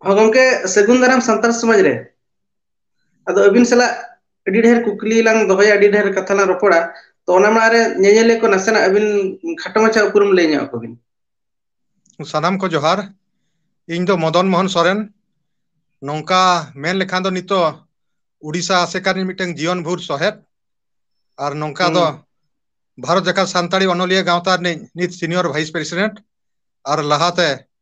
ᱦᱚᱸ ᱜᱚᱝᱠᱮ ᱥᱟᱹᱜᱩᱱ ᱫᱟᱨᱟᱢ ᱥᱟᱱᱛᱟᱲ ᱥᱚᱢᱟᱡᱽ ᱨᱮ ᱟᱫᱚ ᱟᱹᱵᱤᱱ ᱥᱟᱞᱟᱜ ᱟᱹᱰᱤ ᱰᱷᱮᱨ ᱠᱩᱠᱞᱤ ᱞᱟᱝ ᱫᱚᱦᱚᱭᱟ ᱟᱹᱰᱤ ᱰᱷᱮᱨ ᱠᱟᱛᱷᱟ ᱞᱟᱝ ᱨᱚᱯᱚᱲᱟ ᱛᱚ ᱚᱱᱟ ᱢᱟᱲᱟᱝ ᱨᱮ ᱧᱮᱧᱮᱞᱤᱭᱟᱹ ᱠᱚ ᱱᱟᱥᱮᱱᱟᱜ ᱟᱹᱵᱤᱱ ᱠᱷᱟᱴᱚ ᱢᱟᱪᱷᱟ ᱩᱯᱨᱩᱢ ᱞᱟᱹᱭ ᱧᱚᱜ ᱟᱠᱚᱵᱤᱱ ᱥᱟᱱᱟᱢ ᱠᱚ ᱡᱚᱦᱟᱨ ᱤᱧ ᱫᱚ ᱢᱚᱫᱚᱱ ᱢᱳᱦᱚᱱ ᱥᱚᱨᱮᱱ ᱱᱚᱝᱠᱟ ᱢᱮᱱ ᱞᱮᱠᱷᱟᱱ ᱫᱚ ᱱᱤᱛᱚᱜ ᱩᱰᱤᱥᱟ ᱟᱥᱮᱠᱟ ᱨᱤᱱ ᱢᱤᱫᱴᱟᱝ ᱡᱤᱭᱚᱱ ᱵᱷᱳᱨ ᱥᱚᱦᱮᱫ ᱟᱨ ᱱᱚᱝᱠᱟ ᱫᱚ ᱦᱩᱸ ᱵᱷᱟᱨᱚᱛ ᱡᱟᱠᱟᱛ ᱥᱟᱱᱛᱟᱲᱤ ᱚᱱᱚᱞᱤᱭᱟᱹ ᱜᱟᱶᱛᱟ ᱨᱤᱱᱤᱡ ᱱᱤᱛ ᱥᱤᱱᱤᱭᱚᱨ ᱵᱷᱟᱭᱤᱥ ᱯᱨᱮᱥᱤᱰᱮᱱᱴ ᱟᱨ ᱞᱟᱦᱟᱛᱮ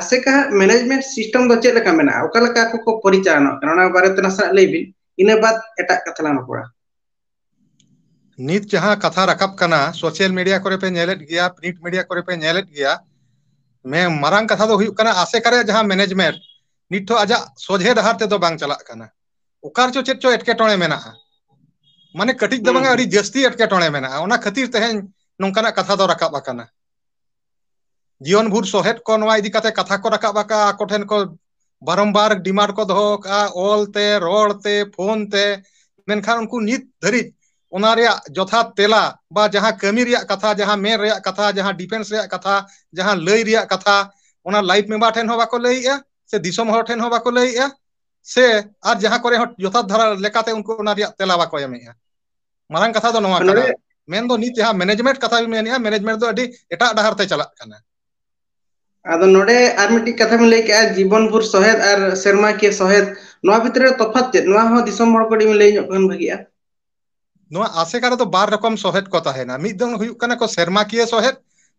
ᱟᱥᱮᱠᱟ ᱦᱟᱸᱜ ᱢᱮᱱᱮᱡᱽᱢᱮᱱᱴ ᱥᱤᱥᱴᱮᱢ ᱫᱚ ᱪᱮᱫ ᱞᱮᱠᱟ ᱢᱮᱱᱟᱜᱼᱟ ᱚᱠᱟ ᱞᱮᱠᱟ ᱟᱠᱚ ᱠᱚ ᱯᱚᱨᱤᱪᱟᱞᱚᱱᱟᱜ ᱠᱟᱱᱟ ᱚᱱᱟ ᱵᱟᱨᱮᱛᱮ ᱱᱟᱥᱮᱱᱟᱜ ᱞᱟᱹᱭ ᱵᱤᱱ ᱤᱱᱟᱹ ᱵᱟᱫ ᱮᱴᱟᱜ ᱠᱟᱛᱷᱟ ᱞᱟᱝ ᱨᱚᱯᱚᱲᱟ ᱱᱤᱛ ᱡᱟᱦᱟᱸ ᱠᱟᱛᱷᱟ ᱨᱟᱠᱟᱵ ᱠᱟᱱᱟ ᱥᱳᱥᱟᱞ ᱢᱤᱰᱤᱭᱟ ᱠᱚᱨᱮ ᱯᱮ ᱧᱮᱞᱮᱫ ᱜᱮᱭᱟ ᱯᱨᱤᱱᱴ ᱢᱤᱰᱤᱭᱟ ᱠᱚᱨᱮ ᱯᱮ ᱧᱮᱞᱮᱫ ᱜᱮᱭᱟ ᱢᱮᱱ ᱢᱟᱨᱟᱝ ᱠᱟᱛᱷᱟ ᱫᱚ ᱦᱩᱭᱩᱜ ᱠᱟᱱᱟ ᱟᱥᱮᱠᱟ ᱨᱮᱭᱟᱜ ᱡᱟᱦᱟᱸ ᱢᱮᱱᱮᱡᱽᱢᱮᱱᱴ ᱱᱤᱛᱚ ᱟᱡᱟᱜ ᱥᱚᱡᱷᱮ ᱰᱟᱦᱟᱨ ᱛᱮᱫᱚ ᱵᱟᱝ ᱪᱟᱞᱟᱜ ᱠᱟᱱᱟ ᱚᱠᱟ ᱨᱮᱪᱚ ᱪᱮᱫ ᱪᱚ ᱮᱴᱠᱮᱴᱚᱬᱮ ᱢᱮᱱᱟᱜᱼᱟ ᱢᱟᱱᱮ ᱠᱟᱹᱴᱤᱡ ᱫᱚ ᱦᱩᱸ ᱵᱟᱝ ᱦᱩᱸ ᱟᱹᱰᱤ ᱡᱟᱹᱥᱛᱤ ᱮᱴᱠᱮᱴᱚᱬᱮ ᱢᱮᱱᱟᱜᱼᱟ ᱚᱱᱟ ᱠᱷᱟᱹᱛᱤᱨ ᱛᱮᱦᱮᱧ ᱱᱚᱝᱠᱟᱱᱟᱜ ᱠᱟᱛᱷᱟ ᱫᱚ ᱨᱟᱠᱟᱵ ᱟᱠᱟᱱᱟ ᱡᱤᱭᱚᱱ ᱵᱷᱩᱨ ᱥᱚᱦᱮᱫ ᱠᱚ ᱱᱚᱣᱟ ᱤᱫᱤ ᱠᱟᱛᱮ ᱠᱟᱛᱷᱟ ᱠᱚ ᱨᱟᱠᱟᱵ ᱟᱠᱟᱫᱼᱟ ᱟᱠᱚ ᱴᱷᱮᱱ ᱠᱚ ᱵᱟᱨᱚᱢᱵᱟᱨ ᱰᱤᱢᱟᱱᱰ ᱠᱚ ᱫᱚᱦᱚ ᱟᱠᱟᱫᱼᱟ ᱚᱞ ᱛᱮ ᱨᱚᱲ ᱛᱮ ᱯᱷᱳᱱ ᱛᱮ ᱢᱮᱱᱠᱷᱟᱱ ᱩᱱᱠᱩ ᱱᱤᱛ ᱫᱷᱟᱹᱨᱤᱡ ᱚᱱᱟ ᱨᱮᱭᱟᱜ ᱡᱚᱛᱷᱟᱛ ᱛᱮᱞᱟ ᱵᱟ ᱡᱟᱦᱟᱸ ᱠᱟᱹᱢᱤ ᱨᱮᱭᱟᱜ ᱠᱟᱛᱷᱟ ᱡᱟᱦᱟᱸ ᱢᱮᱱ ᱨᱮᱭᱟᱜ ᱠᱟᱛᱷᱟ ᱡᱟᱦᱟᱸ ᱰᱤᱯᱷᱮᱱᱥ ᱨᱮᱭᱟᱜ ᱠᱟᱛᱷᱟ ᱡᱟᱦᱟᱸ ᱞᱟᱹᱭ ᱨᱮᱭᱟᱜ ᱠᱟᱛᱷᱟ ᱚᱱᱟ ᱞᱟᱭᱤᱯᱷ ᱢᱮᱢᱵᱟᱨ ᱴᱷᱮᱱ ᱦᱚᱸ ᱵᱟᱠᱚ ᱞᱟᱹᱭᱮᱜᱼᱟ ᱥᱮ ᱫᱤᱥᱚᱢ ᱦᱚᱲ ᱴᱷᱮᱱ ᱦᱚᱸ ᱵᱟᱠᱚ ᱞᱟᱹᱭᱮᱜᱼᱟ ᱥᱮ ᱟᱨ ᱡᱟᱦᱟᱸ ᱠᱚᱨᱮ ᱦᱚᱸ ᱡᱚᱛᱷᱟᱛ ᱫᱷᱟᱨᱟ ᱞᱮᱠᱟᱛᱮ ᱩᱱᱠᱩ ᱚᱱᱟ ᱨᱮᱭᱟᱜ ᱛᱮᱞᱟ ᱵᱟᱠᱚ ᱮᱢᱮᱜᱼᱟ ᱢᱟᱨᱟᱝ ᱠᱟᱛᱷᱟ ᱫᱚ ᱱᱚᱣᱟ ᱠᱟᱱᱟ ᱱᱚᱰᱮ ᱢᱮᱱᱫᱚ ᱱᱤᱛ ᱡᱟᱦᱟᱸ ᱢᱮᱱᱮᱡᱽᱢᱮᱱᱴ ᱠᱟᱛᱷᱟ ᱵᱤᱱ ᱢᱮᱱᱮᱫᱼᱟ ᱢᱮᱱᱮᱡᱽᱢᱮᱱᱴ ᱫᱚ ᱟᱹᱰᱤ ᱮᱴᱟᱜ ᱰᱟᱦᱟᱨ ᱛᱮ ᱪᱟᱞᱟᱜ ᱠᱟᱱᱟ ᱟᱫᱚ ᱱᱚᱰᱮ ᱟᱨ ᱢᱤᱫᱴᱤᱡ ᱠᱟᱛᱷᱟ ᱵᱤᱱ ᱞᱟᱹᱭ ᱠᱮᱫᱮᱜᱼᱟ ᱡᱤᱵᱚᱱ ᱵᱷᱳᱨ ᱥᱚᱦᱮᱫ ᱟᱨ ᱥᱮᱨᱢᱟ ᱠᱤᱭᱟᱹ ᱥᱚᱦᱮᱫ ᱱᱚᱣᱟ ᱵᱷᱤᱛᱨᱤ ᱨᱮ ᱛᱚᱯᱷᱟᱛ ᱪᱮᱫ ᱱᱚᱣᱟ ᱦᱚᱸ ᱫᱤᱥᱚᱢ ᱦᱚᱲ ᱠᱟᱹᱴᱤᱡ ᱵᱤᱱ ᱞᱟᱹᱭ ᱧᱚᱜ ᱠᱷᱟᱱ ᱵᱷᱟᱹᱜᱤᱜᱼᱟ ᱱᱚᱣᱟ ᱟᱥᱮᱠᱟ ᱨᱮᱫᱚ ᱵᱟᱨ ᱨᱚᱠᱚᱢ ᱥᱚᱦᱮᱫ ᱠᱚ ᱛᱟᱦᱮᱱᱟ ᱢᱤᱫ ᱫᱚ ᱦᱩᱭᱩᱜ ᱠᱟᱱᱟ ᱠᱚ ᱥᱮᱨᱢᱟᱠᱤᱭᱟᱹ ᱥᱚᱦᱮᱫ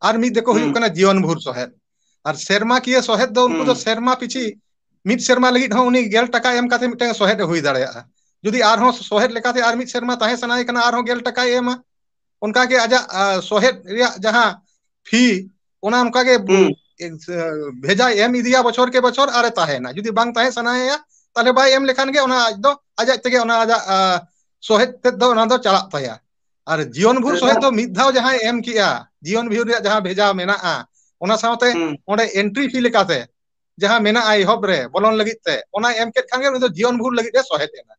ᱟᱨ ᱢᱤᱫ ᱫᱚᱠᱚ ᱦᱩᱸ ᱦᱩᱭᱩᱜ ᱠᱟᱱᱟ ᱡᱤᱭᱚᱱ ᱵᱷᱳᱨ ᱥᱚᱦᱮᱫ ᱟᱨ ᱥᱮᱨᱢᱟ ᱠᱤᱭᱟᱹ ᱥᱚᱦᱮᱫ ᱫᱚ ᱩᱱᱠᱩ ᱫᱚ ᱦᱩᱸ ᱥᱮᱨᱢᱟ ᱯᱤᱪᱷᱤ ᱢᱤᱫ ᱥᱮᱨᱢᱟ ᱞᱟᱹᱜᱤᱫ ᱦᱚᱸ ᱩᱱᱤ ᱜᱮᱞ ᱴᱟᱠᱟ ᱮᱢ ᱠᱟᱛᱮ ᱢᱤᱫᱴᱟᱝ ᱥᱚᱦᱮᱫ ᱮ ᱦᱩᱭ ᱫᱟᱲᱮᱭᱟᱜᱼᱟ ᱡᱩᱫᱤ ᱟᱨᱦᱚᱸ ᱥᱚᱦᱮᱫ ᱞᱮᱠᱟᱛᱮ ᱟᱨ ᱢᱤᱫ ᱥᱮᱨᱢᱟ ᱛᱟᱦᱮᱸ ᱥᱟᱱᱟᱭᱮ ᱠᱟᱱᱟ ᱟᱨᱦᱚᱸ ᱜᱮᱞ ᱴᱟᱠᱟᱭ ᱮᱢᱟ ᱚᱱᱠᱟᱜᱮ ᱟᱡᱟᱜ ᱥᱚᱦᱮᱫ ᱨᱮᱭᱟᱜ ᱡᱟᱦᱟᱸ ᱯᱷᱤ ᱚᱱᱟ ᱚᱱᱠᱟᱜᱮ ᱦᱩᱸ ᱵᱷᱮᱡᱟᱭ ᱮᱢ ᱤᱫᱤᱭᱟ ᱵᱚᱪᱷᱚᱨ ᱠᱮ ᱵᱚᱪᱷᱚᱨ ᱟᱨᱮ ᱛᱟᱦᱮᱱᱟ ᱡᱩᱫᱤ ᱵᱟᱝ ᱛᱟᱦᱮᱸ ᱥᱟᱱᱟᱭᱮᱭᱟ ᱛᱟᱦᱚᱞᱮ ᱵᱟᱭ ᱮᱢ ᱞᱮᱠᱷᱟᱱ ᱜᱮ ᱚᱱᱟ ᱟᱡ ᱫᱚ ᱟᱡ ᱟᱡ ᱛᱮᱜᱮ ᱚᱱᱟ ᱟᱡᱟᱜ ᱥᱚᱦᱮᱫ ᱛᱮᱫ ᱫᱚ ᱚᱱᱟ ᱫᱚ ᱪᱟᱞᱟᱜ ᱛᱟᱭᱟ ᱟᱨ ᱡᱤᱭᱚᱱ ᱵᱷᱳᱨ ᱥᱚᱦᱮᱫ ᱫᱚ ᱢᱤᱫ ᱫᱷᱟᱣ ᱡᱟᱦᱟᱸᱭ ᱮᱢ ᱠᱮᱜᱼᱟ ᱡᱤᱭᱚᱱ ᱵᱷᱳᱨ ᱨᱮᱭᱟᱜ ᱡᱟᱦᱟᱸ ᱵᱷᱮᱡᱟ ᱢᱮᱱᱟᱜᱼᱟ ᱚᱱᱟ ᱥᱟᱶᱛᱮ ᱦᱩᱸ ᱚᱸᱰᱮ ᱮᱱᱴᱨᱤ ᱯᱷᱤ ᱞᱮᱠᱟᱛᱮ ᱡᱟᱦᱟᱸ ᱢᱮᱱᱟᱜᱼᱟ ᱮᱦᱚᱵ ᱨᱮ ᱵᱚᱞᱚᱱ ᱞᱟᱹᱜᱤᱫ ᱛᱮ ᱚᱱᱟᱭ ᱮᱢ ᱠᱮᱫ ᱠᱷᱟᱱ ᱜᱮ ᱩᱱᱤ ᱫᱚ ᱡᱤᱭᱚᱱ ᱵᱷᱳᱨ ᱞᱟᱹᱜᱤᱫ ᱮ ᱥᱚᱦᱮᱫ ᱮᱱᱟ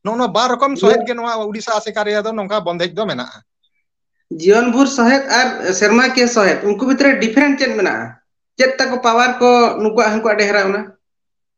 ᱱᱚᱜᱼᱚ ᱱᱚᱣᱟ ᱵᱟᱨ ᱨᱚᱠᱚᱢ ᱥᱚᱦᱮᱫ ᱜᱮ ᱱᱚᱣᱟ ᱩᱰᱤᱥᱟ ᱟᱥᱮᱠᱟ ᱨᱮᱭᱟᱜ ᱫᱚ ᱱᱚᱝᱠᱟ ᱵᱚᱱᱫᱮᱡ ᱫᱚ ᱢᱮᱱᱟᱜᱼᱟ ᱡᱤᱭᱚᱱ ᱵᱷᱳᱨ ᱥᱚᱦᱮᱫ ᱟᱨ ᱥᱮᱨᱢᱟ ᱠᱤᱭᱟᱹ ᱥᱚᱦᱮᱫ ᱩᱱᱠᱩ ᱵᱷᱤᱛᱨᱤ ᱨᱮ ᱰᱤᱯᱷᱟᱨᱮᱱᱴ ᱪᱮᱫ ᱢᱮᱱᱟᱜᱼᱟ ᱪᱮᱫ ᱛᱟᱠᱚ ᱯᱟᱣᱟᱨ ᱠᱚ ᱱᱩᱠᱩᱣᱟᱜ ᱦᱟᱱᱠᱩᱣᱟᱜ ᱰᱷᱮᱨᱟ ᱚᱱᱟ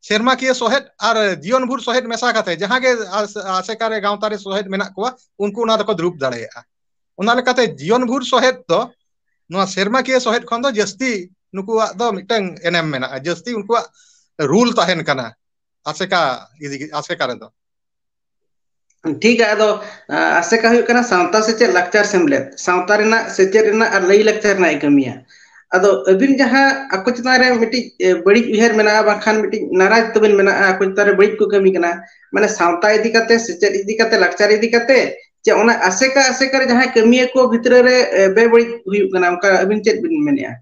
ᱥᱮᱨᱢᱟ ᱠᱤᱭᱟᱹ ᱥᱚᱦᱮᱫ ᱟᱨ ᱡᱤᱭᱚᱱ ᱵᱷᱩᱨ ᱥᱚᱦᱮᱫ ᱢᱮᱥᱟ ᱠᱟᱛᱮ ᱡᱟᱦᱟᱸ ᱜᱮ ᱟᱥᱮᱠᱟ ᱨᱮ ᱜᱟᱶᱛᱟ ᱨᱮ ᱥᱚᱦᱮᱫ ᱢᱮᱱᱟᱜ ᱠᱚᱣᱟ ᱩᱱᱠᱩ ᱚᱱᱟ ᱫᱚᱠᱚ ᱫᱩᱲᱩᱵ ᱫᱟᱲᱮᱭᱟᱜᱼᱟ ᱚᱱᱟ ᱞᱮᱠᱟᱛᱮ ᱡᱤᱭᱚᱱ ᱵᱷᱩᱨ ᱥᱚᱦᱮᱫ ᱫᱚ ᱱᱚᱣᱟ ᱥᱮᱨᱢᱟ ᱠᱤᱭᱟᱹ ᱥᱚᱦᱮᱫ ᱠᱷᱚᱱ ᱫᱚ ᱡᱟᱹᱥᱛᱤ ᱱᱩᱠᱩᱣᱟᱜ ᱫᱚ ᱢᱤᱫᱴᱟᱝ ᱮᱱᱮᱢ ᱢᱮᱱᱟᱜᱼᱟ ᱡᱟᱹᱥᱛᱤ ᱩᱱᱠᱩᱣᱟᱜ ᱨᱩᱞ ᱛᱟᱦᱮᱱ ᱠᱟᱱᱟ ᱟᱥᱮᱠᱟ ᱤᱫᱤ ᱟᱥᱮᱠᱟ ᱨᱮᱫᱚ ᱴᱷᱤᱠ ᱜᱮᱭᱟ ᱟᱫᱚ ᱟᱥᱮᱠᱟ ᱦᱩᱭᱩᱜ ᱠᱟᱱᱟ ᱥᱟᱶᱛᱟ ᱥᱮᱪᱮᱫ ᱞᱟᱠᱪᱟᱨ ᱥᱮᱢᱞᱮᱫ ᱥᱟᱶᱛᱟ ᱨᱮᱱᱟᱜ ᱥᱮᱪᱮᱫ ᱨᱮᱱᱟᱜ ᱟᱨ ᱞᱟᱹᱭ ᱞᱟᱠᱪᱟᱨ ᱨᱮᱱᱟᱜ ᱮ ᱠᱟᱹᱢᱤᱭᱟ ᱟᱫᱚ ᱟᱹᱵᱤᱱ ᱡᱟᱦᱟᱸ ᱟᱠᱚ ᱪᱮᱛᱟᱱ ᱨᱮ ᱢᱤᱫᱴᱤᱡ ᱵᱟᱹᱲᱤᱡ ᱩᱭᱦᱟᱹᱨ ᱢᱮᱱᱟᱜᱼᱟ ᱵᱟᱝᱠᱷᱟᱱ ᱢᱤᱫᱴᱤᱡ ᱱᱟᱨᱟᱡᱽ ᱛᱟᱵᱤᱱ ᱢᱮᱱᱟᱜᱼᱟ ᱟᱠᱚ ᱪᱮᱛᱟᱱ ᱨᱮ ᱵᱟᱹᱲᱤᱡ ᱠᱚ ᱠᱟᱹᱢᱤ ᱠᱟᱱᱟ ᱢᱟᱱᱮ ᱥᱟᱶᱛᱟ ᱤᱫᱤ ᱠᱟᱛᱮ ᱥᱮᱪᱮᱫ ᱤᱫᱤ ᱠᱟᱛᱮ ᱞᱟᱠᱪᱟᱨ ᱤᱫᱤ ᱠᱟᱛᱮ ᱡᱮ ᱚᱱᱟ ᱟᱥᱮᱠᱟ ᱟᱥᱮᱠᱟ ᱨᱮ ᱡᱟᱦᱟᱸᱭ ᱠᱟᱹᱢᱤᱭᱟᱹ ᱠᱚ ᱵᱷᱤᱛᱨᱤ ᱨᱮ ᱵᱮᱵᱟᱹᱲᱤᱡ ᱦᱩᱭᱩᱜ ᱠᱟᱱᱟ ᱚᱱᱠᱟ ᱟᱹᱵᱤᱱ ᱪᱮᱫ ᱵᱤᱱ ᱢᱮᱱᱮᱫᱼᱟ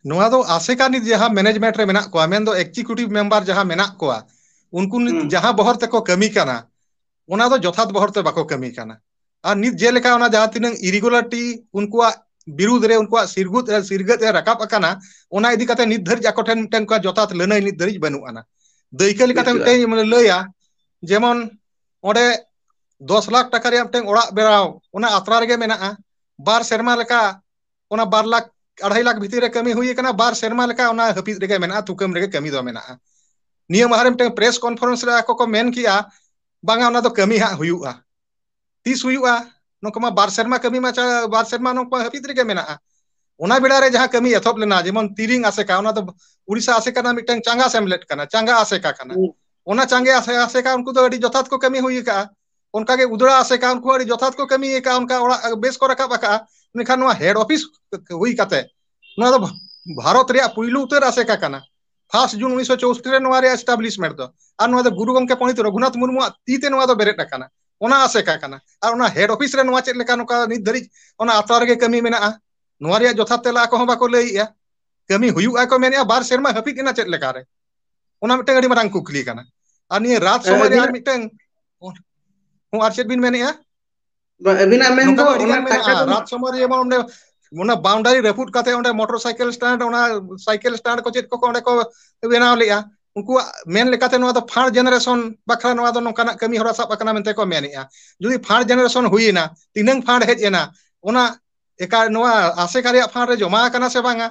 ᱱᱚᱣᱟ ᱫᱚ ᱟᱥᱮᱠᱟ ᱱᱤᱛ ᱡᱟᱦᱟᱸ ᱢᱮᱱᱮᱡᱽᱢᱮᱱᱴ ᱨᱮ ᱢᱮᱱᱟᱜ ᱠᱚᱣᱟ ᱢᱮᱱᱫᱚ ᱮᱠᱡᱤᱠᱤᱭᱩᱴᱤᱵᱷ ᱢᱮᱢᱵᱟᱨ ᱡᱟᱦᱟᱸ ᱢᱮᱱᱟᱜ ᱠᱚᱣᱟ ᱩᱱᱠᱩ ᱱᱤᱛ ᱦᱩᱸ ᱡᱟᱦᱟᱸ ᱵᱚᱦᱚᱨ ᱛᱮᱠᱚ ᱠᱟᱹᱢᱤ ᱠᱟᱱᱟ ᱚᱱᱟ ᱫᱚ ᱡᱚᱛᱷᱟᱛ ᱵᱚᱦᱚᱨ ᱛᱮ ᱵᱟᱠᱚ ᱠᱟᱹᱢᱤ ᱠᱟᱱᱟ ᱟᱨ ᱱᱤᱛ ᱡᱮᱞᱮᱠᱟ ᱚᱱᱟ ᱡᱟᱦᱟᱸ ᱛᱤᱱᱟᱹᱝ ᱤᱨᱤᱜᱩᱞᱟᱴᱤ ᱩᱱᱠᱩᱣᱟᱜ ᱵᱤᱨᱩᱫᱽ ᱨᱮ ᱩᱱᱠᱩᱣᱟᱜ ᱥᱤᱨᱜᱩᱛ ᱨᱮ ᱥᱤᱨᱜᱟᱹᱫ ᱮ ᱨᱟᱠᱟᱵ ᱟᱠᱟᱱ ᱠᱟᱱᱟ ᱚᱱᱟ ᱤᱫᱤ ᱠᱟᱛᱮ ᱱᱤᱛ ᱫᱷᱟᱹᱨᱤᱡ ᱟᱠᱚ ᱴᱷᱮᱱ ᱢᱤᱫᱴᱮᱱ ᱚᱱᱠᱟ ᱡᱚᱛᱷᱟᱛ ᱞᱟᱹᱱᱟᱹᱭ ᱱᱤᱛ ᱫᱷᱟᱹᱨᱤᱡ ᱵᱟᱹᱱᱩᱜ ᱟᱱᱟ ᱫᱟᱹᱭᱠᱟᱹ ᱞᱮᱠᱟᱛᱮ ᱵᱟᱹᱪᱩᱜᱼᱟ ᱢᱤᱫᱴᱮᱱ ᱢᱟᱱᱮ ᱞᱟᱹᱭᱟ ᱡᱮᱢᱚᱱ ᱚᱸᱰᱮ ᱫᱚᱥ ᱞᱟᱠᱷ ᱴᱟᱠᱟ ᱨᱮᱭᱟᱜ ᱢᱤᱫᱴᱟᱝ ᱚᱲᱟᱜ ᱵᱮᱱᱟᱣ ᱚᱱᱟ ᱟᱛᱨᱟ ᱨᱮᱜᱮ ᱢᱮᱱᱟᱜᱼᱟ ᱵᱟᱨ ᱥᱮᱨᱢᱟ ᱞᱮᱠᱟ ᱚᱱᱟ ᱵᱟᱨ ᱞᱟᱠᱷ ᱟᱲᱦᱟᱭ ᱞᱟᱠᱷ ᱵᱷᱤᱛᱤᱨ ᱨᱮ ᱠᱟᱹᱢᱤ ᱦᱩᱭ ᱟᱠᱟᱱᱟ ᱵᱟᱨ ᱥᱮᱨᱢᱟ ᱞᱮᱠᱟ ᱚᱱᱟ ᱦᱟᱹᱯᱤᱫ ᱨᱮᱜᱮ ᱢᱮᱱᱟᱜᱼᱟ ᱛᱩᱠᱟᱹᱢ ᱨᱮᱜᱮ ᱠᱟᱹᱢᱤ ᱫᱚ ᱢᱮᱱᱟᱜᱼᱟ ᱱᱤᱭᱟᱹ ᱢᱟᱦᱟ ᱨᱮ ᱢᱤᱫᱴᱟᱝ ᱯᱨᱮᱥ ᱠᱚᱱᱯᱷᱟᱨᱮᱱᱥ ᱨᱮ ᱟᱠᱚ ᱠᱚ ᱢᱮᱱ ᱠᱮᱜᱼᱟ ᱵᱟᱝᱟ ᱚᱱᱟ ᱫᱚ ᱠᱟᱹᱢᱤ ᱦᱟᱸᱜ ᱦᱩᱭᱩᱜᱼᱟ ᱛᱤᱥ ᱦᱩᱭᱩᱜᱼᱟ ᱱᱚᱝᱠᱟ ᱢᱟ ᱵᱟᱨ ᱥᱮᱨᱢᱟ ᱠᱟᱹᱢᱤ ᱢᱟ ᱪᱟ ᱵᱟᱨ ᱥᱮᱨᱢᱟ ᱱᱚᱝᱠᱟ ᱦᱟᱹᱯᱤᱫ ᱨᱮᱜᱮ ᱢᱮᱱᱟᱜᱼᱟ ᱚᱱᱟ ᱵᱮᱲᱟ ᱨᱮ ᱡᱟᱦᱟᱸ ᱠᱟᱹᱢᱤ ᱮᱛᱚᱦᱚᱵ ᱞᱮᱱᱟ ᱡᱮᱢᱚᱱ ᱛᱤᱨᱤᱝ ᱟᱥᱮᱠᱟ ᱚᱱᱟ ᱫᱚ ᱩᱲᱤᱥᱥᱟ ᱟᱥᱮᱠᱟ ᱨᱮᱱᱟᱜ ᱢᱤᱫᱴᱟᱝ ᱪᱟᱸᱜᱟ ᱥᱮᱢᱞᱮᱫ ᱠᱟᱱᱟ ᱪᱟᱸᱜᱟ ᱟᱥᱮᱠᱟ ᱠᱟᱱᱟ ᱚᱱᱟ ᱪᱟᱸᱜᱮ ᱟᱥᱮ ᱟᱥᱮᱠᱟ ᱩᱱᱠᱩ ᱫᱚ ᱟᱹᱰᱤ ᱡᱚᱛᱷᱟᱛ ᱠᱚ ᱠᱟᱹᱢᱤ ᱦᱩᱭ ᱟᱠᱟᱜᱼᱟ ᱚᱱᱠᱟᱜᱮ ᱩᱫᱽᱲᱟ ᱟᱥᱮᱠᱟ ᱩᱱᱠᱩ ᱟᱹᱰᱤ ᱡᱚᱛᱷᱟᱛ ᱠᱚ ᱠᱟᱹᱢᱤ ᱟᱠᱟᱫᱼᱟ ᱚᱱᱠᱟ ᱚᱲᱟᱜ ᱵᱮᱥ ᱠᱚ ᱨᱟᱠᱟᱵ ᱟᱠᱟᱫᱼᱟ ᱢᱮᱱᱠᱷᱟᱱ ᱱᱚᱣᱟ ᱦᱮᱰ ᱚᱯᱷᱤᱥ ᱦᱩᱭ ᱠᱟᱛᱮ ᱱᱚᱣᱟ ᱫᱚ ᱵᱷᱟᱨᱚᱛ ᱨᱮᱭᱟᱜ ᱯᱩᱭᱞᱩ ᱩᱛᱟᱹᱨ ᱟᱥᱮᱠᱟ ᱠᱟᱱᱟ ᱯᱷᱟᱥᱴ ᱡᱩᱱ ᱩᱱᱤᱥᱥᱚ ᱪᱳᱥᱴᱤ ᱨᱮ ᱱᱚᱣᱟ ᱨᱮᱭᱟᱜ ᱮᱥᱴᱟᱵᱞᱤᱥᱢᱮᱱᱴ ᱫᱚ ᱟᱨ ᱱᱚᱣᱟ ᱫᱚ ᱜᱩᱨᱩ ᱜᱚᱢᱠᱮ ᱯᱚᱱᱰᱤᱛ ᱨᱚᱜᱷᱩᱱᱟᱛᱷ ᱢᱩᱨᱢᱩᱣᱟᱜ ᱛᱤ ᱛᱮ ᱱᱚᱣᱟ ᱫᱚ ᱵᱮᱨᱮᱫ ᱟᱠᱟᱱᱟ ᱚᱱᱟ ᱟᱥᱮᱠᱟ ᱠᱟᱱᱟ ᱟᱨ ᱚᱱᱟ ᱦᱮᱰ ᱚᱯᱷᱤᱥ ᱨᱮ ᱱᱚᱣᱟ ᱪᱮᱫ ᱞᱮᱠᱟ ᱱᱚᱝᱠᱟ ᱱᱤᱛ ᱫᱷᱟᱹᱨᱤᱡ ᱚᱱᱟ ᱟᱛᱨᱟ ᱨᱮᱜᱮ ᱠᱟᱹᱢᱤ ᱢᱮᱱᱟᱜᱼᱟ ᱱᱚᱣᱟ ᱨᱮᱭᱟᱜ ᱡᱚᱛᱷᱟᱛ ᱛᱮᱞᱟ ᱟᱠᱚ ᱦᱚᱸ ᱵᱟᱠᱚ ᱞᱟᱹᱭᱮᱜᱼᱟ ᱠᱟᱹᱢᱤ ᱦᱩᱭᱩᱜᱼᱟ ᱠᱚ ᱢᱮᱱᱮᱫᱼᱟ ᱵᱟᱨ ᱥᱮᱨᱢᱟ ᱦᱟᱹᱯᱤᱫ ᱮᱱᱟ ᱪᱮᱫ ᱞᱮᱠᱟᱨᱮ ᱚᱱᱟ ᱢᱤᱫᱴᱟᱝ ᱟᱹᱰᱤ ᱢᱟᱨᱟᱝ ᱠᱩᱠᱞᱤ ᱠᱟᱱᱟ ᱟᱨ ᱱᱤᱭᱟᱹ ᱨᱟᱛ ᱦᱮᱸ ᱥᱚᱢᱚᱭ ᱨᱮ ᱟᱨ ᱟᱹᱵᱤᱱᱟᱜ ᱢᱤᱫᱴᱟᱝ ᱦᱚᱸ ᱟᱨ ᱪᱮᱫ ᱵᱤᱱ ᱢᱮᱱᱮᱫᱼᱟ ᱵᱟ ᱟᱹᱵᱤᱱᱟᱜ ᱢᱮᱱ ᱱᱚᱝᱠᱟ ᱫᱚ ᱚᱱᱟ ᱟᱹᱰᱤᱜᱟᱱ ᱴᱟᱠᱟ ᱢᱮᱱᱟᱜᱼᱟ ᱫᱚ ᱨᱟᱛ ᱥᱚᱢᱚᱭ ᱨᱮ ᱡᱮᱢᱚᱱ ᱚᱸᱰᱮ ᱚᱱᱟ ᱵᱟᱣᱩᱱᱰᱟᱨᱤ ᱨᱟᱹᱯᱩᱫ ᱠᱟᱛᱮᱫ ᱚᱸᱰᱮ ᱢᱚᱴᱚᱨ ᱥᱟᱭᱠᱮᱞ ᱥᱴᱮᱱᱰ ᱚᱱᱟ ᱥᱟᱭᱠᱮᱞ ᱥᱴᱮᱱᱰ ᱠᱚ ᱪᱮᱫ ᱠᱚ ᱚᱸᱰᱮ ᱠᱚ ᱵᱮᱱᱟᱣ ᱞᱮᱫᱼᱟ ᱩᱱᱠᱩᱣᱟᱜ ᱢᱮᱱ ᱞᱮᱠᱟᱛᱮ ᱱᱚᱣᱟ ᱫᱚ ᱯᱷᱟᱥᱴ ᱡᱮᱱᱟᱨᱮᱥᱚᱱ ᱵᱟᱠᱷᱨᱟ ᱱᱚᱣᱟ ᱫᱚ ᱱᱚᱝᱠᱟᱱᱟᱜ ᱠᱟᱹᱢᱤ ᱦᱚᱨᱟ ᱥᱟᱵ ᱟᱠᱟᱱᱟ ᱢᱮᱱᱛᱮ ᱠᱚ ᱢᱮᱱᱮᱜᱼᱟ ᱡᱩᱫᱤ ᱯᱷᱟᱥᱴ ᱡᱮᱱᱟᱨᱮᱥᱚᱱ ᱦᱩᱭᱱᱟ ᱛᱤᱱᱟᱹᱝ ᱯᱷᱟᱱᱰ ᱦᱮᱡ ᱮᱱᱟ ᱚᱱᱟ ᱮᱠᱟᱭ ᱱᱚᱣᱟ ᱟᱥᱮᱠᱟ ᱨᱮᱭᱟᱜ ᱯᱷᱟᱱᱰ ᱨᱮ ᱡᱚᱢᱟ ᱟᱠᱟᱱᱟ ᱥᱮ ᱵᱟᱝᱟ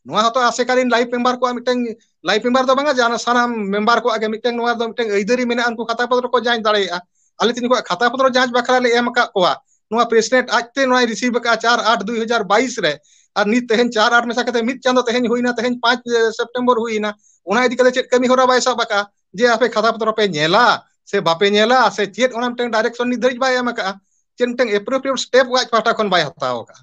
ᱱᱚᱣᱟ ᱦᱚᱸᱛᱚ ᱟᱥᱮᱠᱟᱞᱤᱱ ᱞᱟᱭᱤᱯᱷ ᱢᱮᱢᱵᱟᱨ ᱠᱚᱣᱟᱜ ᱢᱤᱫᱴᱟᱝ ᱞᱟᱭᱤᱯᱷ ᱢᱮᱢᱵᱟᱨ ᱫᱚ ᱵᱟᱝᱟ ᱡᱟᱦᱟᱸ ᱥᱟᱱᱟᱢ ᱢᱮᱢᱵᱟᱨ ᱠᱚᱣᱟᱜ ᱜᱮ ᱢᱤᱫᱴᱟᱝ ᱱᱚᱣᱟ ᱫᱚ ᱢᱤᱫᱴᱟᱝ ᱟᱹᱭᱫᱟᱹᱨᱤ ᱢᱮᱱᱟᱜᱼᱟ ᱩᱱᱠᱩ ᱠᱟᱛᱷᱟ ᱯᱚᱫᱽᱨᱚ ᱠᱚ ᱡᱟᱸᱪ ᱫᱟᱲᱮᱭᱟᱜᱼᱟ ᱟᱞᱮ ᱛᱮ ᱱᱩᱠᱩᱣᱟᱜ ᱠᱷᱟᱛᱟ ᱯᱚᱫᱨᱚ ᱡᱟᱸᱪ ᱵᱟᱠᱷᱨᱟ ᱞᱮ ᱮᱢ ᱟᱠᱟᱫ ᱠᱚᱣᱟ ᱱᱚᱣᱟ ᱯᱨᱮᱥᱤᱰᱮᱱᱴ ᱟᱡᱛᱮ ᱱᱚᱣᱟᱭ ᱨᱤᱥᱤᱵᱷ ᱟᱠᱟᱫᱼᱟ ᱪᱟᱨ ᱟᱴ ᱫᱩᱭ ᱦᱟᱡᱟᱨ ᱵᱟᱭᱤᱥ ᱨᱮ ᱟᱨ ᱱᱤᱛ ᱛᱮᱦᱮᱧ ᱪᱟᱨ ᱟᱴ ᱢᱮᱥᱟ ᱠᱟᱛᱮ ᱢᱤᱫ ᱪᱟᱸᱫᱚ ᱛᱮᱦᱮᱧ ᱦᱩᱭᱱᱟ ᱛᱮᱦᱮᱧ ᱯᱟᱸᱪ ᱥᱮᱯᱴᱮᱢᱵᱚᱨ ᱦᱩᱭᱱᱟ ᱚᱱᱟ ᱤᱫᱤ ᱠᱟᱛᱮ ᱪᱮᱫ ᱠᱟᱹᱢᱤ ᱦᱚᱨᱟ ᱵᱟᱭ ᱥᱟᱵ ᱟᱠᱟᱫᱼᱟ ᱡᱮ ᱟᱯᱮ ᱠᱷᱟᱛᱟ ᱯᱚᱛᱨᱚ ᱯᱮ ᱧᱮᱞᱟ ᱥᱮ ᱵᱟᱯᱮ ᱧᱮᱞᱟ ᱥᱮ ᱪᱮᱫ ᱚᱱᱟ ᱢᱤᱫᱴᱟᱝ ᱰᱟᱭᱨᱮᱠᱥᱚᱱ ᱱᱤᱛ ᱫᱷᱟᱹᱨᱤᱡ ᱵᱟᱭ ᱮᱢ ᱟᱠᱟᱫᱼᱟ ᱪᱮᱫ ᱢᱤᱫᱴᱟᱝ ᱮᱯᱨᱳᱯᱨᱤᱭᱮᱴ ᱥᱴᱮᱯ ᱟᱡ ᱯᱟᱦᱴᱟ ᱠᱷᱚᱱ ᱵᱟᱭ ᱦᱟᱛᱟᱣ ᱟᱠᱟᱫᱼᱟ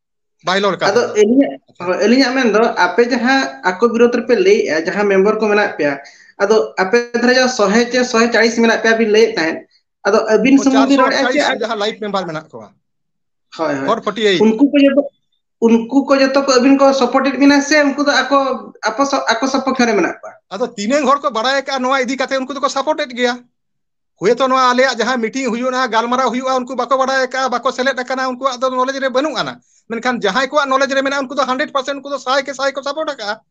ᱵᱟᱭ ᱨᱚᱲ ᱠᱟᱱ ᱟᱫᱚ ᱛᱟᱵᱤᱱᱟ ᱟᱹᱞᱤᱧᱟᱜ ᱟᱪᱪᱷᱟ ᱦᱳᱭ ᱟᱹᱞᱤᱧᱟᱜ ᱢᱮᱱᱫᱚ ᱟᱯᱮ ᱡᱟᱦᱟᱸ ᱟᱠᱚ ᱵᱤᱨᱩᱫᱽ ᱨᱮᱯᱮ ᱞᱟᱹᱭᱮᱜᱼᱟ ᱡᱟᱦᱟᱸ ᱢᱮᱢᱵᱚᱨ ᱠᱚ ᱢᱮᱱᱟᱜ ᱯᱮᱭᱟ ᱟᱫᱚ ᱟᱯᱮ ᱫᱷᱟᱨᱮ ᱡᱚᱜ ᱥᱚᱦᱮ ᱪᱮ ᱥᱚᱦᱮ ᱪᱟᱲᱤᱥ ᱢᱮᱱᱟᱜ ᱯᱮᱭᱟ ᱵᱤᱱ ᱞᱟᱹᱭᱮᱫ ᱛᱟᱦᱮᱸᱫ ᱟᱫᱚ ᱟᱹᱵᱤᱱ ᱚ ᱥᱩᱢᱩᱝ ᱵᱤᱱ ᱪᱟᱨᱥᱚ ᱨᱚᱲᱮᱫᱼᱟ ᱪᱮ ᱟᱴᱪᱟᱞᱞᱤᱥ ᱡᱟᱦᱟᱸ ᱞᱟᱭᱤᱯ ᱢᱮᱢᱵᱟᱨ ᱢᱮᱱᱟᱜ ᱠᱚᱣᱟ ᱦᱳᱭ ᱦᱳᱭ ᱯᱷᱳᱨ ᱯᱷᱳᱨᱴᱤ ᱮᱭᱤᱴ ᱩᱱᱠᱩ ᱠᱚ ᱡᱚᱛᱚ ᱩᱱᱠᱩ ᱠᱚ ᱡᱚᱛᱚ ᱠᱚ ᱟᱹᱵᱤᱱ ᱠᱚ ᱥᱚᱯᱚᱴᱮᱫ ᱵᱤᱱᱟ ᱥᱮ ᱩᱱᱠᱩ ᱫᱚ ᱟᱠᱚ ᱟᱠᱚ ᱥᱚ ᱟᱠᱚ ᱥᱚᱯᱚᱠᱷᱮ ᱨᱮ ᱢᱮᱱᱟᱜ ᱠᱚᱣᱟ ᱟᱫᱚ ᱛᱤᱱᱟᱹᱝ ᱦᱚᱲ ᱠᱚ ᱵᱟᱲᱟᱭ ᱟᱠᱟᱜᱼᱟ ᱱᱚᱣᱟ ᱤᱫᱤ ᱠᱟᱛᱮ ᱩᱱᱠᱩ ᱫᱚᱠᱚ ᱥᱟᱯᱚᱴᱮᱫ ᱜᱮᱭᱟ ᱦᱳᱭᱛᱳ ᱱᱚᱣᱟ ᱟᱞᱮᱭᱟᱜ ᱡᱟᱦᱟᱸ ᱢᱤᱴᱤᱝ ᱦᱩᱭᱩᱜᱼᱟ ᱜᱟᱞᱢᱟᱨᱟᱣ ᱦᱩᱭᱩᱜᱼᱟ ᱩᱱᱠᱩ ᱵᱟᱠᱚ ᱵᱟᱲᱟᱭ ᱟᱠᱟᱫᱼᱟ ᱵᱟᱠᱚ ᱥᱮᱞᱮᱫ ᱟᱠᱟᱱᱟ ᱩᱱᱠᱩᱣᱟᱜ ᱫᱚ ᱱᱚᱞᱮᱡᱽ ᱨᱮ ᱵᱟᱹᱱᱩᱜ ᱟᱱᱟ ᱢᱮᱱᱠᱷᱟᱱ ᱡᱟᱦᱟᱸᱭ ᱠᱚᱣᱟᱜ ᱱᱚᱞᱮᱡᱽ ᱨᱮ ᱢᱮᱱᱟᱜᱼᱟ ᱩᱱᱠᱩ ᱫᱚ ᱦᱟᱱᱰᱮᱰ ᱯᱟᱨᱥᱮᱱᱴ ᱩᱱᱠᱩ ᱫᱚ ᱥᱟᱭ ᱜᱮ ᱥᱟᱭ ᱠᱚ ᱥᱟᱯᱚᱨᱴ ᱟᱠᱟᱜᱼᱟ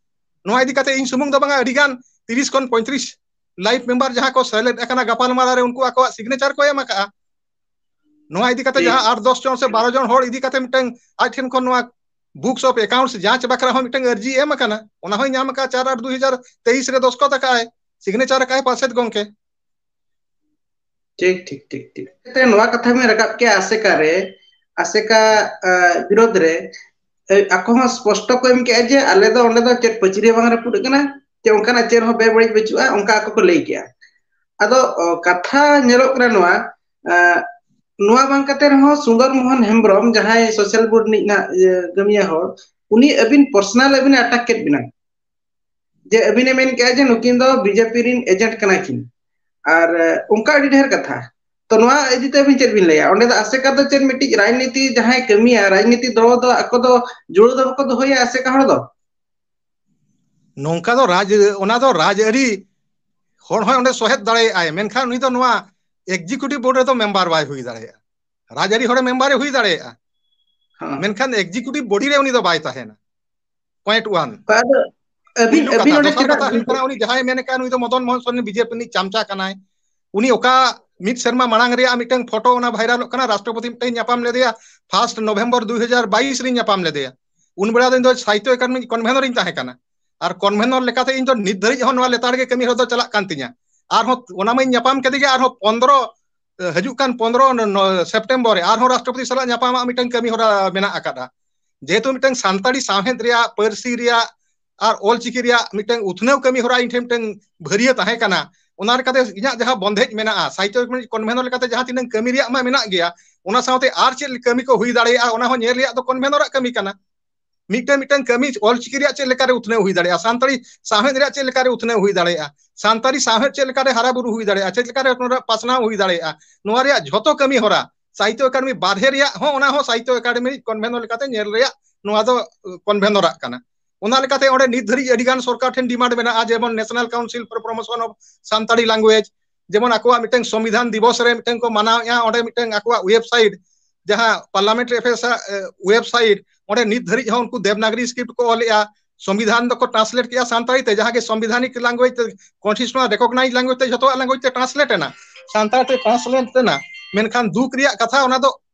ᱱᱚᱣᱟ ᱤᱫᱤ ᱠᱟᱛᱮ ᱤᱧ ᱥᱩᱢᱩᱝ ᱫᱚ ᱵᱟᱝᱟ ᱟᱹᱰᱤ ᱜᱟᱱ ᱛᱤᱨᱤᱥ ᱠᱷᱚᱱ ᱯᱚᱸᱭᱛᱨᱤᱥ ᱞᱟᱭᱤᱯ ᱢᱮᱢᱵᱟᱨ ᱡᱟᱦᱟᱸ ᱠᱚ ᱥᱮᱞᱮᱫ ᱟᱠᱟᱱᱟ ᱜᱟᱯᱟ ᱜᱟᱯᱟᱞᱢᱟᱨᱟᱣ ᱨᱮ ᱩᱱᱠᱩ ᱟᱠᱚᱣᱟᱜ ᱥᱤᱜᱽᱱᱮᱪᱟᱨ ᱠᱚ ᱮᱢ ᱟᱠᱟᱜᱼᱟ ᱱᱚᱣᱟ ᱤᱫᱤ ᱠᱟᱛᱮ ᱴᱷᱤᱠ ᱡᱟᱦᱟᱸ ᱟᱴ ᱫᱚᱥ ᱡᱚᱱ ᱥᱮ ᱵᱟᱨᱚ ᱡᱚᱱ ᱦᱚᱲ ᱤᱫᱤ ᱠᱟᱛᱮ ᱢᱤᱫᱴᱟᱝ ᱟᱡ ᱴᱷᱮᱱ ᱠᱷᱚᱱ ᱱᱚᱣᱟ ᱵᱩᱠᱥ ᱚᱯᱷ ᱮᱠᱟᱣᱩᱱᱴᱥ ᱡᱟᱸᱪ ᱵᱟᱠᱷᱨᱟ ᱦᱚᱸ ᱢᱤᱫᱴᱟᱝ ᱟᱹᱨᱡᱤ ᱮᱢ ᱟᱠᱟᱱᱟ ᱚᱱᱟ ᱦᱚᱸᱭ ᱧᱟᱢ ᱟᱠᱟᱫᱼᱟ ᱪᱟᱨ ᱟᱴ ᱫᱩᱭ ᱦᱟᱡᱟᱨ ᱛᱮᱭᱤᱥ ᱨᱮ ᱫᱚᱥᱠᱚᱛ ᱟᱠᱟᱜᱼ ᱟᱭ ᱥᱤᱜᱽᱱᱮᱪᱟᱨ ᱟᱠᱟᱜᱼ ᱟᱭ ᱯᱟᱨᱥᱮᱛ ᱜᱚᱝᱠᱮ ᱴᱷᱤᱠ ᱴᱷᱤᱠ ᱴᱷᱤᱠ ᱴᱷᱤᱠ ᱮᱱᱛᱮ ᱱᱚᱣᱟ ᱠᱟᱛᱷᱟ ᱵᱮᱱ ᱨᱟᱠᱟᱵ ᱠᱮᱭᱟ ᱟᱥᱮᱠᱟ ᱨᱮ ᱟᱥᱮᱠᱟ ᱵᱤᱨᱩᱫᱽ ᱨᱮ ᱟᱠᱚ ᱦᱚᱸ ᱥᱯᱚᱥᱴᱚ ᱠᱚ ᱮᱢ ᱠᱮᱜᱼᱟ ᱡᱮ ᱟᱞᱮ ᱫᱚ ᱚᱸᱰᱮ ᱫᱚ ᱪᱮᱫ ᱯᱟᱹᱪᱨᱤ ᱦᱚᱸ ᱵᱟᱝ ᱨᱟᱹᱯᱩᱫ ᱟᱠᱟᱱᱟ ᱡᱮ ᱚᱱᱠᱟᱱᱟᱜ ᱪᱮᱫ ᱦᱚᱸ ᱵᱮᱵᱟᱹᱲᱤᱡ ᱵᱟᱹᱪᱩᱜᱼᱟ ᱚᱱᱠᱟ ᱟᱠᱚ ᱠᱚ ᱞᱟᱹᱭ ᱠᱮᱜᱼᱟ ᱟᱫᱚ ᱠᱟᱛᱷᱟ ᱧᱮᱞᱚᱜ ᱠᱟᱱᱟ ᱱᱚᱣᱟ ᱱᱚᱣᱟ ᱵᱟᱝ ᱠᱟᱛᱮ ᱨᱮᱦᱚᱸ ᱥᱩᱸᱫᱚᱨ ᱢᱳᱦᱚᱱ ᱦᱮᱢᱵᱨᱚᱢ ᱡᱟᱦᱟᱸᱭ ᱥᱳᱥᱟᱞ ᱵᱚᱨᱰ ᱨᱤᱱᱤᱡ ᱱᱟᱦᱟᱜ ᱠᱟᱹᱢᱤᱭᱟᱹ ᱦᱚᱲ ᱩᱱᱤ ᱟᱹᱵᱤᱱ ᱯᱟᱨᱥᱚᱱᱟᱞ ᱟᱹᱵᱤᱱ ᱮ ᱟᱴᱟᱠ ᱠᱮᱫ ᱵᱤᱱᱟ ᱡᱮ ᱟᱹᱵᱤᱱᱮ ᱢᱮᱱ ᱠᱮᱜᱼᱟ ᱡᱮ ᱱᱩᱠᱤᱱ ᱫᱚ ᱵᱤᱡᱮᱯᱤ ᱨᱮᱱ ᱮᱡᱮᱱᱴ ᱠᱟᱱᱟ ᱠᱤᱱ ᱟᱨ ᱚᱱᱠᱟ ᱟᱹᱰᱤ ᱰᱷᱮᱨ ᱠᱟᱛᱷᱟ ᱛᱚ ᱱᱚᱣᱟ ᱤᱫᱤ ᱛᱮ ᱟᱹᱵᱤᱱ ᱪᱮᱫ ᱵᱤᱱ ᱞᱟᱹᱭᱟ ᱚᱸᱰᱮ ᱫᱚ ᱟᱥᱮᱠᱟ ᱫᱚ ᱪᱮᱫ ᱢᱤᱫᱴᱤᱡ ᱨᱟᱡᱽᱱᱤᱛᱤ ᱡᱟᱦᱟᱸᱭ ᱠᱟᱹᱢᱤᱭᱟ ᱨᱟᱡᱽᱱᱤᱛᱤ ᱫᱚᱞ ᱫᱚ ᱟᱠᱚ ᱫᱚ ᱡᱩᱲᱟᱹ ᱫᱚ ᱵᱟᱠᱚ ᱫᱚᱦᱚᱭᱟ ᱟᱥᱮᱠᱟ ᱦᱚᱲ ᱫᱚ ᱱᱚᱝᱠᱟ ᱫᱚ ᱨᱟᱡᱽ ᱚᱱᱟ ᱫᱚ ᱨᱟᱡᱽᱟᱹᱨᱤ ᱦᱚᱲ ᱦᱚᱸᱭ ᱚᱸᱰᱮ ᱥᱚᱦᱮᱫ ᱫᱟᱲᱮᱭᱟᱜᱼ ᱟᱭ ᱢᱮᱱᱠᱷᱟᱱ ᱩᱱᱤ ᱫᱚ ᱱᱚᱣᱟ ᱮᱠᱡᱤᱠᱤᱭᱩᱴᱤᱵᱷ ᱵᱳᱨᱰ ᱨᱮᱫᱚ ᱢᱮᱢᱵᱟᱨ ᱵᱟᱭ ᱦᱩᱭ ᱫᱟᱲᱮᱭᱟᱜᱼᱟ ᱨᱟᱡᱽᱟᱹᱨᱤ ᱦᱚᱲ ᱢᱮᱢᱵᱟᱨᱮ ᱦᱩᱭ ᱫᱟᱲᱮᱭᱟᱜᱼᱟ ᱦᱚᱸ ᱢᱮᱱᱠᱷᱟᱱ ᱮᱠᱡᱤᱠᱤᱭᱩᱴᱤᱵᱽ ᱵᱳᱰᱤ ᱨᱮ ᱩᱱᱤ ᱫᱚ ᱵᱟᱭ ᱛᱟᱦᱮᱱᱟ ᱯᱚᱭᱮᱱᱴ ᱚᱣᱟᱱ ᱟᱫᱚ ᱟᱹᱵᱤᱱ ᱯᱩᱭᱞᱩ ᱟᱹᱵᱤᱱ ᱠᱟᱛᱷᱟ ᱚᱸᱰᱮ ᱫᱚᱥᱟᱨ ᱪᱮᱫᱟᱜ ᱠᱟᱛᱷᱟ ᱦᱩᱭᱩᱜ ᱠᱟᱱᱟ ᱩᱱᱤ ᱡᱟᱦᱟᱸᱭ ᱢᱮᱱ ᱠᱟᱱ ᱩᱱᱤ ᱫᱚ ᱢᱚᱫᱚᱱ ᱢᱳᱦᱚᱱ ᱥᱚᱨᱮᱱ ᱵᱤᱡᱮᱯᱤ ᱨᱤᱱᱤᱡ ᱪᱟᱢᱪᱟ ᱠᱟᱱᱟᱭ ᱩᱱᱤ ᱚᱠᱟ ᱢᱤᱫ ᱥᱮᱨᱢᱟ ᱢᱟᱲᱟᱝ ᱨᱮᱭᱟᱜ ᱢᱤᱫᱴᱟᱝ ᱯᱷᱳᱴᱳ ᱚᱱᱟ ᱵᱷᱟᱭᱨᱟᱞᱚᱜ ᱠᱟᱱᱟ ᱨᱟᱥᱴᱨᱚᱯᱚᱛᱤ ᱢᱤᱫᱴᱮᱱ ᱧᱟᱯᱟᱢ ᱞᱮᱫᱮᱭᱟ ᱯᱷᱟᱥᱴ ᱱᱚᱵᱷᱮᱢᱵᱚᱨ ᱫᱩ ᱦᱟᱡᱟᱨ ᱵᱟᱭᱤᱥ ᱨᱤᱧ ᱧᱟᱯᱟᱢ ᱞᱮᱫᱮᱭᱟ ᱩᱱ ᱵᱮᱲᱟ ᱫᱚ ᱤᱧ ᱫᱚ ᱥᱟᱦᱤᱛᱛᱚ ᱮᱠᱟᱰᱮᱢᱤ ᱠᱚᱱᱵᱷᱮᱱᱚᱨ ᱤᱧ ᱛᱟᱦᱮᱸ ᱠᱟᱱᱟ ᱟᱨ ᱠᱚᱱᱵᱷᱮᱱᱚᱨ ᱞᱮᱠᱟᱛᱮ ᱤᱧ ᱫᱚ ᱱᱤᱛ ᱫᱷᱟᱹᱨᱤᱡ ᱦᱚᱸ ᱱᱚᱣᱟ ᱞᱮᱛᱟᱲ ᱜᱮ ᱠᱟᱹᱢᱤ ᱦᱚᱨᱟ ᱫᱚ ᱪᱟᱞᱟᱜ ᱠᱟᱱ ᱛᱤᱧᱟ ᱟᱨᱦᱚᱸ ᱚᱱᱟ ᱢᱟᱧ ᱧᱟᱯᱟᱢ ᱠᱮᱫᱮ ᱜᱮ ᱟᱨᱦᱚᱸ ᱯᱚᱱᱫᱽᱨᱚ ᱦᱤᱡᱩᱜ ᱠᱟᱱ ᱯᱚᱱᱨᱚ ᱥᱮᱯᱴᱮᱢᱵᱚᱨ ᱨᱮ ᱟᱨᱦᱚᱸ ᱨᱟᱥᱴᱨᱚᱯᱚᱛᱤ ᱥᱟᱞᱟᱜ ᱧᱟᱯᱟᱢᱟᱜ ᱢᱤᱫᱴᱟᱝ ᱠᱟᱹᱢᱤ ᱦᱚᱨᱟ ᱢᱮᱱᱟᱜ ᱟᱠᱟᱫᱟ ᱡᱮᱦᱮᱛᱩ ᱢᱤᱫᱴᱟᱝ ᱥᱟᱱᱛᱟᱲᱤ ᱥᱟᱶᱦᱮᱫ ᱨᱮᱭᱟᱜ ᱯᱟᱹᱨᱥᱤ ᱨᱮᱭᱟᱜ ᱟᱨ ᱚᱞᱪᱤᱠᱤ ᱨᱮᱭᱟᱜ ᱢᱤᱫᱴᱟᱝ ᱩᱛᱷᱱᱟᱹᱣ ᱠᱟᱹᱢᱤ ᱦᱚᱨᱟ ᱤᱧ ᱴᱷᱮᱱ ᱢᱤᱫᱴᱟᱝ ᱵᱷᱟᱹᱨᱭᱟᱹ ᱛᱟᱦᱮᱸ ᱠᱟᱱᱟ ᱚᱱᱟ ᱞᱮᱠᱟᱛᱮ ᱤᱧᱟᱹᱜ ᱡᱟᱦᱟᱸ ᱵᱚᱱᱫᱷᱮᱡᱽ ᱢᱮᱱᱟᱜᱼᱟ ᱥᱟᱦᱤᱛᱛᱚ ᱠᱚᱱᱵᱷᱮᱱᱚᱨ ᱞᱮᱠᱟᱛᱮ ᱡᱟᱦᱟᱸ ᱛᱤᱱᱟᱹᱝ ᱠᱟᱹᱢᱤ ᱨᱮᱭᱟᱜ ᱢᱟ ᱢᱮᱱᱟᱜ ᱜᱮᱭᱟ ᱚᱱᱟ ᱥᱟᱶᱛᱮ ᱟᱨ ᱪᱮᱫ ᱠᱟᱹᱢᱤ ᱠᱚ ᱦᱩᱭ ᱫᱟᱲᱮᱭᱟᱜᱼᱟ ᱚᱱᱟ ᱦᱚᱸ ᱧᱮᱞ ᱨᱮᱭᱟᱜ ᱫᱚ ᱠᱚᱱᱵᱷᱮᱱᱚᱨᱟᱜ ᱠᱟᱹᱢᱤ ᱠᱟᱱᱟ ᱢᱤᱫᱴᱟᱝ ᱢᱤᱫᱴᱟᱝ ᱠᱟᱹᱢᱤ ᱚᱞᱪᱤᱠᱤ ᱨᱮᱭᱟᱜ ᱪᱮᱫ ᱞᱮᱠᱟᱨᱮ ᱩᱛᱱᱟᱹᱣ ᱦᱩᱭ ᱫᱟᱲᱮᱭᱟᱜᱼᱟ ᱥᱟᱱᱛᱟᱲᱤ ᱥᱟᱶᱦᱮᱫ ᱨᱮᱭᱟᱜ ᱪᱮᱫ ᱞᱮᱠᱟᱨᱮ ᱩᱛᱱᱟᱹᱣ ᱦᱩᱭ ᱫᱟᱲᱮᱭᱟᱜᱼᱟ ᱥᱟᱱᱛᱟᱲᱤ ᱥᱟᱶᱦᱮᱫ ᱪᱮᱫ ᱞᱮᱠᱟᱨᱮ ᱦᱟᱨᱟ ᱵᱩᱨᱩ ᱦᱩᱭ ᱫᱟᱲᱮᱭᱟᱜᱼᱟ ᱪᱮᱫ ᱞᱮᱠᱟᱨᱮ ᱱᱚᱣᱟ ᱯᱟᱥᱱᱟᱣ ᱦᱩᱭ ᱫᱟᱲᱮᱭᱟᱜᱼᱟ ᱱᱚᱣᱟ ᱨᱮᱭᱟᱜ ᱡᱷᱚᱛᱚ ᱠᱟᱹᱢᱤ ᱦᱚᱨᱟ ᱥᱟᱦᱤᱛᱭᱚ ᱮᱠᱟᱰᱮᱢᱤ ᱵᱟᱨᱦᱮ ᱨᱮᱭᱟᱜ ᱦᱚᱸ ᱚᱱᱟ ᱦᱚᱸ ᱥᱟᱦᱤᱛᱭᱚ ᱮᱠᱟᱰᱮᱢᱤ ᱠᱚᱱᱵᱷᱮᱱᱚᱨ ᱞᱮᱠᱟᱛᱮ ᱧᱮᱞ ᱨᱮᱭᱟᱜ ᱱᱚᱣᱟ ᱫᱚ ᱠᱚᱱᱵᱷᱮᱱᱚᱨᱟᱜ ᱠᱟᱱᱟ ᱚᱱᱟ ᱞᱮᱠᱟᱛᱮ ᱚᱸᱰᱮ ᱱᱤᱛ ᱫᱷᱟᱹᱨᱤᱡ ᱟᱹᱰᱤ ᱜᱟᱱ ᱥᱚᱨᱠᱟᱨ ᱴᱷᱮᱱ ᱰᱤᱢᱟᱱᱰ ᱢᱮᱱᱟᱜᱼᱟ ᱡᱮᱢᱚᱱ national council for promotion of Santali language ᱡᱮᱢᱚᱱ ᱟᱠᱚᱣᱟᱜ ᱢᱤᱫᱴᱟᱝ ᱥᱚᱝᱵᱤᱫᱷᱟᱱ ᱫᱤᱵᱚᱥ ᱨᱮ ᱢᱤᱫᱴᱟᱝ ᱠᱚ ᱢᱟᱱᱟᱣᱮᱫᱼᱟ ᱚᱸᱰᱮ ᱢᱤᱫᱴᱟᱝ ᱟᱠᱚᱣᱟᱜ ᱳᱭᱮᱵᱽᱥᱟᱭᱤᱴ ᱡᱟᱦᱟᱸ ᱯᱟᱨᱞᱟᱢᱮᱱᱴ ᱮᱯᱷᱮᱥ ᱳᱭᱮᱵᱽᱥᱟᱭᱤᱴ ᱚᱸᱰᱮ ᱱᱤᱛ ᱫᱷᱟᱹᱨᱤᱡ ᱦᱚᱸ ᱩᱱᱠᱩ ᱫᱮᱵᱽᱱᱟᱜᱨᱤ ᱥᱠᱨᱤᱯᱴ ᱠᱚ ᱚᱞᱮᱜᱼᱟ ᱥᱚᱝᱵᱤᱫᱷᱟᱱ ᱫᱚᱠᱚ ᱴᱨᱟᱱᱥᱞᱮᱴ ᱠᱮᱜᱼᱟ ᱥᱟᱱᱛᱟᱲᱤ ᱛᱮ ᱡᱟᱦᱟᱸ ᱜᱮ ᱥᱚᱝᱵᱤᱫᱷᱟᱱᱤᱠ ᱞᱟᱝᱜᱩᱭᱮᱡᱽ ᱠᱚᱱᱥᱴᱤᱴᱩᱥᱚᱱᱟᱞ ᱨᱮᱠᱚᱜᱱᱟᱭᱤᱡᱽ ᱞᱟᱝᱜᱩᱭᱮᱡᱽ ᱛᱮ ᱡᱚᱛᱚᱣᱟᱜ ᱞᱟᱝᱜᱩᱭᱮᱡᱽ ᱛᱮ ᱴᱨᱟᱱᱥᱞᱮᱴ ᱮᱱᱟ ᱥᱟᱱᱛᱟᱲ ᱛᱮ ᱴᱨᱟᱱᱥᱞᱮᱴ ᱮᱱᱟ ᱢᱮᱱᱠᱷᱟᱱ ᱫᱩᱠ ᱨᱮᱭᱟᱜ ᱠᱟᱛᱷᱟ ᱚᱱᱟ ᱫᱚ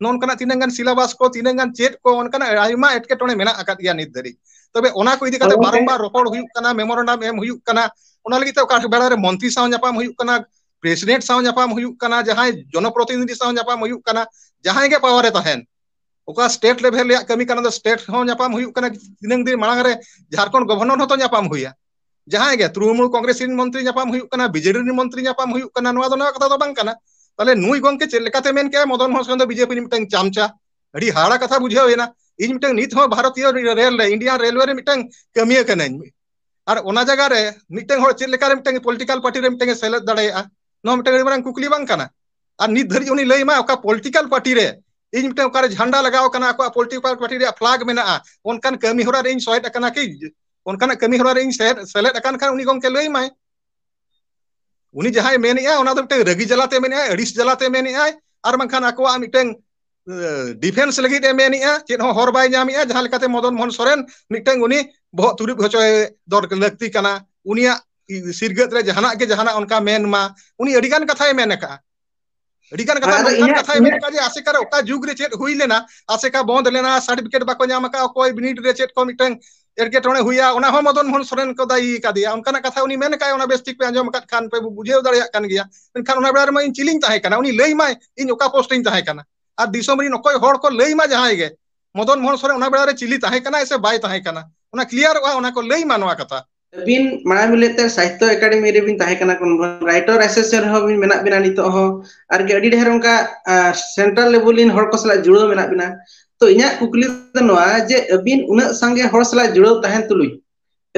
ᱱᱚᱝᱠᱟᱱᱟᱜ ᱛᱤᱱᱟᱹᱜ ᱜᱟᱱ ᱥᱤᱞᱟᱵᱟᱥ ᱠᱚ ᱛᱤᱱᱟᱹᱜ ᱜᱟᱱ ᱪᱮᱫ ᱠᱚ ᱚᱱᱠᱟᱱᱟᱜ ᱟᱭᱢᱟ ᱮᱴᱠᱮᱴᱚᱬᱮ ᱢᱮᱱᱟᱜ ᱟᱠᱟᱫ ᱜᱮᱭᱟ ᱱᱤᱛ ᱫᱷᱟᱹᱨᱤᱡ ᱛᱚᱵᱮ ᱚᱱᱟ ᱠᱚ ᱤᱫᱤ ᱠᱟᱛᱮ ᱵᱟᱨᱚᱢᱵᱟᱨ ᱨᱚᱯᱚᱲ ᱦᱩᱭᱩᱜ ᱠᱟᱱᱟ ᱢᱮᱢᱳᱨᱮᱱᱰᱟᱢ ᱮᱢ ᱦᱩᱭᱩᱜ ᱠᱟᱱᱟ ᱚᱱᱟ ᱞᱟᱹᱜᱤᱫ ᱛᱮ ᱚᱠᱟ ᱵᱮᱲᱟ ᱨᱮ ᱢᱚᱱᱛᱨᱤ ᱥᱟᱶ ᱧᱟᱯᱟᱢ ᱦᱩᱭᱩᱜ ᱠᱟᱱᱟ ᱯᱨᱮᱥᱤᱰᱮᱱᱴ ᱥᱟᱶ ᱧᱟᱯᱟᱢ ᱦᱩᱭᱩᱜ ᱠᱟᱱᱟ ᱡᱟᱦᱟᱸᱭ ᱡᱚᱱᱚᱯᱨᱚᱛᱤᱱᱤᱫᱷᱤ ᱥᱟᱶ ᱧᱟᱯᱟᱢ ᱦᱩᱭᱩᱜ ᱠᱟᱱᱟ ᱡᱟᱦᱟᱸᱭ ᱜᱮ ᱯᱟᱣᱟᱨ ᱨᱮ ᱛᱟᱦᱮᱱ ᱚᱠᱟ ᱥᱴᱮᱴ ᱞᱮᱵᱷᱮᱞ ᱨᱮᱭᱟᱜ ᱠᱟᱹᱢᱤ ᱠᱟᱱᱟ ᱥᱴᱮᱴ ᱦᱚᱸ ᱧᱟᱯᱟᱢ ᱦᱩᱭᱩᱜ ᱠᱟᱱᱟ ᱛᱤᱱᱟᱹᱝ ᱫᱤᱱ ᱢᱟᱲᱟᱝ ᱨᱮ ᱡᱷᱟᱲᱠᱷᱚᱸᱰ ᱜᱚᱵᱷᱚᱨᱱᱚᱨ ᱦᱚᱸᱛᱚ ᱧᱟᱯᱟᱢ ᱦᱩᱭᱟ ᱡᱟᱦᱟᱸᱭ ᱜᱮ ᱛᱨᱩᱢᱩᱞ ᱠᱚᱝᱜᱨᱮᱥ ᱨᱮᱱ ᱢᱚᱱᱛᱨᱤ ᱧᱟᱯᱟᱢ ᱦᱩᱭᱩᱜ ᱠᱟᱱᱟ ᱵᱤᱡᱮᱰᱤ ᱨᱮᱱ ᱢᱚᱱᱛᱨᱤ ᱧᱟᱯᱟᱢ ᱦᱩᱭᱩᱜ ᱠᱟᱱᱟ ᱱᱚᱣᱟ ᱫᱚ ᱱᱚᱣᱟ ᱠᱟᱛᱷᱟ ᱫᱚ ᱵᱟᱝ ᱠᱟᱱᱟ ᱛᱟᱦᱚᱞᱮ ᱱᱩᱭ ᱜᱚᱝᱠᱮ ᱪᱮᱫ ᱞᱮᱠᱟᱛᱮ ᱢᱮᱱ ᱠᱮᱜᱼᱟ ᱢᱚᱫᱚᱱ ᱢᱳᱦᱚᱱ ᱥᱚᱨᱮᱱ ᱫᱚ ᱵᱤᱡᱮᱯᱤ ᱨᱤᱱᱤᱡ ᱢᱤᱫᱴᱟᱝ ᱪᱟᱢᱪᱟ ᱟᱹᱰᱤ ᱦᱟᱦᱟᱲᱟ ᱠᱟᱛᱷᱟ ᱵᱩᱡᱷᱟᱹᱣ ᱮᱱᱟ ᱤᱧ ᱢᱤᱫᱴᱟᱝ ᱱᱤᱛ ᱦᱚᱸ ᱵᱷᱟᱨᱚᱛᱤᱭᱚ ᱨᱮᱞ ᱨᱮ ᱤᱱᱰᱤᱭᱟᱱ ᱨᱮᱞᱣᱮ ᱨᱮ ᱢᱤᱫᱴᱟᱝ ᱠᱟᱹᱢᱤᱭᱟᱹ ᱠᱟᱹᱱᱟᱹᱧ ᱟᱨ ᱚᱱᱟ ᱡᱟᱭᱜᱟ ᱨᱮ ᱢᱤᱫᱴᱟᱝ ᱦᱚᱲ ᱪᱮᱫ ᱞᱮᱠᱟᱨᱮ ᱢᱤᱫᱴᱟᱝ ᱯᱚᱞᱤᱴᱤᱠᱟᱞ ᱯᱟᱨᱴᱤ ᱨᱮ ᱢᱤᱫᱴᱟᱝ ᱥᱮᱞᱮᱫ ᱫᱟᱲᱮᱭᱟᱜᱼᱟ ᱱᱚᱣᱟ ᱢᱤᱫᱴᱟᱝ ᱟᱹᱰᱤ ᱢᱟᱨᱟᱝ ᱠᱩᱠᱞᱤ ᱵᱟᱝ ᱠᱟᱱᱟ ᱟᱨ ᱱᱤᱛ ᱫᱷᱟᱹᱨᱤᱡ ᱩᱱᱤ ᱞᱟᱹᱭ ᱢᱟ ᱚᱠᱟ ᱯᱚᱞᱤᱴᱤᱠᱟᱞ ᱯᱟᱨᱴᱤ ᱨᱮ ᱤᱧ ᱢᱤᱫᱴᱟᱝ ᱚᱠᱟᱨᱮ ᱡᱷᱟᱱᱰᱟ ᱞᱟᱜᱟᱣ ᱠᱟᱱᱟ ᱟᱠᱚᱣᱟᱜ ᱯᱚᱞᱤᱴᱤᱠᱟᱞ ᱯᱟᱨᱴᱤ ᱨᱮᱭᱟᱜ ᱯᱷᱞᱟᱜ ᱢᱮᱱᱟᱜᱼᱟ ᱚᱱᱠᱟᱱ ᱠᱟᱹᱢᱤ ᱦᱚᱨᱟ ᱨᱮ ᱤᱧ ᱥᱚᱦᱮᱫ ᱟᱠᱟᱱᱟ ᱠᱤ ᱚᱱᱠᱟᱱᱟᱜ ᱠᱟᱹᱢᱤ ᱦᱚᱨᱟ ᱨᱮᱧ ᱥᱮᱞᱮᱫ ᱟᱠᱟᱱ ᱠᱷᱟᱱ ᱩᱱᱤ ᱜᱚᱢᱠᱮ ᱞᱟᱹᱭ ᱟᱢᱟᱭ ᱩᱱᱤ ᱡᱟᱦᱟᱸᱭ ᱢᱮᱱᱮᱫᱼᱟ ᱚᱱᱟ ᱫᱚ ᱢᱤᱫᱴᱟᱝ ᱨᱟᱹᱜᱤ ᱡᱟᱞᱟᱛᱮ ᱢᱮᱱᱮᱫᱼᱟ ᱟᱹᱲᱤᱥ ᱡᱟᱞᱟᱛᱮ ᱢᱮᱱᱮᱫᱼᱟ ᱟᱨ ᱵᱟᱝᱠᱷᱟᱱ ᱟᱠᱚᱣᱟᱜ ᱢᱤᱫᱴᱟᱝ ᱰᱤᱯᱷᱮᱱᱥ ᱞᱟᱹᱜᱤᱫ ᱮ ᱢᱮᱱᱮᱫᱼᱟ ᱪᱮᱫ ᱦᱚᱸ ᱦᱚᱨ ᱵᱟᱭ ᱧᱟᱢᱮᱫᱼᱟ ᱡᱟᱦᱟᱸ ᱞᱮᱠᱟᱛᱮ ᱢᱚᱫᱚᱱ ᱢᱳᱦᱚᱱ ᱥᱚᱨᱮᱱ ᱢᱤᱫᱴᱟᱝ ᱩᱱᱤ ᱵᱚᱦᱚᱜ ᱛᱩᱨᱩᱵ ᱦᱚᱪᱚᱭ ᱫᱚᱨ ᱞᱟᱹᱠᱛᱤ ᱠᱟᱱᱟ ᱩᱱᱤᱭᱟᱜ ᱥᱤᱨᱜᱟᱹᱫ ᱨᱮ ᱡᱟᱦᱟᱱᱟᱜ ᱜᱮ ᱡᱟᱦᱟᱱᱟᱜ ᱚᱱᱠᱟ ᱢᱮᱱ ᱢᱟ ᱩᱱᱤ ᱟᱹᱰᱤᱜᱟᱱ ᱠᱟᱛᱷᱟᱭ ᱢᱮᱱ ᱟᱠᱟᱜᱼᱟ ᱟᱹᱰᱤ ᱜᱟᱱ ᱠᱟᱛᱷᱟ ᱟᱫᱚ ᱱᱚᱝᱠᱟᱱ ᱤᱧᱟᱹᱜ ᱠᱟᱛᱷᱟᱭ ᱢᱮᱱ ᱤᱧᱟᱹᱜ ᱠᱟᱜ ᱡᱮ ᱟᱥᱮᱠᱟ ᱨᱮ ᱚᱠᱟ ᱡᱩᱜᱽ ᱨᱮ ᱪᱮᱫ ᱦᱩᱭ ᱞᱮᱱᱟ ᱟᱥᱮᱠᱟ ᱵᱚᱱᱫ ᱞᱮᱱᱟ ᱥᱟᱨᱴᱤᱯᱷᱤᱠᱮᱴ ᱵᱟᱠᱚ ᱧᱟᱢ ᱟᱠᱟᱫᱼᱟ ᱚᱠᱚᱭ ᱵᱤᱱᱤᱰ ᱨᱮ ᱪᱮᱫ ᱠᱚ ᱢᱤᱫᱴᱟᱝ ᱮᱴᱠᱮᱴᱚᱬᱮ ᱦᱩᱭᱟ ᱚᱱᱟ ᱦᱚᱸ ᱢᱚᱫᱚᱱ ᱢᱳᱦᱚᱱ ᱥᱚᱨᱮᱱ ᱠᱚ ᱫᱟᱹᱭᱤ ᱟᱠᱟᱫᱮᱭᱟ ᱚᱱᱠᱟᱱᱟᱜ ᱠᱟᱛᱷᱟ ᱩᱱᱤ ᱢᱮᱱ ᱠᱟᱜ ᱟᱭ ᱚᱱᱟ ᱵᱮᱥ ᱴᱷᱤᱠ ᱯᱮ ᱟᱸᱡᱚᱢ ᱟᱠᱟᱫ ᱠᱷᱟᱱ ᱯᱮ ᱵᱩᱡᱷᱟᱹᱣ ᱫᱟᱲᱮᱭᱟᱜ ᱠᱟᱱ ᱜᱮᱭᱟ ᱢᱮᱱᱠᱷᱟᱱ ᱚᱱᱟ ᱵᱮᱲᱟ ᱨᱮᱢᱟ ᱤᱧ ᱪᱤᱞᱤᱧ ᱛᱟᱦᱮᱸ ᱠᱟᱱᱟ ᱩᱱᱤ ᱞᱟᱹᱭ ᱢᱟᱭ ᱤᱧ ᱚᱠᱟ ᱯᱳᱥᱴ ᱨᱤᱧ ᱛᱟᱦᱮᱸ ᱠᱟᱱᱟ ᱟᱨ ᱫᱤᱥᱚᱢ ᱨᱮᱱ ᱚᱠᱚᱭ ᱦᱚᱲ ᱠᱚ ᱞᱟᱹᱭ ᱢᱟ ᱡᱟᱦᱟᱸᱭ ᱜᱮ ᱢᱚᱫᱚᱱ ᱢᱳᱦᱚᱱ ᱥᱚᱨᱮᱱ ᱚᱱᱟ ᱵᱮᱲᱟ ᱨᱮ ᱪᱤᱞᱤ ᱛᱟᱦᱮᱸ ᱠᱟᱱᱟᱭ ᱥᱮ ᱵᱟᱭ ᱛᱟᱦᱮᱸ ᱠᱟᱱᱟ ᱚᱱᱟ ᱠᱞᱤᱭᱟᱨᱚᱜᱼᱟ ᱚᱱᱟ ᱠᱚ ᱞᱟᱹᱭ ᱢᱟ ᱱᱚᱣᱟ ᱠᱟᱛᱷᱟ ᱟᱹᱵᱤᱱ ᱢᱟᱲᱟᱝ ᱵᱤᱱ ᱞᱟᱹᱭᱮᱫ ᱛᱟᱦᱮᱸ ᱥᱟᱦᱤᱛᱛᱚ ᱮᱠᱟᱰᱮᱢᱤ ᱨᱮᱵᱤᱱ ᱛᱟᱦᱮᱸ ᱠᱟᱱᱟ ᱠᱳᱱ ᱠᱳᱱ ᱨᱟᱭᱴᱚᱨ ᱮᱥᱮᱥᱟᱱ ᱨᱮᱦᱚᱸ ᱵᱤᱱ ᱢᱮᱱᱟᱜ ᱵᱤᱱᱟ ᱱᱤᱛᱚᱜ ᱦᱚᱸ᱾ ᱟᱨᱠᱤ ᱟᱹᱰᱤ ᱰᱷᱮᱨ ᱚᱱᱠᱟ ᱥᱮᱱᱴᱨᱟᱞ ᱞᱮᱵᱮᱞ ᱨᱮᱱ ᱦᱚᱲ ᱠᱚ ᱥᱟᱞᱟᱜ ᱡᱩᱲᱟᱹᱣ ᱢᱮᱱᱟᱜ ᱵᱤᱱᱟ᱾ ᱛᱚ ᱤᱧᱟᱹᱜ ᱠᱩᱠᱞᱤ ᱫᱚ ᱱᱚᱣᱟ ᱡᱮ ᱟᱹᱵᱤᱱ ᱩᱱᱟᱹᱜ ᱥᱟᱸᱜᱮ ᱦᱚᱲ ᱥᱟᱞᱟᱜ ᱡᱩᱲᱟᱹᱣ ᱛᱟᱦᱮᱱ ᱛᱩᱞᱩᱡ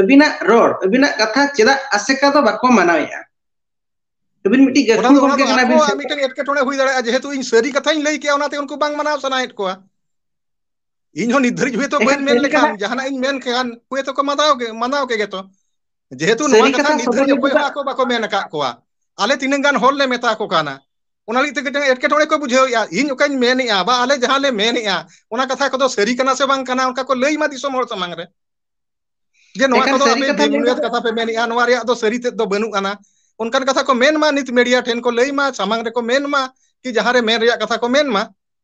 ᱟᱹᱵᱤᱱᱟᱜ ᱨᱚᱲ ᱟᱹᱵᱤᱱᱟᱜ ᱠᱟᱛᱷᱟ ᱪᱮᱫᱟᱜ ᱟᱥᱮᱠᱟ ᱫᱚ ᱵᱟᱠᱚ ᱢᱟᱱᱟᱣᱮᱫᱼᱟ? ᱟᱹᱵᱤᱱ ᱢᱤᱫᱴᱤᱡ ᱚᱱᱟ ᱜᱟᱹᱠᱷᱩᱲ ᱫᱚ ᱚᱱᱟ ᱜᱚᱢᱠᱮ ᱫᱚ ᱠᱟᱱᱟ ᱵᱤᱱ ᱟᱠᱚᱣᱟᱜ ᱥᱮᱴ ᱢᱤᱫᱴᱮᱱ ᱮᱴᱠᱮᱴᱚᱬᱮ ᱦᱩᱭ ᱫᱟᱲᱮᱭᱟᱜᱼᱟ ᱡᱮᱦᱮᱛᱩ ᱤᱧ ᱥᱟᱹᱨᱤ ᱠᱟᱛᱷᱟᱧ ᱞᱟᱹᱭ ᱠᱮᱜᱼᱟ ᱚᱱᱟᱛᱮ ᱩᱱᱠᱩ ᱵᱟᱝ ᱢᱟᱱᱟᱣ ᱥᱟᱱᱟᱭᱮᱫ ᱠᱚᱣᱟ᱾ ᱤᱧ ᱦᱚᱸ ᱱᱤᱛ ᱫᱷᱟᱹᱨᱤᱡ ᱦᱚᱭᱛᱳ ᱮᱠᱷᱟᱱ ᱵᱟᱹᱧ ᱢᱮᱱ ᱥᱟᱹᱨᱤ ᱠᱟᱛᱷᱟ ᱞᱮᱠᱷᱟᱱ ᱡᱟᱦᱟᱱᱟᱜ ᱤᱧ ᱢᱮᱱ ᱠᱮᱭᱟ ᱦᱚᱭ ᱛᱚᱠᱚ ᱢᱟᱱᱟᱣ ᱜᱮ ᱢᱟᱱᱟᱣ ᱠᱮ ᱜᱮᱛᱚ ᱡᱮᱦᱮᱛᱩ ᱱᱚᱣᱟ ᱥᱟᱹᱨᱤ ᱠᱟᱛᱷᱟ ᱱᱤᱛ ᱥᱚᱫᱚᱨ ᱫᱷᱟᱹᱨᱤᱡ ᱞᱟᱹᱜᱤᱫ ᱚᱠᱚᱭ ᱫᱚ ᱦᱚᱸ ᱟᱠᱚ ᱵᱟᱠᱚ ᱢᱮᱱ ᱟᱠᱟᱫ ᱠᱚᱣᱟ ᱟᱞᱮ ᱛᱤᱱᱟᱹᱜ ᱜᱟᱱ ᱦᱚᱲᱞᱮ ᱢᱮᱛᱟ ᱠᱚ ᱠᱟᱱᱟ ᱚᱱᱟ ᱞᱟᱹᱜᱤᱫ ᱛᱮ ᱢᱤᱫᱴᱟᱝ ᱮᱴᱠᱮᱴᱚᱬᱮ ᱠᱚ ᱵᱩᱡᱷᱟᱹᱣᱮᱫᱼᱟ ᱤᱧ ᱚᱠᱟᱧ ᱢᱮᱱᱮᱫᱼᱟ ᱵᱟ ᱟᱞᱮ ᱡᱟᱦᱟᱸ ᱞᱮ ᱢᱮᱱᱮᱫᱼᱟ ᱚᱱᱟ ᱠᱟᱛᱷᱟ ᱠᱚᱫᱚ ᱥᱟᱹᱨᱤ ᱠᱟᱱᱟ ᱥᱮ ᱵᱟᱝ ᱠᱟᱱᱟ ᱚᱱᱠᱟ ᱠᱚ ᱞᱟᱹᱭ ᱢᱟ ᱫᱤᱥᱚᱢ ᱦᱚᱲ ᱥᱟᱢᱟᱝ ᱨᱮ ᱡᱮ ᱱᱚᱣᱟ ᱮᱠᱷᱟᱱ ᱠᱚᱫᱚ ᱥᱟᱹᱨᱤ ᱟᱯᱮ ᱠᱟᱛᱷᱟ ᱞᱟᱹᱭ ᱵᱮᱼᱵᱩᱱᱤᱭᱟᱹᱫ ᱠᱟᱛᱮ ᱠᱟᱛᱷᱟ ᱯᱮ ᱢᱮᱱᱮᱫᱼᱟ ᱱᱚᱣᱟ ᱨᱮᱭᱟᱜ ᱫᱚ ᱥᱟᱹᱨᱤ ᱛᱮᱫ ᱫᱚ ᱵᱟᱹᱱᱩᱜ ᱟᱱᱟ ᱚᱱᱠᱟᱱ ᱠᱟᱛᱷᱟ ᱠᱚ ᱢᱮᱱᱢᱟ ᱱᱤᱛ ᱢᱤᱰᱤᱭᱟ ᱴᱷᱮᱱ ᱠᱚ ᱞᱟᱹᱭ ᱢᱟ ᱥᱟᱢᱟᱝ ᱨᱮᱠᱚ ᱢᱮᱱᱢᱟ ᱠᱤ ᱡᱟᱦᱟᱸᱨᱮ ᱢᱮᱱ ᱨᱮᱭᱟᱜ ᱠᱟᱛᱷᱟ ᱠᱚ ᱢᱮᱱ ᱢᱟ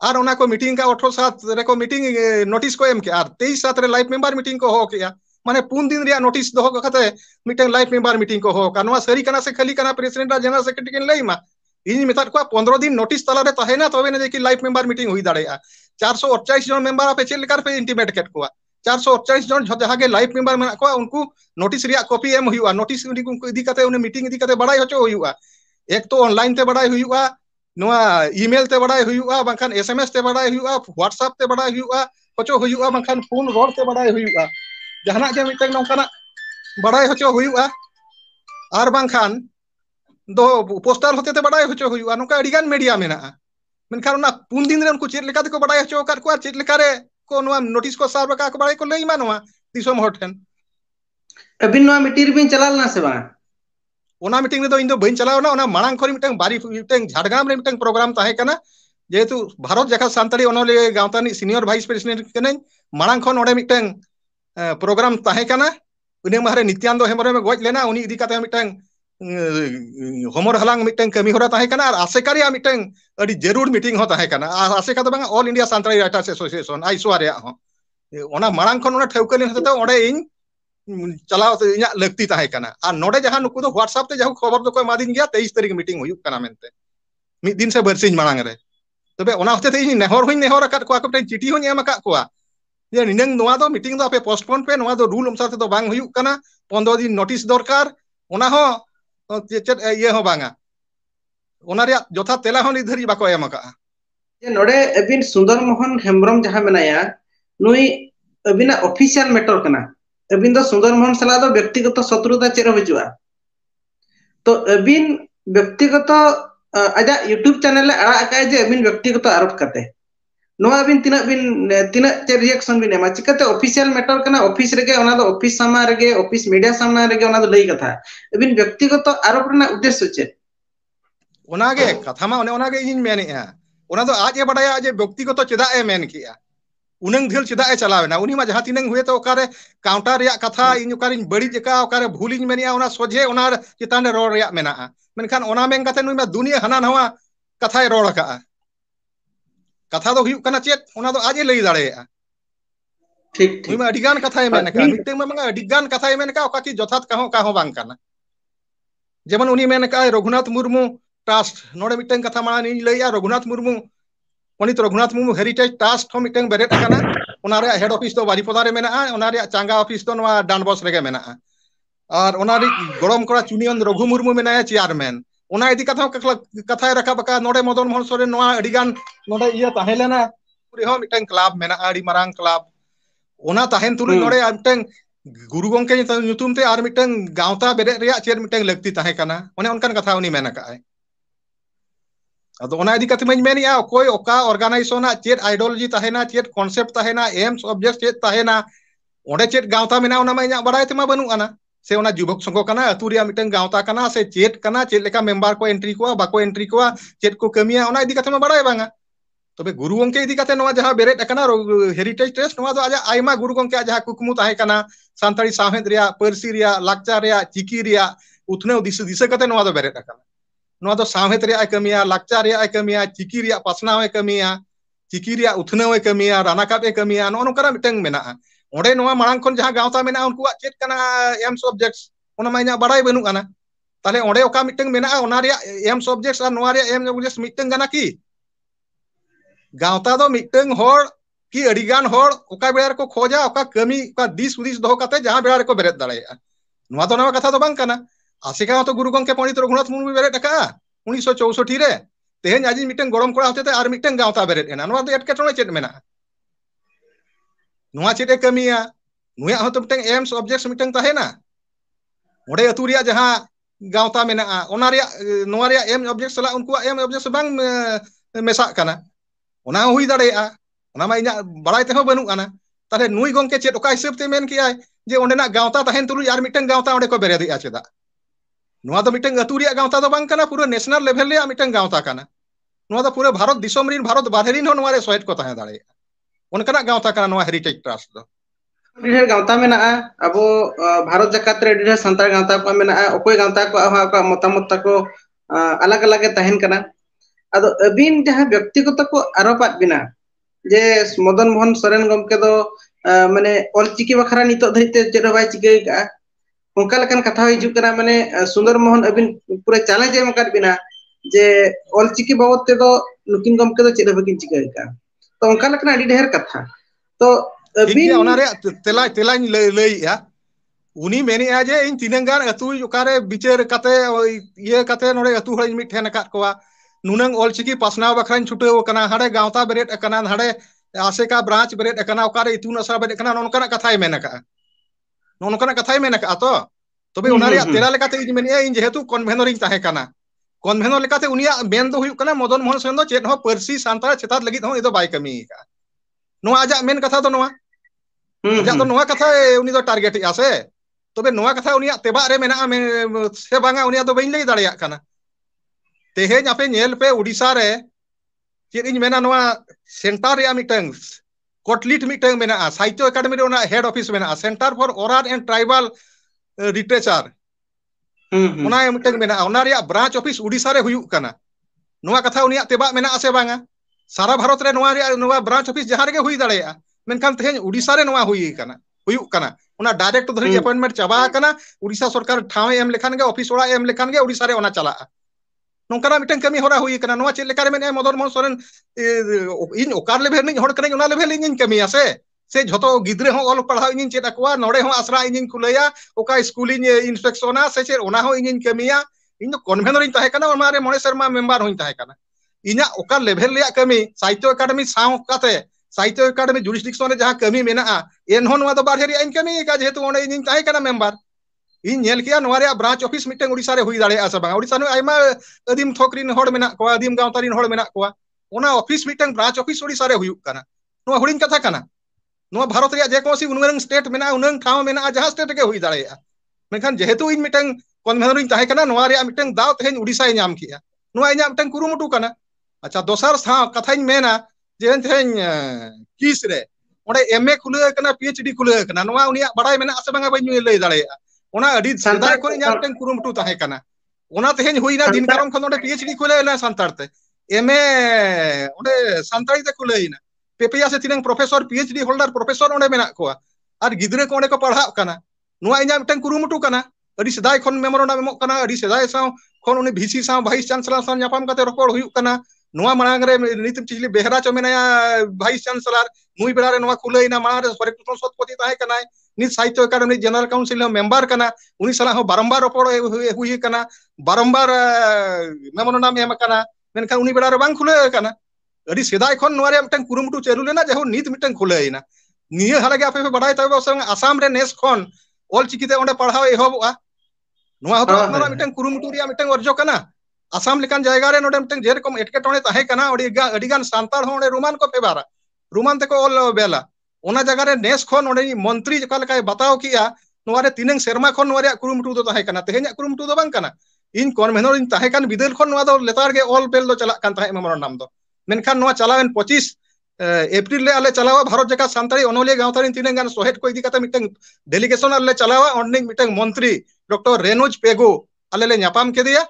ᱟᱨ ᱚᱱᱟ ᱠᱚ ᱢᱤᱴᱤᱝ ᱠᱟᱜᱼᱟ ᱟᱴᱷᱨᱚ ᱥᱟᱛ ᱨᱮᱠᱚ ᱢᱤᱴᱤᱝ ᱱᱳᱴᱤᱥ ᱠᱚ ᱮᱢ ᱠᱮᱜᱼᱟ ᱟᱨ ᱛᱮᱭᱤᱥ ᱥᱟᱛ ᱨᱮ ᱞᱟᱭᱤᱵᱽ ᱢᱮᱢᱵᱟᱨ ᱢᱤᱴᱤᱝ ᱠᱚ ᱦᱚᱦᱚ ᱠᱮᱜᱼᱟ ᱢᱟᱱᱮ ᱯᱩᱱ ᱫᱤᱱ ᱨᱮᱭᱟᱜ ᱱᱳᱴᱤᱥ ᱫᱚᱦᱚ ᱠᱟᱛᱮ ᱢᱤᱫᱴᱮᱱ ᱞᱟᱭᱤᱵᱽ ᱢᱮᱢᱵᱟᱨ ᱢᱤᱴᱤᱝ ᱠᱚ ᱦᱚᱦᱚ ᱠᱟᱜᱼᱟ ᱱᱚᱣᱟ ᱥᱟᱹᱨᱤ ᱠᱟᱱᱟ ᱥᱮ ᱠᱷᱟᱹᱞᱤ ᱠᱟᱱᱟ ᱯᱨᱮᱥᱤᱰᱮᱱᱴ ᱟᱨ ᱡᱮᱱᱟᱨᱮᱞ ᱥᱮᱠᱨᱮᱴᱟᱨᱤ ᱠᱤᱱ ᱞᱟᱹᱭ ᱢᱟ ᱤᱧ ᱢᱮᱛᱟᱫ ᱠᱚᱣᱟ ᱯᱚᱱᱨᱚ ᱫᱤᱱ ᱱᱳᱴᱤᱥ ᱛᱟᱞᱟᱨᱮ ᱛᱟᱦᱮᱱᱟ ᱛᱚᱵᱮ ᱱᱟ ᱡᱮᱠᱤ ᱞᱟᱭᱤᱵᱽ ᱢᱮᱢᱵᱟᱨ ᱢᱤᱴᱤᱝ ᱦᱩᱭ ᱫᱟᱲᱮᱭᱟᱜᱼᱟ ᱪᱟᱨᱥᱚ ᱚᱴᱪᱟᱞᱤᱥ ᱡᱚᱱ ᱢᱮᱢᱵᱟᱨ ᱟᱯᱮ ᱪᱮᱫ ᱞᱮᱠᱟ ᱨᱮᱯᱮ ᱤᱱᱴᱤᱢᱮᱴ ᱠᱮᱫ ᱠᱚᱣᱟ ᱪᱟᱨᱥᱚ ᱚᱴᱪᱟᱞᱤᱥ ᱡᱚᱱ ᱡᱟᱦᱟᱸ ᱜᱮ ᱞᱟᱭᱤᱵᱽ ᱢᱮᱢᱵᱟᱨ ᱢᱮᱱᱟᱜ ᱠᱚᱣᱟ ᱩᱱᱠᱩ ᱱᱳᱴᱤᱥ ᱨᱮᱭᱟᱜ ᱠᱚᱯᱤ ᱮᱢ ᱦᱩᱭᱩᱜᱼᱟ ᱱᱳᱴᱤᱥ ᱩᱱᱠᱩ ᱤᱫᱤ ᱠᱟᱛᱮ ᱩᱱᱤ ᱢᱤᱴᱤᱝ ᱤᱫᱤ ᱠᱟᱛᱮ ᱵᱟᱲᱟᱭ ᱦᱚᱪᱚ ᱦᱩᱭᱩᱜᱼᱟ ᱮᱠ ᱛᱚ ᱚᱱᱞᱟᱭᱤᱱ ᱛᱮ ᱵᱟᱲᱟᱭ ᱦᱩᱭᱩᱜᱼᱟ ᱱᱚᱣᱟ ᱤᱢᱮᱞ ᱛᱮ ᱵᱟᱲᱟᱭ ᱦᱩᱭᱩᱜᱼᱟ ᱵᱟᱝᱠᱷᱟᱱ ᱮᱥ ᱮᱢ ᱮᱥ ᱛᱮ ᱵᱟᱲᱟᱭ ᱦᱩᱭᱩᱜᱼᱟ ᱦᱳᱣᱟᱴᱥᱮᱯ ᱛᱮ ᱵᱟᱲᱟᱭ ᱦᱩᱭᱩᱜᱼᱟ ᱦᱚᱪᱚ ᱦᱩᱭᱩᱜᱼᱟ ᱵᱟᱝᱠᱷᱟᱱ ᱯᱷᱩᱱ ᱨᱚᱲ ᱛᱮ ᱵᱟᱲᱟᱭ ᱦᱩᱭᱩᱜᱼᱟ ᱡᱟᱦᱟᱱᱟᱜ ᱜᱮ ᱢᱤᱫᱴᱮᱱ ᱱᱚᱝᱠᱟᱱᱟᱜ ᱵᱟᱲᱟᱭ ᱦᱚᱪᱚ ᱦᱩᱭᱩᱜᱼᱟ ᱟᱨ ᱵᱟᱝᱠᱷᱟᱱ ᱫᱚ ᱯᱳᱥᱴᱟᱞ ᱦᱚᱛᱮᱛᱮ ᱵᱟᱲᱟᱭ ᱦᱚᱪᱚ ᱦᱩᱭᱩᱜᱼᱟ ᱱᱚᱝᱠᱟ ᱟᱹᱰᱤ ᱜᱟᱱ ᱢᱤᱰᱤᱭᱟ ᱢᱮᱱᱟᱜᱼᱟ ᱢᱮᱱᱠᱷᱟᱱ ᱚᱱᱟ ᱯᱩᱱ ᱫᱤᱱ ᱨᱮ ᱩᱱᱠᱩ ᱪᱮᱫ ᱞᱮᱠᱟ ᱛᱮᱠᱚ ᱵᱟᱲᱟᱭ ᱦᱚᱪᱚ ᱟᱠᱟᱫ ᱠᱚᱣᱟ ᱪᱮᱫ ᱞᱮᱠᱟᱨᱮ ᱠᱚ ᱱᱚᱣᱟ ᱱᱳᱴᱤᱥ ᱠᱚ ᱥᱟᱨᱵ ᱟᱠᱟᱫ ᱠᱚ ᱵᱟᱲᱟᱭᱠᱚ ᱞᱟᱹᱭ ᱢᱟ ᱱᱚᱣᱟ ᱫᱤᱥᱚᱢ ᱦᱚᱲ ᱴᱷᱮᱱ ᱟᱹᱵᱤᱱ ᱱᱚᱣᱟ ᱢᱤᱴᱤᱝ ᱨᱮᱵᱤᱱ ᱪᱟᱞᱟᱣ ᱞᱮᱱᱟ ᱥᱮ ᱵᱟᱝ ᱚᱱᱟ ᱢᱤᱴᱤᱝ ᱨᱮᱫᱚ ᱤᱧ ᱫᱚ ᱵᱟᱹᱧ ᱪᱟᱞᱟᱣ ᱞᱮᱱᱟ ᱚᱱᱟ ᱢᱟᱲᱟᱝ ᱠᱷᱚᱱ ᱢᱤᱫᱴᱟᱝ ᱵᱟᱨᱤ ᱢᱤᱫᱴᱟᱝ ᱡᱷᱟᱲᱜᱨᱟᱢ ᱨᱮ ᱢᱤᱫᱴᱟᱝ ᱯᱨᱳᱜᱨᱟᱢ ᱛᱟᱦᱮᱸ ᱠᱟᱱᱟ ᱡᱮᱦᱮᱛᱩ ᱵᱷᱟᱨᱚᱛ ᱡᱟᱠᱟᱛ ᱥᱟᱱᱛᱟᱲᱤ ᱚᱱᱚᱞᱤᱭᱟᱹ ᱜᱟᱶᱛᱟ ᱨᱤᱱᱤᱡ ᱥᱤᱱᱤᱭᱚᱨ ᱵᱷᱟᱭᱤᱥ ᱯᱨᱮᱥᱤᱰᱮᱱᱴ ᱠᱟᱹᱱᱟᱹᱧ ᱢᱟᱲᱟᱝ ᱠᱷᱚᱱ ᱚᱸᱰᱮ ᱢᱤᱫᱴᱟᱝ ᱯᱨᱳᱜᱨᱟᱢ ᱛᱟᱦᱮᱸ ᱠᱟᱱᱟ ᱤᱱᱟᱹ ᱢᱟᱦᱟ ᱨᱮ ᱱᱤᱛᱭᱟᱱᱫᱚ ᱦᱮᱢᱵᱨᱚᱢ ᱮ ᱜᱚᱡ ᱞᱮᱱᱟ ᱩᱱᱤ ᱤᱫᱤ ᱠᱟᱛᱮ ᱢᱤᱫᱴᱟᱝ ᱦᱚᱢᱚᱨ ᱦᱟᱞᱟᱝ ᱢᱤᱫᱴᱟᱝ ᱠᱟᱹᱢᱤ ᱦᱚᱨᱟ ᱛᱟᱦᱮᱸ ᱠᱟᱱᱟ ᱟᱨ ᱟᱥᱮᱠᱟ ᱨᱮᱭᱟᱜ ᱢᱤᱫᱴᱟᱝ ᱟᱹᱰᱤ ᱡᱟᱹᱨᱩᱲ ᱢᱤᱴᱤᱝ ᱦᱚᱸ ᱛᱟᱦᱮᱸ ᱠᱟᱱᱟ ᱟᱨ ᱟᱥᱮᱠᱟ ᱫᱚ ᱵᱟᱝ all India Santali writers association ᱟᱭᱤᱥᱳᱣᱟ ᱨᱮᱭᱟᱜ ᱦᱚᱸ ᱚᱱᱟ ᱢᱟᱲᱟᱝ ᱠᱷᱚᱱ ᱚᱱᱟ ᱴᱷᱟᱹᱣᱠᱟᱹ ᱞᱮᱱ ᱦᱚᱛᱮᱡ ᱛᱮ ᱚᱸᱰᱮ ᱤᱧ ᱪᱟᱞᱟᱣ ᱛᱮ ᱤᱧᱟᱹᱜ ᱞᱟᱹᱠᱛᱤ ᱛᱟᱦᱮᱸ ᱠᱟᱱᱟ ᱟᱨ ᱱᱚᱰᱮ ᱡᱟᱦᱟᱸ ᱱᱩᱠᱩ ᱫᱚ ᱦᱳᱣᱟᱴᱥᱮᱯ ᱛᱮ ᱡᱟᱦᱟᱸ ᱠᱷᱚᱵᱚᱨ ᱫᱚᱠᱚ ᱮᱢᱟᱫᱤᱧ ᱜᱮᱭᱟ ᱛᱮᱭᱤᱥ ᱛᱟᱹᱨᱤᱠᱷ ᱢᱤᱴᱤᱝ ᱦᱩᱭᱩᱜ ᱠᱟᱱᱟ ᱢᱮᱱᱛᱮ ᱢᱤᱫ ᱫᱤᱱ ᱥᱮ ᱵᱟᱨᱥᱤᱧ ᱢᱟᱲᱟᱝ ᱨᱮ ᱛᱚᱵᱮ ᱚᱱᱟ ᱦᱚᱛᱮ ᱛᱮ ᱤᱧ ᱱᱮᱦᱚᱨ ᱦᱚᱧ ᱱᱮᱦᱚᱨ ᱟᱠᱟᱫ ᱠᱚᱣᱟ ᱟᱠᱚ ᱴᱷᱮᱱ ᱪᱤᱴᱷᱤ ᱦᱚᱧ ᱮᱢ ᱟᱠᱟᱫ ᱠᱚᱣᱟ ᱡᱮ ᱱᱤᱱᱟᱹᱝ ᱱᱚᱣᱟ ᱫᱚ ᱢᱤᱴᱤᱝ ᱫᱚ ᱟᱯᱮ ᱯᱳᱥᱴᱯᱳᱱ ᱯᱮ ᱱᱚᱣᱟ ᱫᱚ ᱨᱩᱞ ᱚᱱᱩᱥᱟᱨ ᱛᱮᱫᱚ ᱵᱟᱝ ᱦᱩᱭᱩᱜ ᱠᱟᱱᱟ ᱯᱚᱱᱨᱚ ᱫᱤᱱ ᱱᱳᱴᱤᱥ ᱫᱚᱨᱠᱟᱨ ᱚᱱᱟ ᱦᱚᱸ ᱪᱮᱫ ᱤᱭᱟᱹ ᱦᱚᱸ ᱵᱟᱝᱟ ᱚᱱᱟ ᱨᱮᱭᱟᱜ ᱡᱚᱛᱷᱟᱛ ᱛᱮᱞᱟ ᱦᱚᱸ ᱱᱤᱛ ᱫᱷᱟᱹᱨᱤᱡ ᱵᱟᱠᱚ ᱮᱢ ᱟᱠᱟᱜᱼᱟ ᱡᱮ ᱱᱚᱸᱰᱮ ᱟᱹᱵᱤᱱ ᱥᱩᱱᱫᱚᱨ ᱢᱳᱦᱚᱱ ᱦᱮᱢᱵᱨᱚᱢ ᱡᱟᱦᱟᱸ ᱢᱮᱱᱟᱭᱟ ᱱᱩᱭ ᱟᱹᱵᱤᱱᱟᱜ ᱚᱯᱷᱤᱥᱤᱭᱟᱞ ᱢᱮᱴᱚᱨ ᱠᱟᱱᱟ ᱟᱹᱵᱤᱱ ᱫᱚ ᱥᱩᱱᱫᱚᱨ ᱢᱳᱦᱚᱱ ᱥᱟᱞᱟᱜ ᱫᱚ ᱵᱮᱠᱛᱤᱜᱚᱛᱚ ᱥᱚᱛᱨᱩᱛᱟ ᱪᱮᱫ ᱦᱚᱸ ᱵᱟᱹᱪᱩᱜᱼᱟ ᱛᱚ ᱟᱹᱵᱤᱱ ᱵᱮᱠᱛᱤᱜᱚᱛᱚ ᱟᱡᱟᱜ ᱤᱭᱩᱴᱩᱵᱽ ᱪᱮᱱᱮᱞ ᱮ ᱟᱲᱟᱜ ᱟᱠᱟᱫᱼᱟ ᱡᱮ ᱟᱹᱵᱤᱱ ᱵᱮᱠᱛᱤᱜᱚᱛᱚ ᱟᱨᱳᱯ ᱠᱟᱛᱮ ᱱᱚᱣᱟ ᱟᱹᱵᱤᱱ ᱛᱤᱱᱟᱹᱜ ᱵᱤᱱ ᱛᱤᱱᱟᱹᱜ ᱪᱮᱫ ᱨᱤᱭᱮᱠᱥᱚᱱ ᱵᱤᱱ ᱮᱢᱟ ᱪᱤᱠᱟᱹᱛᱮ ᱚᱯᱷᱤᱥᱤᱭᱟᱞ ᱢᱮᱴᱟᱨ ᱠᱟᱱᱟ ᱚᱯᱷᱤᱥ ᱨᱮᱜᱮ ᱚᱱᱟ ᱫᱚ ᱚᱯᱷᱤᱥ ᱥᱟᱢᱟᱝ ᱨᱮᱜᱮ ᱚᱯᱷᱤᱥ ᱢᱤᱰᱤᱭᱟ ᱥᱟᱢᱟᱝ ᱨᱮᱜᱮ ᱚᱱᱟ ᱫᱚ ᱞᱟᱹᱭ ᱠᱟᱛᱷᱟ ᱟᱹᱵᱤᱱ ᱵᱮᱠᱛᱤᱜᱚᱛᱚ ᱟᱨᱳᱯ ᱨᱮᱱᱟᱜ ᱩᱫᱽᱫᱮᱥᱥᱚ ᱪᱮᱫ ᱚᱱᱟᱜᱮ ᱠᱟᱛᱷᱟ ᱢᱟ ᱚᱱᱮ ᱚᱱᱟᱜᱮ ᱤᱧᱤᱧ ᱢᱮᱱᱮᱫᱼᱟ ᱚᱱᱟ ᱫᱚ ᱟᱡ ᱮ ᱵᱟᱰᱟᱭᱟ ᱡᱮ ᱵᱮᱠᱛᱤᱜᱚᱛᱚ ᱪᱮᱫᱟᱜ ᱮ ᱢᱮᱱ ᱠᱮᱜᱼᱟ ᱩᱱᱟᱹᱝ ᱡᱷᱟᱹᱞ ᱪᱮᱫᱟᱜ ᱮ ᱪᱟᱞᱟᱣ ᱮᱱᱟ ᱩᱱᱤ ᱢᱟ ᱡᱟᱦᱟᱸ ᱛᱤᱱᱟᱹᱜ ᱦᱩᱭᱩᱜ ᱚᱠᱟᱨᱮ ᱠᱟᱣᱴᱟ ᱨᱮᱭᱟᱜ ᱠᱟᱛᱷᱟ ᱤᱧ ᱚᱠᱟᱨᱤᱧ ᱵᱟᱹᱲᱤᱡ ᱟᱠᱟᱫᱼᱟ ᱚᱠᱟᱨᱮ ᱵᱷᱩᱞᱤᱧ ᱢᱮᱱᱮᱜᱼᱟ ᱚᱱᱟ ᱥᱚᱡᱷᱮ ᱚᱱᱟ ᱪᱮᱛᱟᱱ ᱨᱮ ᱨᱚᱲ ᱨᱮᱭᱟᱜ ᱢᱮᱱᱟᱜᱼᱟ ᱢᱮᱱᱠᱷᱟᱱ ᱚᱱᱟ ᱢᱮᱱ ᱠᱟᱛᱮ ᱱᱩᱭ ᱢᱟ ᱫᱩᱱᱤᱭᱟᱹ ᱦᱟᱱᱟ ᱱᱟᱣᱟ ᱠᱟᱛᱷᱟᱭ ᱨᱚᱲ ᱟᱠᱟᱜᱼᱟ ᱠᱟᱛᱷᱟ ᱫᱚ ᱦᱩᱭᱩᱜ ᱠᱟᱱᱟ ᱪᱮᱫ ᱚᱱᱟ ᱫᱚ ᱟᱡ ᱮ ᱞᱟᱹᱭ ᱫᱟᱲᱮᱭᱟᱜᱼᱟ ᱴᱷᱤᱠ ᱱᱩᱭ ᱴᱷᱤᱠ ᱢᱟ ᱟᱹᱰᱤ ᱜᱟᱱ ᱠᱟᱛᱷᱟᱭ ᱢᱮᱱ ᱟᱨ ᱠᱟᱜᱼᱟ ᱤᱧ ᱢᱤᱫᱴᱟᱝ ᱢᱟ ᱵᱟᱝᱟ ᱟᱹᱰᱤ ᱜᱟᱱ ᱠᱟᱛᱷᱟᱭ ᱢᱮᱱ ᱠᱟᱜᱼᱟ ᱚᱠᱟ ᱠᱤ ᱡᱚᱛᱷᱟᱛ ᱠᱟᱛᱷᱟ ᱦᱚᱸ ᱚᱠᱟ ᱦᱚᱸ ᱵᱟᱝ ᱠᱟᱱᱟ ᱡᱮᱢᱚᱱ ᱩᱱᱤ ᱢᱮᱱ ᱠᱟᱜᱼᱟᱭ ᱨᱚᱜᱷᱩᱱᱟᱛᱷ ᱢᱩᱨᱢᱩ ᱴᱨᱟᱥᱴ ᱱᱚᱰᱮ ᱢᱤᱫᱴᱟᱝ ᱠᱟᱛᱷᱟ ᱢᱟᱲᱟᱝ ᱞᱤᱧ ᱞᱟᱹᱭᱮᱜᱼᱟ ᱨᱚᱜᱷᱩᱱᱟᱛᱷ ᱢᱩᱨᱢᱩ ᱯᱚᱱᱰᱤᱛ ᱨᱚᱜᱷᱩᱱᱟᱛᱷ ᱢᱩᱨᱢᱩ ᱦᱮᱨᱤᱴᱮᱡᱽ ᱴᱨᱟᱥᱴ ᱦᱚᱸ ᱢᱤᱫᱴᱟᱝ ᱵᱮᱨᱮᱫ ᱟᱠᱟᱱᱟ ᱚᱱᱟ ᱨᱮᱭᱟᱜ ᱦᱮᱰ ᱚᱯᱷᱤᱥ ᱫᱚ ᱵᱟᱨᱤᱯᱟᱫᱟ ᱨᱮ ᱢᱮᱱᱟᱜᱼᱟ ᱚᱱᱟ ᱨᱮᱭᱟᱜ ᱪᱟᱸᱜᱟ ᱚᱯᱷᱤᱥ ᱫᱚ ᱱᱚᱣᱟ ᱰᱟᱱᱰᱵᱚᱥ ᱨᱮᱜᱮ ᱢᱮᱱᱟᱜᱼᱟ ᱟᱨ ᱚᱱᱟ ᱨᱤᱡ ᱜᱚᱲᱚᱢ ᱠᱚᱲᱟ ᱪᱩᱱᱭᱚᱱ ᱨᱚᱜᱷᱩ ᱢᱩᱨᱢᱩ ᱢᱮᱱᱟᱭᱟ ᱪᱮᱭᱟᱨᱢᱮᱱ ᱚᱱᱟ ᱤᱫᱤ ᱠᱟᱛᱮ ᱦᱚᱸ ᱠᱟᱛᱷᱟᱭ ᱨᱟᱠᱟᱵ ᱟᱠᱟᱫᱼᱟ ᱱᱚᱰᱮ ᱢᱚᱫᱚᱱ ᱢᱳᱦᱚᱱ ᱥᱚᱨᱮᱱ ᱱᱚᱣᱟ ᱟᱹᱰᱤ ᱜᱟᱱ ᱱᱚᱰᱮ ᱤᱭᱟᱹ ᱛᱟᱦᱮᱸ ᱞᱮᱱᱟ ᱨᱮᱦᱚᱸ ᱢᱤᱫᱴᱟᱝ ᱠᱞᱟᱵᱽ ᱢᱮᱱᱟᱜᱼᱟ ᱟᱹᱰᱤ ᱢᱟᱨᱟᱝ ᱠᱞᱟᱵᱽ ᱚᱱᱟ ᱛᱟᱦᱮᱱ ᱛᱩᱞᱩᱡ ᱦᱩᱸ ᱱᱚᱰᱮ ᱟᱨ ᱢᱤᱫᱴᱟᱝ ᱜᱩᱨᱩ ᱜᱚᱝᱠᱮ ᱧᱩᱛᱩᱢ ᱛᱮ ᱟᱨ ᱢᱤᱫᱴᱟᱝ ᱜᱟᱶᱛᱟ ᱵᱮᱨᱮᱫ ᱨᱮᱭᱟᱜ ᱪᱮᱫ ᱢᱤᱫᱴᱟᱝ ᱞᱟᱹᱠᱛᱤ ᱛᱟᱦᱮᱸ ᱠᱟᱱᱟ ᱚᱱᱮ ᱚᱱᱠᱟᱱ ᱠᱟᱛᱷᱟ ᱩᱱᱤ ᱢᱮᱱ ᱟᱠᱟᱫ ᱟᱭ ᱟᱫᱚ ᱚᱱᱟ ᱤᱫᱤ ᱠᱟᱛᱮ ᱢᱟᱹᱧ ᱢᱮᱱᱮᱫᱼᱟ ᱚᱠᱚᱭ ᱚᱠᱟ ᱚᱨᱜᱟᱱᱟᱭᱡᱮᱥᱚᱱ ᱟᱜ ᱪᱮᱫ ᱟᱭᱰᱳᱞᱚᱡᱤ ᱛᱟᱦᱮᱱᱟ ᱪᱮᱫ ᱠᱚᱱᱥᱮᱯᱴ ᱛᱟᱦᱮᱱᱟ ᱮᱢᱥ ᱚᱵᱡᱮᱠᱴ ᱪᱮᱫ ᱛᱟᱦᱮᱱᱟ ᱚᱸᱰᱮ ᱪᱮᱫ ᱜᱟᱶᱛᱟ ᱢᱮᱱᱟᱜᱼᱟ ᱚᱱᱟ ᱢᱟ ᱤᱧᱟᱹᱜ ᱵᱟᱲᱟᱭ ᱛᱮᱢᱟ ᱵᱟᱹᱱᱩᱜ ᱟᱱᱟ ᱥᱮ ᱚᱱᱟ ᱡᱩᱵᱚᱠ ᱥᱚᱝᱜᱷᱚ ᱠᱟᱱᱟ ᱟᱹᱛᱩ ᱨᱮᱭᱟᱜ ᱢᱤᱫᱴᱟᱝ ᱜᱟᱶᱛᱟ ᱠᱟᱱᱟ ᱥᱮ ᱪᱮᱫ ᱠᱟᱱᱟ ᱪᱮᱫ ᱞᱮᱠᱟ ᱢᱮᱢᱵᱟᱨ ᱠᱚ ᱮᱱᱴᱨᱤ ᱠᱚᱣᱟ ᱵᱟᱠᱚ ᱮᱱᱴᱨᱤ ᱠᱚᱣᱟ ᱪᱮᱫ ᱠᱚ ᱠᱟᱹᱢᱤᱭᱟ ᱚᱱᱟ ᱤᱫᱤ ᱠᱟᱛᱮᱫ ᱢᱟ ᱵᱟᱲᱟᱭ ᱵᱟᱝᱟ ᱛᱚᱵᱮ ᱜᱩᱨᱩ ᱜᱚᱝᱠᱮ ᱤᱫᱤ ᱠᱟᱛᱮ ᱱᱚᱣᱟ ᱡᱟᱦᱟᱸ ᱵᱮᱨᱮᱫ ᱟᱠᱟᱱᱟ ᱦᱮᱨᱤᱴᱮᱡᱽ ᱴᱨᱮᱥᱴ ᱱᱚᱣᱟ ᱫᱚ ᱟᱡᱟᱜ ᱟᱭᱢᱟ ᱜᱩᱨᱩ ᱜᱚᱝᱠᱮ ᱡᱟᱦᱟᱸ ᱠᱩᱠᱢᱩ ᱛᱟᱦᱮᱸ ᱠᱟᱱᱟ ᱥᱟᱱᱛᱟᱲᱤ ᱥᱟᱶᱦᱮᱫ ᱨᱮᱭᱟᱜ ᱯᱟᱹᱨᱥᱤ ᱨᱮᱭᱟᱜ ᱞᱟᱠᱪᱟᱨ ᱨᱮᱭᱟᱜ ᱪᱤᱠᱤ ᱨᱮᱭᱟᱜ ᱩᱛᱷᱱᱟᱹᱣ ᱫᱤᱥᱟᱹ ᱫᱤᱥᱟᱹ ᱠᱟᱛᱮ ᱱᱚᱣᱟ ᱫᱚ ᱵᱮᱨᱮᱫ ᱟᱠᱟᱱᱟ ᱱᱚᱣᱟ ᱫᱚ ᱥᱟᱶᱦᱮᱫ ᱨᱮᱭᱟᱜ ᱮ ᱠᱟᱹᱢᱤᱭᱟ ᱞᱟᱠᱪᱟᱨ ᱨᱮᱭᱟᱜ ᱮ ᱠᱟᱹᱢᱤᱭᱟ ᱪᱤᱠᱤ ᱨᱮᱭᱟᱜ ᱯᱟᱥᱱᱟᱣ ᱮ ᱠᱟᱹᱢᱤᱭᱟ ᱪᱤᱠᱤ ᱨᱮᱭᱟᱜ ᱩᱛᱷᱱᱟᱹᱣ ᱮ ᱠᱟᱹᱢᱤᱭᱟ ᱨᱟᱱᱟᱠᱟᱵ ᱮ ᱠᱟᱹᱢᱤᱭᱟ ᱱᱚᱜᱼᱚ ᱱᱚᱝᱠᱟᱱᱟᱜ ᱢᱤᱫᱴᱟᱝ ᱢᱮᱱᱟᱜᱼᱟ ᱚᱸᱰᱮ ᱱᱚᱣᱟ ᱢᱟᱲᱟᱝ ᱠᱷᱚᱱ ᱡᱟᱦᱟᱸ ᱜᱟᱶᱛᱟ ᱢᱮᱱᱟᱜᱼᱟ ᱩᱱᱠᱩᱣᱟᱜ ᱪᱮᱫ ᱠᱟᱱᱟ ᱮᱢᱥ ᱚᱵᱡᱮᱠᱴᱥ ᱚᱱᱟ ᱢᱟ ᱤᱧᱟᱹᱜ ᱵᱟᱲᱟᱭ ᱵᱟᱹᱱᱩᱜ ᱟᱱᱟ ᱛᱟᱦᱚᱞᱮ ᱚᱸᱰᱮ ᱚᱠᱟ ᱢᱤᱫᱴᱟᱝ ᱢᱮᱱᱟᱜᱼᱟ ᱚᱱᱟ ᱨᱮᱭᱟᱜ ᱮᱢᱥ ᱚᱵᱡᱮᱠᱴᱥ ᱟᱨ ᱱᱚᱣᱟ ᱨᱮᱭᱟᱜ ᱮᱢᱥ ᱚᱵᱡᱮᱠᱴᱥ ᱢᱤᱫᱴᱟᱝ ᱠᱟᱱᱟ ᱠᱤ ᱜᱟᱶᱛᱟ ᱫᱚ ᱢᱤᱫᱴᱟᱝ ᱦᱚᱲ ᱠᱤ ᱟᱹᱰᱤᱜᱟᱱ ᱦᱚᱲ ᱚᱠᱟ ᱵᱮᱲᱟ ᱨᱮᱠᱚ ᱠᱷᱚᱡᱟ ᱚᱠᱟ ᱠᱟᱹᱢᱤ ᱚᱠᱟ ᱫᱤᱥ ᱦᱩᱫᱤᱥ ᱫᱚᱦᱚ ᱠᱟᱛᱮ ᱡᱟᱦᱟᱸ ᱵᱮᱲᱟ ᱨᱮᱠᱚ ᱵᱮᱨᱮᱫ ᱫᱟᱲᱮᱭᱟᱜᱼᱟ ᱱᱚᱣᱟ ᱫᱚ ᱱᱟᱣᱟ ᱠᱟᱛᱷᱟ ᱫᱚ ᱵᱟᱝ ᱠᱟᱱᱟ ᱟᱥᱮᱠᱟ ᱦᱚᱸᱛᱚ ᱜᱩᱨᱩ ᱜᱚᱝᱠᱮ ᱯᱚᱱᱰᱤᱛ ᱨᱚᱜᱷᱩᱱᱟᱛᱷ ᱢᱩᱨᱢᱩᱭ ᱵᱮᱨᱮᱫ ᱟᱠᱟᱜᱼᱟ ᱩᱱᱤᱥᱥᱚ ᱪᱳᱣᱥᱚᱴᱤ ᱨᱮ ᱛᱮᱦᱮᱧ ᱟᱡᱤᱡ ᱢᱤᱫᱴᱟᱝ ᱜᱚᱲᱚᱢ ᱠᱚᱲᱟ ᱦᱚᱛᱮᱛᱮ ᱟᱨ ᱢᱤᱫᱴᱟᱝ ᱜᱟᱶᱛᱟ ᱵᱮᱨᱮᱫ ᱮᱱᱟ ᱱᱚᱣᱟ ᱫᱚ ᱮᱴᱠᱮᱴᱚᱬᱮ ᱪᱮᱫ ᱢᱮᱱᱟᱜᱼᱟ ᱱᱚᱣᱟ ᱪᱮᱫ ᱮ ᱠᱟᱹᱢᱤᱭᱟ ᱱᱩᱭᱟᱜ ᱦᱚᱸᱛᱚ ᱢᱤᱫᱴᱟᱝ ᱮᱢᱥ ᱚᱵᱡᱮᱠᱥ ᱢᱤᱫᱴᱟᱝ ᱛᱟᱦᱮᱱᱟ ᱚᱸᱰᱮ ᱟᱹᱛᱩ ᱨᱮᱭᱟᱜ ᱡᱟᱦᱟᱸ ᱜᱟᱶᱛᱟ ᱢᱮᱱᱟᱜᱼᱟ ᱚᱱᱟ ᱨᱮᱭᱟᱜ ᱱᱚᱣᱟ ᱨᱮᱭᱟᱜ ᱮᱢ ᱚᱵᱡᱮᱠᱴ ᱥᱟᱞᱟᱜ ᱩᱱᱠᱩᱣᱟᱜ ᱮᱢ ᱚᱵᱡᱮᱠᱴ ᱵᱟᱝ ᱢᱮᱥᱟᱜ ᱠᱟᱱᱟ ᱚᱱᱟ ᱦᱚᱸ ᱦᱩᱭ ᱫᱟᱲᱮᱭᱟᱜᱼᱟ ᱚᱱᱟ ᱢᱟ ᱤᱧᱟᱹᱜ ᱵᱟᱲᱟᱭ ᱛᱮᱦᱚᱸ ᱵᱟᱹᱱᱩᱜ ᱟᱱᱟ ᱛᱟᱦᱚᱞᱮ ᱱᱩᱭ ᱜᱚᱝᱠᱮ ᱪᱮᱫ ᱚᱠᱟ ᱦᱤᱥᱟᱹᱵ ᱛᱮ ᱢᱮᱱ ᱠᱮᱜᱟᱭ ᱡᱮ ᱚᱸᱰᱮᱱᱟᱜ ᱜᱟᱶᱛᱟ ᱛᱟᱦᱮᱱ ᱛᱩᱞᱩᱡ ᱟᱨ ᱢᱤᱫᱴᱟᱝ ᱜᱟᱶᱛᱟ ᱚᱸᱰᱮ ᱠᱚ ᱵᱮᱨᱮᱫᱮᱜᱼᱟ ᱪᱮᱫᱟᱜ ᱱᱚᱣᱟ ᱫᱚ ᱢᱤᱫᱴᱟᱝ ᱟᱹᱛᱩ ᱨᱮᱭᱟᱜ ᱜᱟᱶᱛᱟ ᱫᱚ ᱵᱟᱝ ᱠᱟᱱᱟ ᱯᱩᱨᱟᱹ ᱱᱮᱥᱱᱟᱞ ᱞᱮᱵᱷᱮᱞ ᱨᱮᱭᱟᱜ ᱢᱤᱫᱴᱟᱝ ᱜᱟᱶᱛᱟ ᱠᱟᱱᱟ ᱱᱚᱣᱟ ᱫᱚ ᱯᱩᱨᱟᱹ ᱵᱷᱟᱨᱚᱛ ᱫᱤᱥᱚᱢ ᱨᱮᱱ ᱵᱷᱟᱨᱚᱛ ᱵᱟᱨᱦᱮ ᱨᱮᱱ ᱦᱚᱸ ᱱᱚᱣᱟ ᱨᱮ ᱥᱚᱦᱮᱫ ᱠᱚ ᱛᱟᱦᱮᱸ ᱫᱟᱲᱮᱭᱟᱜᱼᱟ ᱚᱱᱠᱟᱱᱟᱜ ᱜᱟᱶᱛᱟ ᱠᱟᱱᱟ ᱱᱚᱣᱟ ᱦᱮᱨᱤᱴᱮᱡᱽ ᱴᱨᱟᱥᱴ ᱫᱚ ᱟᱹᱰᱤ ᱰᱷᱮᱨ ᱜᱟᱶᱛᱟ ᱢᱮᱱᱟᱜᱼᱟ ᱟᱵᱚ ᱵᱷᱟᱨᱚᱛ ᱡᱟᱠᱟᱛ ᱨᱮ ᱟᱹᱰᱤ ᱰᱷᱮᱨ ᱥᱟᱱᱛᱟᱲ ᱜᱟᱶᱛᱟ ᱠᱚ ᱢᱮᱱᱟᱜᱼᱟ ᱚᱠᱚᱭ ᱜᱟᱶᱛᱟ ᱠᱚᱣᱟᱜ ᱦᱚᱸ ᱟᱠᱚᱣᱟᱜ ᱢᱚᱛᱟᱢᱚᱛ ᱛᱟᱠᱚ ᱟᱞᱟᱜᱽ ᱟᱞᱟᱜᱽ ᱜᱮ ᱛᱟᱦᱮᱱ ᱠᱟᱱᱟ ᱟᱫᱚ ᱟᱹᱵᱤᱱ ᱡᱟᱦᱟᱸ ᱵᱮᱠᱛᱤᱜᱚᱛᱚ ᱠᱚ ᱟᱨᱚᱵᱟᱫ ᱵᱤᱱᱟ ᱡᱮ ᱢᱚᱫᱚᱱ ᱢᱳᱦᱚᱱ ᱥᱚᱨᱮᱱ ᱜᱚᱢᱠᱮ ᱫᱚ ᱢᱟᱱᱮ ᱚᱞ ᱪᱤᱠᱤ ᱵᱟᱠᱷᱨᱟ ᱱᱤᱛᱚᱜ ᱫᱷᱟᱹᱨᱤᱡ ᱛᱮ ᱪᱮᱫ ᱦᱚᱸ ᱵᱟᱭ ᱪᱤᱠᱟᱹ ᱟᱠᱟᱜᱼᱟ ᱚᱱᱠᱟ ᱞᱮᱠᱟᱱ ᱠᱟᱛᱷᱟ ᱦᱚᱸ ᱦᱤᱡᱩᱜ ᱠᱟᱱᱟ ᱢᱟᱱᱮ ᱥᱩᱸᱫᱚᱨ ᱢᱚᱦᱚᱱ ᱟᱹᱵᱤᱱ ᱯᱩᱨᱟᱹ ᱪᱮᱞᱮᱧᱡᱽ ᱮ ᱮᱢ ᱟᱠᱟᱫ ᱵᱤᱱᱟ ᱡᱮ ᱚᱞ ᱪᱤᱠᱤ ᱵᱟᱵᱚᱛ ᱛᱮᱫᱚ ᱱᱩᱠᱤᱱ ᱜᱚᱢᱠᱮ ᱫᱚ ᱪᱮᱫ ᱦᱚᱸ ᱵᱟᱹᱠᱤᱱ ᱪᱤᱠᱟᱹ ᱟᱠᱟᱜᱼᱟ ᱛᱚ ᱚᱱᱠᱟ ᱞᱮᱠᱟᱱᱟᱜ ᱟᱹᱰᱤ ᱰᱷᱮᱨ ᱠᱟᱛᱷᱟ ᱛᱚ ᱴᱷᱤᱠ ᱟᱹᱵᱤᱱ ᱜᱮᱭᱟ ᱚᱱᱟ ᱨᱮᱭᱟᱜ ᱛᱮᱞᱟ ᱛᱮᱞᱟᱧ ᱞᱟᱹᱭ ᱞᱟᱹᱭᱮᱜᱼᱟ ᱩᱱᱤ ᱢᱮᱱᱮᱫᱼᱟ ᱡᱮ ᱤᱧ ᱛᱤᱱᱟᱹᱜ ᱜᱟᱱ ᱟᱹᱛᱩ ᱚᱠᱟᱨᱮ ᱵᱤᱪᱟᱹᱨ ᱠᱟᱛᱮ ᱤᱭᱟᱹ ᱠᱟᱛᱮ ᱱᱚᱰᱮ ᱟᱹᱛᱩ ᱦᱚᱲᱤᱧ ᱢᱤᱫ ᱴᱷᱮᱱ ᱟᱠᱟᱫ ᱠᱚᱣᱟ ᱱᱩᱱᱟᱹᱝ ᱚᱞᱪᱤᱠᱤ ᱯᱟᱥᱱᱟᱣ ᱵᱟᱠᱷᱨᱟᱧ ᱪᱷᱩᱴᱟᱹᱣ ᱟᱠᱟᱱᱟ ᱦᱟᱸᱰᱮ ᱜᱟᱶᱛᱟ ᱵᱮᱨᱮᱫ ᱟᱠᱟᱱᱟ ᱦᱟᱸᱰᱮ ᱟᱥᱮᱠᱟ ᱵᱨᱟᱧᱪ ᱵᱮᱨᱮᱫ ᱟᱠᱟᱱᱟ ᱚᱠᱟᱨᱮ ᱤᱛᱩᱱ ᱟᱥᱲᱟ ᱵᱮᱨᱮᱫ ᱟᱠᱟᱱᱟ ᱱᱚᱜᱼᱚ ᱱᱚᱝᱠᱟᱱᱟᱜ ᱠᱟᱛᱷᱟᱭ ᱢᱮᱱ ᱟᱠᱟᱜᱼᱟ ᱱᱚᱜᱼᱚ ᱱᱚᱝᱠᱟᱱᱟᱜ ᱠᱟᱛᱷᱟᱭ ᱢᱮᱱ ᱟᱠᱟᱜᱼᱟ ᱛᱚ ᱛᱚᱵᱮ ᱦᱩᱸ ᱚᱱᱟ ᱦᱩᱸ ᱨᱮᱭᱟᱜ ᱦᱩᱸ ᱛᱮᱞᱟ ᱞᱮᱠᱟᱛᱮ ᱤᱧ ᱢᱮᱱᱮᱫᱼᱟ ᱤᱧ ᱡᱮᱦᱮᱛᱩ ᱠᱚᱱᱵᱷᱮᱱᱚᱨ ᱨᱤᱧ ᱛᱟᱦᱮᱸ ᱠᱟᱱᱟ ᱠᱚᱱᱵᱷᱮᱱᱚᱨ ᱞᱮᱠᱟᱛᱮ ᱩᱱᱤᱭᱟᱜ ᱢᱮᱱ ᱫᱚ ᱦᱩᱭᱩᱜ ᱠᱟᱱᱟ ᱢᱚᱫᱚᱱ ᱢᱳᱦᱚᱱ ᱥᱚᱨᱮᱱ ᱫᱚ ᱪᱮᱫ ᱦᱚᱸ ᱯᱟᱹᱨᱥᱤ ᱥᱟᱱᱛᱟᱲ ᱪᱮᱛᱟᱱ ᱞᱟᱹᱜᱤᱫ ᱦᱚᱸ ᱩᱱᱤ ᱫᱚ ᱵᱟᱭ ᱠᱟᱹᱢᱤ ᱟᱠᱟᱫᱼᱟ ᱱᱚᱣᱟ ᱟᱡᱟᱜ ᱢᱮᱱ ᱠᱟᱛᱷᱟ ᱫᱚ ᱱᱚᱣᱟ ᱦᱩᱸ ᱟᱡᱟᱜ ᱫᱚ ᱦᱩᱸ ᱱᱚᱣᱟ ᱠᱟᱛᱷᱟᱭ ᱩᱱᱤ ᱫᱚ ᱴᱟᱨᱜᱮᱴ ᱮᱜᱼᱟ ᱥᱮ ᱛᱚᱵᱮ ᱱᱚᱣᱟ ᱠᱟᱛᱷᱟ ᱩᱱᱤᱭᱟᱜ ᱛᱮᱵᱟᱜ ᱨᱮ ᱢᱮᱱᱟᱜᱼᱟ ᱥᱮ ᱵᱟᱝᱟ ᱩᱱᱤᱭᱟᱜ ᱫᱚ ᱵᱟᱹᱧ ᱞᱟᱹᱭ ᱫᱟᱲᱮᱭᱟᱜ ᱠᱟᱱᱟ ᱛᱮᱦᱮᱧ ᱟᱯᱮ ᱧᱮᱞ ᱯᱮ ᱩᱰᱤᱥᱥᱟ ᱨᱮ ᱪᱮᱫ ᱤᱧ ᱢᱮᱱᱟ ᱱᱚᱣᱟ ᱥᱮᱱᱴᱟᱨ ᱨᱮᱭᱟᱜ ᱢᱤᱫᱴᱟᱝ ᱠᱚᱴᱞᱤᱴ ᱢᱤᱫᱴᱟᱝ ᱢᱮᱱᱟᱜᱼᱟ ᱥᱟᱦᱤᱛᱛᱚ ᱮᱠᱟᱰᱮᱢᱤ ᱨᱮ ᱚᱱᱟ ᱦᱮᱰ ᱚᱯᱷᱤᱥ ᱢᱮᱱᱟᱜᱼᱟ centre for oral and tribal literature ᱦᱩᱸ ᱦᱩᱸ ᱚᱱᱟ ᱢᱤᱫᱴᱟᱝ ᱢᱮᱱᱟᱜᱼᱟ ᱚᱱᱟ ᱨᱮᱭᱟᱜ ᱵᱨᱟᱱᱪ ᱚᱯᱷᱤᱥ ᱩᱰᱤᱥᱟ ᱨᱮ ᱦᱩᱭᱩᱜ ᱠᱟᱱᱟ ᱱᱚᱣᱟ ᱠᱟᱛᱷᱟ ᱩᱱᱤᱭᱟᱜ ᱛᱮᱵᱟᱜ ᱢᱮᱱᱟᱜ ᱟᱥᱮ ᱵᱟᱝᱟ ᱥᱟᱨᱟ ᱵᱷᱟᱨᱚᱛ ᱨᱮ ᱱᱚᱣᱟ ᱨᱮᱭᱟᱜ ᱱᱚᱣᱟ ᱵᱨᱟᱱᱪ ᱚᱯᱷᱤᱥ ᱡᱟᱦᱟᱸ ᱨᱮᱜᱮ ᱦᱩᱭ ᱫᱟᱲᱮᱭᱟᱜᱼᱟ ᱢᱮᱱᱠᱷᱟᱱ ᱛᱮᱦᱮᱧ ᱩᱰᱤᱥᱟ ᱨᱮ ᱱᱚᱣᱟ ᱦᱩᱭ ᱠᱟᱱᱟ ᱦᱩᱭᱩᱜ ᱠᱟᱱᱟ ᱚᱱᱟ ᱰᱟᱭᱨᱮᱠᱴ ᱫᱷᱟᱹᱨᱤᱡ ᱦᱩᱸ ᱮᱯᱚᱭᱮᱱᱴᱢᱮᱱᱴ ᱪᱟᱵᱟ ᱟᱠᱟᱱᱟ ᱩᱰᱤᱥᱟ ᱥᱚᱨᱠᱟᱨ ᱴᱷᱟᱶ ᱮ ᱮᱢ ᱞᱮᱠᱷᱟᱱ ᱜᱮ ᱚᱯᱷᱤᱥ ᱚᱲᱟᱜ ᱮ ᱮᱢ ᱞᱮᱠᱷᱟᱱ ᱜᱮ ᱩᱰᱤᱥᱟ ᱨᱮ ᱚᱱᱟ ᱪᱟᱞᱟᱜᱼᱟ ᱱᱚᱝᱠᱟᱱᱟᱜ ᱢᱤᱫᱴᱟᱝ ᱠᱟᱹᱢᱤ ᱦᱚᱨᱟ ᱦᱩᱭ ᱠᱟᱱᱟ ᱱᱚᱣᱟ ᱪᱮᱫ ᱞᱮᱠᱟᱨᱮ ᱢᱮᱱᱮᱜᱼᱟ ᱢᱚᱫᱚᱱ ᱢᱳᱦᱚᱱ ᱥᱚᱨᱮᱱ ᱤᱧ ᱚᱠᱟ ᱞᱮᱵᱷᱮᱞ ᱨᱤᱱᱤᱡ ᱦᱚᱲ ᱠᱟᱹᱱᱟᱹᱧ ᱚᱱᱟ ᱞᱮᱵᱷᱮᱞ ᱤᱧᱤᱧ ᱠᱟᱹᱢᱤᱭᱟ ᱥᱮ ᱥᱮ ᱡᱷᱚᱛᱚ ᱜᱤᱫᱽᱨᱟᱹ ᱦᱚᱸ ᱚᱞ ᱯᱟᱲᱦᱟᱣ ᱤᱧᱤᱧ ᱪᱮᱫ ᱟᱠᱚᱣᱟ ᱱᱚᱸᱰᱮ ᱦᱚᱸ ᱟᱥᱲᱟ ᱤᱧᱤᱧ ᱠᱷᱩᱞᱟᱹᱭᱟ ᱚᱠᱟ ᱤᱥᱠᱩᱞᱤᱧ ᱤᱱᱯᱮᱠᱥᱚᱱᱟ ᱥᱮ ᱪᱮᱫ ᱚᱱᱟ ᱦᱚᱸ ᱤᱧᱤᱧ ᱠᱟᱹᱢᱤᱭᱟ ᱤᱧ ᱫᱚ ᱠᱚᱱᱵᱷᱮᱱᱚᱨ ᱤᱧ ᱛᱟᱦᱮᱸ ᱠᱟᱱᱟ ᱚᱱᱟᱨᱮ ᱢᱚᱬᱮ ᱥᱮᱨᱢᱟ ᱢᱮᱢᱵᱟᱨ ᱦᱚᱸᱧ ᱛᱟᱦᱮᱸ ᱠᱟᱱᱟ ᱤᱧᱟᱹᱜ ᱚᱠᱟ ᱞᱮᱵᱷᱮᱞ ᱨᱮᱭᱟᱜ ᱠᱟᱹᱢᱤ ᱥᱟᱦᱤᱛᱛᱚ ᱮᱠᱟᱰᱮᱢᱤ ᱥᱟᱶ ᱠᱟᱛᱮ ᱥᱟᱦᱤᱛᱛᱚ ᱮᱠᱟᱰᱮᱢᱤ ᱡᱩᱨᱤᱥ ᱰᱤᱠᱥᱚᱱ ᱨᱮ ᱡᱟᱦᱟᱸ ᱠᱟᱹᱢᱤ ᱢᱮᱱᱟᱜᱼᱟ ᱮᱱᱦᱚᱸ ᱱᱚᱣᱟ ᱫᱚ ᱵᱟᱨᱦᱮ ᱨᱮᱭᱟᱜ ᱤᱧ ᱠᱟᱹᱢᱤᱭ ᱠᱟᱜᱼᱟ ᱡᱮᱦᱮᱛᱩ ᱚᱸᱰᱮ ᱤᱧᱤᱧ ᱛᱟᱦᱮᱸ ᱠᱟᱱᱟ ᱢᱮᱢᱵᱟᱨ ᱤᱧ ᱧᱮᱞ ᱠᱮᱜᱼᱟ ᱱᱚᱣᱟ ᱨᱮᱭᱟᱜ ᱵᱨᱟᱸᱪ ᱚᱯᱷᱤᱥ ᱢᱤᱫᱴᱟᱝ ᱩᱲᱤᱥᱥᱟ ᱨᱮ ᱦᱩᱭ ᱫᱟᱲᱮᱭᱟᱜᱼᱟ ᱥᱮ ᱵᱟᱝ ᱩᱲᱤᱥᱥᱟ ᱨᱮ ᱟᱭᱢᱟ ᱟᱹᱫᱤᱢ ᱛᱷᱚᱠ ᱨᱮᱱ ᱦᱚᱲ ᱢᱮᱱᱟᱜ ᱠᱚᱣᱟ ᱟᱹᱫᱤᱢ ᱜᱟᱶᱛᱟ ᱨᱮᱱ ᱦᱚᱲ ᱢᱮᱱᱟᱜ ᱠᱚᱣᱟ ᱚᱱᱟ ᱚᱯᱷᱤᱥ ᱢᱤᱫᱴᱟᱝ ᱵᱨᱟᱸᱪ ᱚᱯᱷᱤᱥ ᱩᱲᱤᱥᱥᱟ ᱨᱮ ᱦᱩᱭᱩᱜ ᱠᱟᱱᱟ ᱱᱚᱣᱟ ᱦᱩᱰᱤᱧ ᱠᱟᱛᱷᱟ ᱠᱟᱱᱟ ᱱᱚᱣᱟ ᱵᱷᱟᱨᱚᱛ ᱨᱮᱭᱟᱜ ᱡᱮᱠᱚᱱᱳ ᱩᱱᱟᱹᱝ ᱥᱴᱮᱴ ᱢᱮᱱᱟᱜᱼᱟ ᱩᱱᱟᱹᱝ ᱴᱷᱟᱶ ᱢᱮᱱᱟᱜᱼᱟ ᱡᱟᱦᱟᱸ ᱥᱴᱮᱴ ᱨᱮᱜᱮ ᱦᱩᱭ ᱫᱟᱲᱮᱭᱟᱜᱼᱟ ᱢᱮᱱᱠᱷᱟᱱ ᱡᱮᱦᱮᱛᱩ ᱤᱧ ᱢᱤᱫᱴᱟᱝ ᱠᱚᱱᱵᱷᱮᱱᱚᱨ ᱨᱤᱧ ᱛᱟᱦᱮᱸ ᱠᱟᱱᱟ ᱱᱚᱣᱟ ᱨᱮᱭᱟᱜ ᱢᱤᱫᱴᱟᱝ ᱫᱟᱣ ᱛᱮᱦᱮᱧ ᱩᱲᱤᱥᱥᱟᱭ ᱧᱟᱢ ᱠᱮᱜᱼᱟ ᱱᱚᱣᱟ ᱤᱧᱟᱹᱜ ᱢᱤᱫᱴᱟᱝ ᱠᱩᱨᱩᱢᱩᱴᱩ ᱠᱟᱱᱟ ᱟᱪᱪᱷᱟ ᱫᱚᱥᱟᱨ ᱥᱟᱶ ᱠᱟᱛᱷᱟᱧ ᱢᱮᱱᱟ ᱡᱮᱱ ᱛᱮᱦᱮᱧ ᱠᱤᱥ ᱨᱮ ᱚᱸᱰᱮ ᱮᱢ ᱮ ᱠᱷᱩᱞᱟᱹᱣ ᱟᱠᱟᱱᱟ ᱯᱤ ᱮᱭᱤᱪ ᱰᱤ ᱠᱷᱩᱞᱟᱹᱣ ᱟᱠᱟᱱᱟ ᱱᱚᱣᱟ ᱩᱱᱤᱭᱟᱜ ᱵᱟᱲᱟᱭ ᱢᱮᱱᱟᱜᱼᱟ ᱥᱮ ᱵᱟᱝᱟ ᱵᱟᱹᱧ ᱞᱟᱹᱭ ᱫᱟᱲᱮᱭᱟᱜᱼᱟ ᱚᱱᱟ ᱟᱹᱰᱤ ᱥᱮᱫᱟᱭ ᱠᱷᱚᱱ ᱤᱧᱟᱹᱜ ᱢᱤᱫᱴᱮᱱ ᱠᱩᱨᱩᱢᱩᱴᱩ ᱛᱟᱦᱮᱸ ᱠᱟᱱᱟ ᱚᱱᱟ ᱛᱮᱦᱮᱧ ᱦᱩᱭᱱᱟ ᱫᱤᱱ ᱠᱟᱨᱚᱱ ᱠᱷᱚᱱ ᱚᱸᱰᱮ ᱯᱤ ᱮᱭᱤᱪ ᱰᱤ ᱠᱷᱩᱞᱟᱹᱣ ᱮᱱᱟ ᱥᱟᱱᱛᱟᱲ ᱛᱮ ᱮᱢ ᱮ ᱚᱸᱰᱮ ᱥᱟᱱᱛᱟᱲᱤ ᱛᱮ ᱠᱷᱩᱞᱟᱹᱣ ᱮᱱᱟ ᱯᱮ ᱯᱮᱭᱟ ᱥᱮ ᱛᱤᱱᱟᱹᱝ professor P H D holder professor ᱚᱸᱰᱮ ᱢᱮᱱᱟᱜ ᱠᱚᱣᱟ ᱟᱨ ᱜᱤᱫᱽᱨᱟᱹ ᱠᱚ ᱚᱸᱰᱮ ᱠᱚ ᱯᱟᱲᱦᱟᱜ ᱠᱟᱱᱟ ᱱᱚᱣᱟ ᱤᱧᱟᱹᱜ ᱢᱤᱫᱴᱟᱝ ᱠᱩᱨᱩᱢᱩᱴᱩ ᱠᱟᱱᱟ ᱟᱹᱰᱤ ᱥᱮᱫᱟᱭ ᱠᱷᱚᱱ ᱢᱮᱢᱳᱨᱮᱱᱰᱟᱢ ᱮᱢᱚᱜ ᱠᱟᱱᱟ ᱟᱹᱰᱤ ᱥᱮᱫᱟᱭ ᱥᱟᱶ ᱠᱷᱚᱱ ᱩᱱᱤ ᱵᱷᱤᱥᱤ ᱥᱟᱶ ᱵᱷᱟᱭᱤᱥ ᱪᱟᱱᱥᱮᱞᱟᱨ ᱥᱟᱶ ᱧᱟᱯᱟᱢ ᱠᱟᱛᱮ ᱨᱚᱯᱚᱲ ᱦᱩᱭᱩᱜ ᱠᱟᱱᱟ ᱱᱚᱣᱟ ᱢᱟᱲᱟᱝ ᱨᱮ ᱱᱤᱛ ᱪᱤᱞᱤ ᱵᱮᱦᱨᱟ ᱪᱚ ᱢᱮᱱᱟᱭᱟ ᱵᱷᱟᱭᱤᱥ ᱪᱟᱱᱥᱮᱞᱟᱨ ᱱᱩᱭ ᱵᱮᱲᱟ ᱨᱮ ᱱᱚᱣᱟ ᱠᱷᱩᱞᱟᱹᱭᱱᱟ ᱢᱟᱲᱟᱝ ᱨᱮ ᱥᱚᱨᱮᱱ ᱠᱨᱤᱥᱱᱚ ᱥᱚᱛᱯᱚᱛᱤ ᱛᱟᱦᱮᱸ ᱠᱟᱱᱟᱭ ᱱᱤᱛ ᱥᱟᱦᱤᱛᱛᱚ ᱮᱠᱟᱰᱮᱢᱤ ᱡᱮᱱᱟᱨᱮᱞ ᱠᱟᱣᱩᱱᱥᱤᱞ ᱦᱚᱸ ᱢᱮᱢᱵᱟᱨ ᱠᱟᱱᱟ ᱩᱱᱤ ᱥᱟᱞᱟᱜ ᱦᱚᱸ ᱵᱟᱨᱚᱢᱵᱟᱨ ᱨᱚᱯᱚᱲ ᱦᱩᱭ ᱟᱠᱟᱱᱟ ᱵᱟᱨᱚᱢᱵᱟᱨ ᱢᱮᱢᱳᱨᱮᱱᱰᱟᱢ ᱮᱢ ᱟᱠᱟᱱᱟ ᱢᱮᱱᱠᱷᱟᱱ ᱩᱱᱤ ᱵᱮᱲᱟ ᱨᱮ ᱵᱟᱝ ᱠᱷᱩᱞᱟᱹᱣ ᱟᱠᱟᱱᱟ ᱟᱹᱰᱤ ᱥᱮᱫᱟᱭ ᱠᱷᱚᱱ ᱱᱚᱣᱟ ᱨᱮᱭᱟᱜ ᱢᱤᱫᱴᱟᱝ ᱠᱩᱨᱩᱢᱩᱴᱩ ᱪᱟᱹᱞᱩ ᱞᱮᱱᱟ ᱡᱟᱦᱳ ᱱᱤᱛ ᱢᱤᱫᱴᱟᱝ ᱠᱷᱩᱞᱟᱹᱭᱮᱱᱟ ᱱᱤᱭᱟᱹ ᱦᱟᱞᱮ ᱜᱮ ᱟᱯᱮ ᱯᱮ ᱵᱟᱲᱟᱭ ᱛᱟᱵᱚ ᱥᱮ ᱟᱥᱟᱢ ᱨᱮ ᱱᱮᱥ ᱠᱷᱚᱱ ᱚᱞ ᱪᱤᱠᱤ ᱛᱮ ᱚᱸᱰᱮ ᱯᱟᱲᱦᱟᱣ ᱮᱦᱚᱵᱚᱜᱼᱟ ᱱᱚᱣᱟ ᱦᱚᱸᱛᱚ ᱦᱳᱭ ᱦᱳᱭ ᱟᱯᱱᱟᱨᱟᱜ ᱢᱤᱫᱴᱟᱝ ᱠᱩᱨᱩᱢᱩᱴᱩ ᱨᱮᱭᱟᱜ ᱢᱤᱫᱴᱟᱝ ᱚᱨᱡᱚ ᱠᱟᱱᱟ ᱟᱥᱟᱢ ᱞᱮᱠᱟᱱ ᱡᱟᱭᱜᱟ ᱨᱮ ᱱᱚᱰᱮ ᱢᱤᱫᱴᱟᱝ ᱡᱮᱨᱚᱠᱚᱢ ᱮᱴᱠᱮᱴᱚᱬᱮ ᱛᱟᱦᱮᱸ ᱠᱟᱱᱟ ᱚᱸᱰᱮ ᱟᱹᱰᱤ ᱜᱟᱱ ᱥᱟᱱᱛᱟᱲ ᱦᱚᱸ ᱚᱸᱰᱮ ᱨᱳᱢᱟᱱ ᱠᱚ ᱵᱮᱵᱷᱟᱨᱟ ᱨᱳᱢᱟᱱ ᱛᱮᱠᱚ ᱚᱞ ᱵᱮᱞᱟ ᱚᱱᱟ ᱡᱟᱭᱜᱟ ᱨᱮ ᱱᱮᱥ ᱠᱷᱚᱱ ᱚᱸᱰᱮ ᱢᱚᱱᱛᱨᱤ ᱚᱠᱟ ᱞᱮᱠᱟᱭ ᱵᱟᱛᱟᱣ ᱠᱮᱜᱼᱟ ᱱᱚᱣᱟ ᱨᱮ ᱛᱤᱱᱟᱹᱝ ᱥᱮᱨᱢᱟ ᱠᱷᱚᱱ ᱱᱚᱣᱟ ᱨᱮᱭᱟᱜ ᱠᱩᱨᱩᱢᱩᱴᱩ ᱫᱚ ᱛᱟᱦᱮᱸ ᱠᱟᱱᱟ ᱛᱮᱦᱮᱧᱟᱜ ᱠᱩᱨᱩᱢᱩᱴᱩ ᱫᱚ ᱵᱟᱝ ᱠᱟᱱᱟ ᱤᱧ ᱠᱚᱱᱵᱷᱮᱱᱚᱨ ᱤᱧ ᱛᱟᱦᱮᱸ ᱠᱟᱱ ᱵᱤᱫᱟᱹᱞ ᱠᱷᱚᱱ ᱱᱚᱣᱟ ᱫᱚ ᱞᱮᱛᱟᱲ ᱜᱮ ᱚᱞ ᱵᱮᱞ ᱫᱚ ᱪᱟᱞᱟᱜ ᱠᱟᱱ ᱛᱟᱦᱮᱸᱫ ᱢᱮᱢᱚᱨᱚᱱᱰᱟᱢ ᱫᱚ ᱢᱮᱱᱠᱷᱟᱱ ᱱᱚᱣᱟ ᱪᱟᱞᱟᱣᱮᱱ ᱯᱚᱸᱪᱤᱥ ᱮᱯᱨᱤᱞ ᱨᱮ ᱟᱞᱮ ᱪᱟᱞᱟᱣᱟ ᱵᱷᱟᱨᱚᱛ ᱡᱟᱠᱟᱛ ᱥᱟᱱᱛᱟᱲᱤ ᱚᱱᱚᱞᱤᱭᱟᱹ ᱜᱟᱶᱛᱟ ᱨᱮᱱ ᱛᱤᱱᱟᱹᱝ ᱜᱟᱱ ᱥᱚᱦᱮᱫ ᱠᱚ ᱤᱫᱤ ᱠᱟᱛᱮ ᱢᱤᱫᱴᱟᱝ ᱰᱮᱞᱤᱜᱮᱥᱚᱱ ᱟᱞᱮ ᱪᱟᱞᱟᱣᱟ ᱚᱸᱰᱮᱱᱤᱡ ᱢᱤᱫᱴᱟᱝ ᱢᱚᱱᱛᱨᱤ ᱰᱚᱠᱴᱚᱨ ᱨᱮᱱᱩᱡᱽ ᱯᱮᱜᱩ ᱟᱞᱮ ᱞᱮ ᱧᱟᱯᱟᱢ ᱠᱮᱫᱮᱭᱟ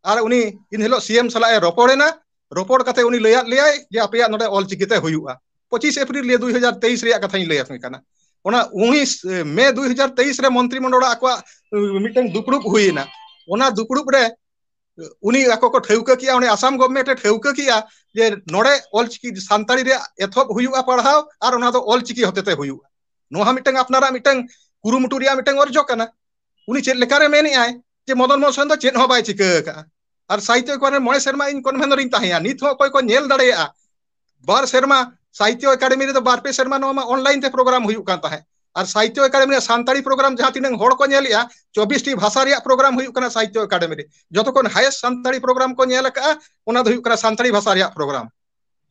ᱟᱨ ᱩᱱᱤ ᱤᱱ ᱦᱤᱞᱳᱜ ᱥᱤ ᱮᱢ ᱥᱟᱞᱟᱜ ᱮ ᱨᱚᱯᱚᱲ ᱮᱱᱟ ᱨᱚᱯᱚᱲ ᱠᱟᱛᱮ ᱩᱱᱤ ᱞᱟᱹᱭᱟᱫ ᱞᱮᱭᱟᱭ ᱡᱮ ᱟᱯᱮᱭᱟᱜ ᱱᱚᱰᱮ ᱚᱞ ᱪᱤᱠᱤᱛᱮ ᱦᱩᱭᱩᱜᱼᱟ ᱯᱚᱸᱪᱤᱥ ᱮᱯᱨᱤᱞ ᱱᱤᱭᱟᱹ ᱫᱩᱭ ᱦᱟᱡᱟᱨ ᱛᱮᱭᱤᱥ ᱨᱮᱭᱟᱜ ᱠᱟᱛᱷᱟᱧ ᱞᱟᱹᱭ ᱟᱯᱮ ᱠᱟᱱᱟ ᱚᱱᱟ ᱩᱱᱤᱥ ᱢᱮ ᱫᱩᱭ ᱦᱟᱡᱟᱨ ᱛᱮᱭᱤᱥ ᱨᱮ ᱢᱚᱱᱛᱨᱤ ᱢᱚᱱᱰᱚᱞ ᱟᱠᱚᱣᱟᱜ ᱢᱤᱫᱴᱮᱱ ᱫᱩᱯᱲᱩᱵ ᱦᱩᱭᱱᱟ ᱚᱱᱟ ᱫᱩᱯᱲᱩᱵ ᱨᱮ ᱩᱱᱤ ᱟᱠᱚ ᱠᱚ ᱴᱷᱟᱹᱣᱠᱟᱹ ᱠᱮᱜᱼᱟ ᱩᱱᱤ ᱟᱥᱟᱢ ᱜᱚᱵᱷᱢᱮᱱᱴ ᱮ ᱴᱷᱟᱹᱣᱠᱟᱹ ᱠᱮᱜᱼᱟ ᱡᱮ ᱱᱚᱰᱮ ᱚᱞ ᱪᱤᱠᱤ ᱥᱟᱱᱛᱟᱲᱤ ᱨᱮᱭᱟᱜ ᱮᱛᱚᱦᱚᱵ ᱦᱩᱭᱩᱜᱼᱟ ᱯᱟᱲᱦᱟᱣ ᱟᱨ ᱚᱱᱟ ᱫᱚ ᱚᱞ ᱪᱤᱠᱤ ᱦᱚᱛᱮᱛᱮ ᱦᱩᱭᱩᱜᱼᱟ ᱱᱚᱣᱟ ᱦᱚᱸ ᱢᱤᱫᱴᱟᱝ ᱟᱯᱱᱟᱨᱟᱜ ᱢᱤᱫᱴᱟᱝ ᱠᱩᱨᱩᱢᱩᱴᱩ ᱨᱮᱭᱟᱜ ᱢᱤᱫᱴᱟᱝ ᱚᱨᱡᱚ ᱠᱟᱱᱟ ᱩᱱᱤ ᱪᱮᱫ ᱞᱮᱠᱟᱨᱮ ᱢᱮᱱᱮᱜᱼᱟᱭ ᱡᱮ ᱢᱚᱫᱚᱱ ᱢᱳᱦᱚᱱ ᱥᱚᱨᱮᱱ ᱫᱚ ᱪᱮᱫ ᱦᱚᱸ ᱵᱟᱭ ᱪᱤᱠᱟᱹ ᱟᱠᱟᱜᱼᱟ ᱟᱨ ᱥᱟᱦᱤᱛᱚ ᱮᱠᱟᱰᱮᱢᱤ ᱢᱚᱬᱮ ᱥᱮᱨᱢᱟ ᱤᱧ ᱠᱚᱱᱵᱷᱮᱱ ᱨᱤᱧ ᱛᱟᱦᱮᱸᱭᱟ ᱱᱤᱛ ᱦᱚᱸ ᱚᱠᱚᱭ ᱠᱚ ᱧᱮᱞ ᱫᱟᱲᱮᱭᱟᱜᱼᱟ ᱵᱟᱨ ᱥᱮᱨᱢᱟ ᱥᱟᱦᱤᱛᱚ ᱮᱠᱟᱰᱮᱢᱤ ᱨᱮᱫᱚ ᱵᱟᱨ ᱯᱮ ᱥᱮᱨᱢᱟ ᱱᱚᱣᱟ ᱢᱟ ᱚᱱᱞᱟᱭᱤᱱ ᱛᱮ ᱯᱨᱳᱜᱨᱟᱢ ᱦᱩᱭᱩᱜ ᱠᱟᱱ ᱛᱟᱦᱮᱸᱫ ᱟᱨ ᱥᱟᱦᱤᱛᱚ ᱮᱠᱟᱰᱮᱢᱤ ᱨᱮᱭᱟᱜ ᱥᱟᱱᱛᱟᱲᱤ ᱯᱨᱳᱜᱨᱟᱢ ᱡᱟᱦᱟᱸ ᱛᱤᱱᱟᱹᱜ ᱦᱚᱲ ᱠᱚ ᱧᱮᱞᱮᱜᱼᱟ ᱪᱚᱵᱵᱤᱥᱴᱤ ᱵᱷᱟᱥᱟ ᱨᱮᱭᱟᱜ ᱯᱨᱳᱜᱨᱟᱢ ᱦᱩᱭᱩᱜ ᱠᱟᱱᱟ ᱥᱟᱦᱤᱛᱚ ᱮᱠᱟᱰᱮᱢᱤ ᱨᱮ ᱡᱚᱛᱚ ᱠᱷᱚᱱ ᱦᱟᱭᱮᱥᱴ ᱥᱟᱱᱛᱟᱲᱤ ᱯᱨᱳᱜᱨᱟᱢ ᱠᱚ ᱧᱮᱞ ᱟᱠᱟᱜᱼᱟ ᱚᱱᱟ ᱫᱚ ᱦᱩᱭᱩᱜ ᱠᱟᱱᱟ ᱥᱟᱱᱛᱟᱲᱤ ᱵᱷᱟᱥᱟ ᱨᱮᱭᱟᱜ ᱯᱨᱳᱜᱨᱟᱢ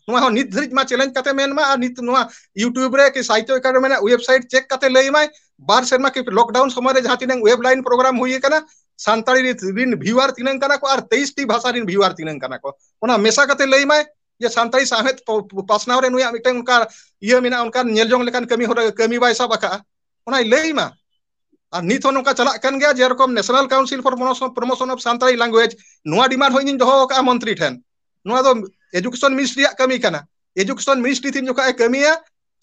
ᱱᱚᱣᱟ ᱦᱚᱸ ᱱᱤᱛ ᱫᱷᱟᱹᱨᱤᱡ ᱢᱟ ᱪᱮᱞᱮᱧᱡᱽ ᱠᱟᱛᱮ ᱢᱮᱱ ᱢᱟ ᱟᱨ ᱱᱤᱛ ᱱᱚᱣᱟ ᱤᱭᱩᱴᱩᱵᱽ ᱨᱮ ᱠᱤ ᱥᱟᱦᱤᱛᱛᱚ ᱮᱠᱟᱰᱮᱢᱤ ᱨᱮᱱᱟᱜ ᱚᱭᱮᱵᱥᱟᱭᱤᱴ ᱪᱮᱠ ᱠᱟᱛᱮ ᱞᱟᱹᱭ ᱢᱟᱭ ᱵᱟᱨ ᱥᱮᱨᱢᱟ ᱠᱤ ᱞᱚᱠᱰᱟᱣᱩᱱ ᱥᱚᱢᱚᱭ ᱨᱮ ᱡᱟᱦᱟᱸ ᱛᱤᱱᱟᱹᱝ ᱚᱭᱮᱵᱽ ᱞᱟᱭᱤᱱ ᱯᱨᱳᱜᱨᱟᱢ ᱦᱩᱭ ᱟᱠᱟᱱᱟ ᱥᱟᱱᱛᱟᱲᱤ ᱨᱤᱛ ᱨᱤᱱ ᱵᱷᱤᱭᱩᱣᱟᱨ ᱛᱤᱱᱟᱹᱝ ᱠᱟᱱᱟ ᱠᱚ ᱟᱨ ᱛᱮᱭᱤᱥ ᱴᱤ ᱵᱷᱟᱥᱟ ᱨᱤᱱ ᱵᱷᱤᱭᱩᱣᱟᱨ ᱛᱤᱱᱟᱹᱝ ᱠᱟᱱᱟ ᱠᱚ ᱚᱱᱟ ᱢᱮᱥᱟ ᱠᱟᱛᱮ ᱞᱟᱹᱭ ᱢᱟᱭ ᱡᱮ ᱥᱟᱱᱛᱟᱲᱤ ᱥᱟᱶᱦᱮᱫ ᱯᱚ ᱯᱚ ᱯᱟᱥᱱᱟᱣ ᱨᱮ ᱱᱩᱭᱟᱜ ᱢᱤᱫᱴᱟᱝ ᱚᱱᱠᱟ ᱤᱭᱟᱹ ᱢᱮᱱᱟᱜᱼᱟ ᱚᱱᱠᱟᱱ ᱧᱮᱞ ᱡᱚᱝ ᱞᱮᱠᱟᱱ ᱠᱟᱹᱢᱤ ᱦᱚᱨᱟ ᱠᱟᱹᱢᱤ ᱵᱟᱭ ᱥᱟᱵ ᱟᱠᱟᱜᱼᱟ ᱚᱱᱟᱭ ᱞᱟᱹᱭ ᱢᱟ ᱟᱨ ᱱᱤᱛ ᱦᱚᱸ ᱱᱚᱝᱠᱟ ᱪᱟᱞᱟᱜ ᱠᱟᱱ ᱜᱮᱭᱟ ᱡᱮᱨᱚᱠᱚᱢ ᱱᱮᱥᱱᱟᱞ ᱠᱟᱣᱩᱱᱥᱤᱞ ᱯᱷᱚᱨ ᱢᱚᱱᱚᱥᱚᱱ ᱯᱨᱚᱢᱚᱥᱚᱱ ᱚᱯᱷ ᱥᱟᱱᱛᱟᱲᱤ ᱞᱟᱝᱜᱩᱭᱮᱡᱽ ᱱᱚᱣᱟ ᱰᱤᱢᱟᱱᱰ ᱦᱚᱸ ᱤᱧᱤᱧ ᱫᱚᱦᱚ ᱟᱠᱟᱜᱼᱟ ᱢᱚᱱᱛᱨᱤ ᱴᱷᱮᱱ ᱱᱚᱣᱟ ᱫᱚ ᱮᱰᱩᱠᱮᱥᱚᱱ ᱢᱤᱱᱤᱥᱴᱨᱤ ᱨᱮᱭᱟᱜ ᱠᱟᱹᱢᱤ ᱠᱟᱱᱟ ᱮᱰᱩᱠᱮᱥᱚᱱ ᱢᱤᱱᱤᱥᱴᱨᱤ ᱛᱤᱱ ᱡᱚᱠᱷᱚᱱ ᱮ ᱠᱟᱹᱢᱤᱭᱟ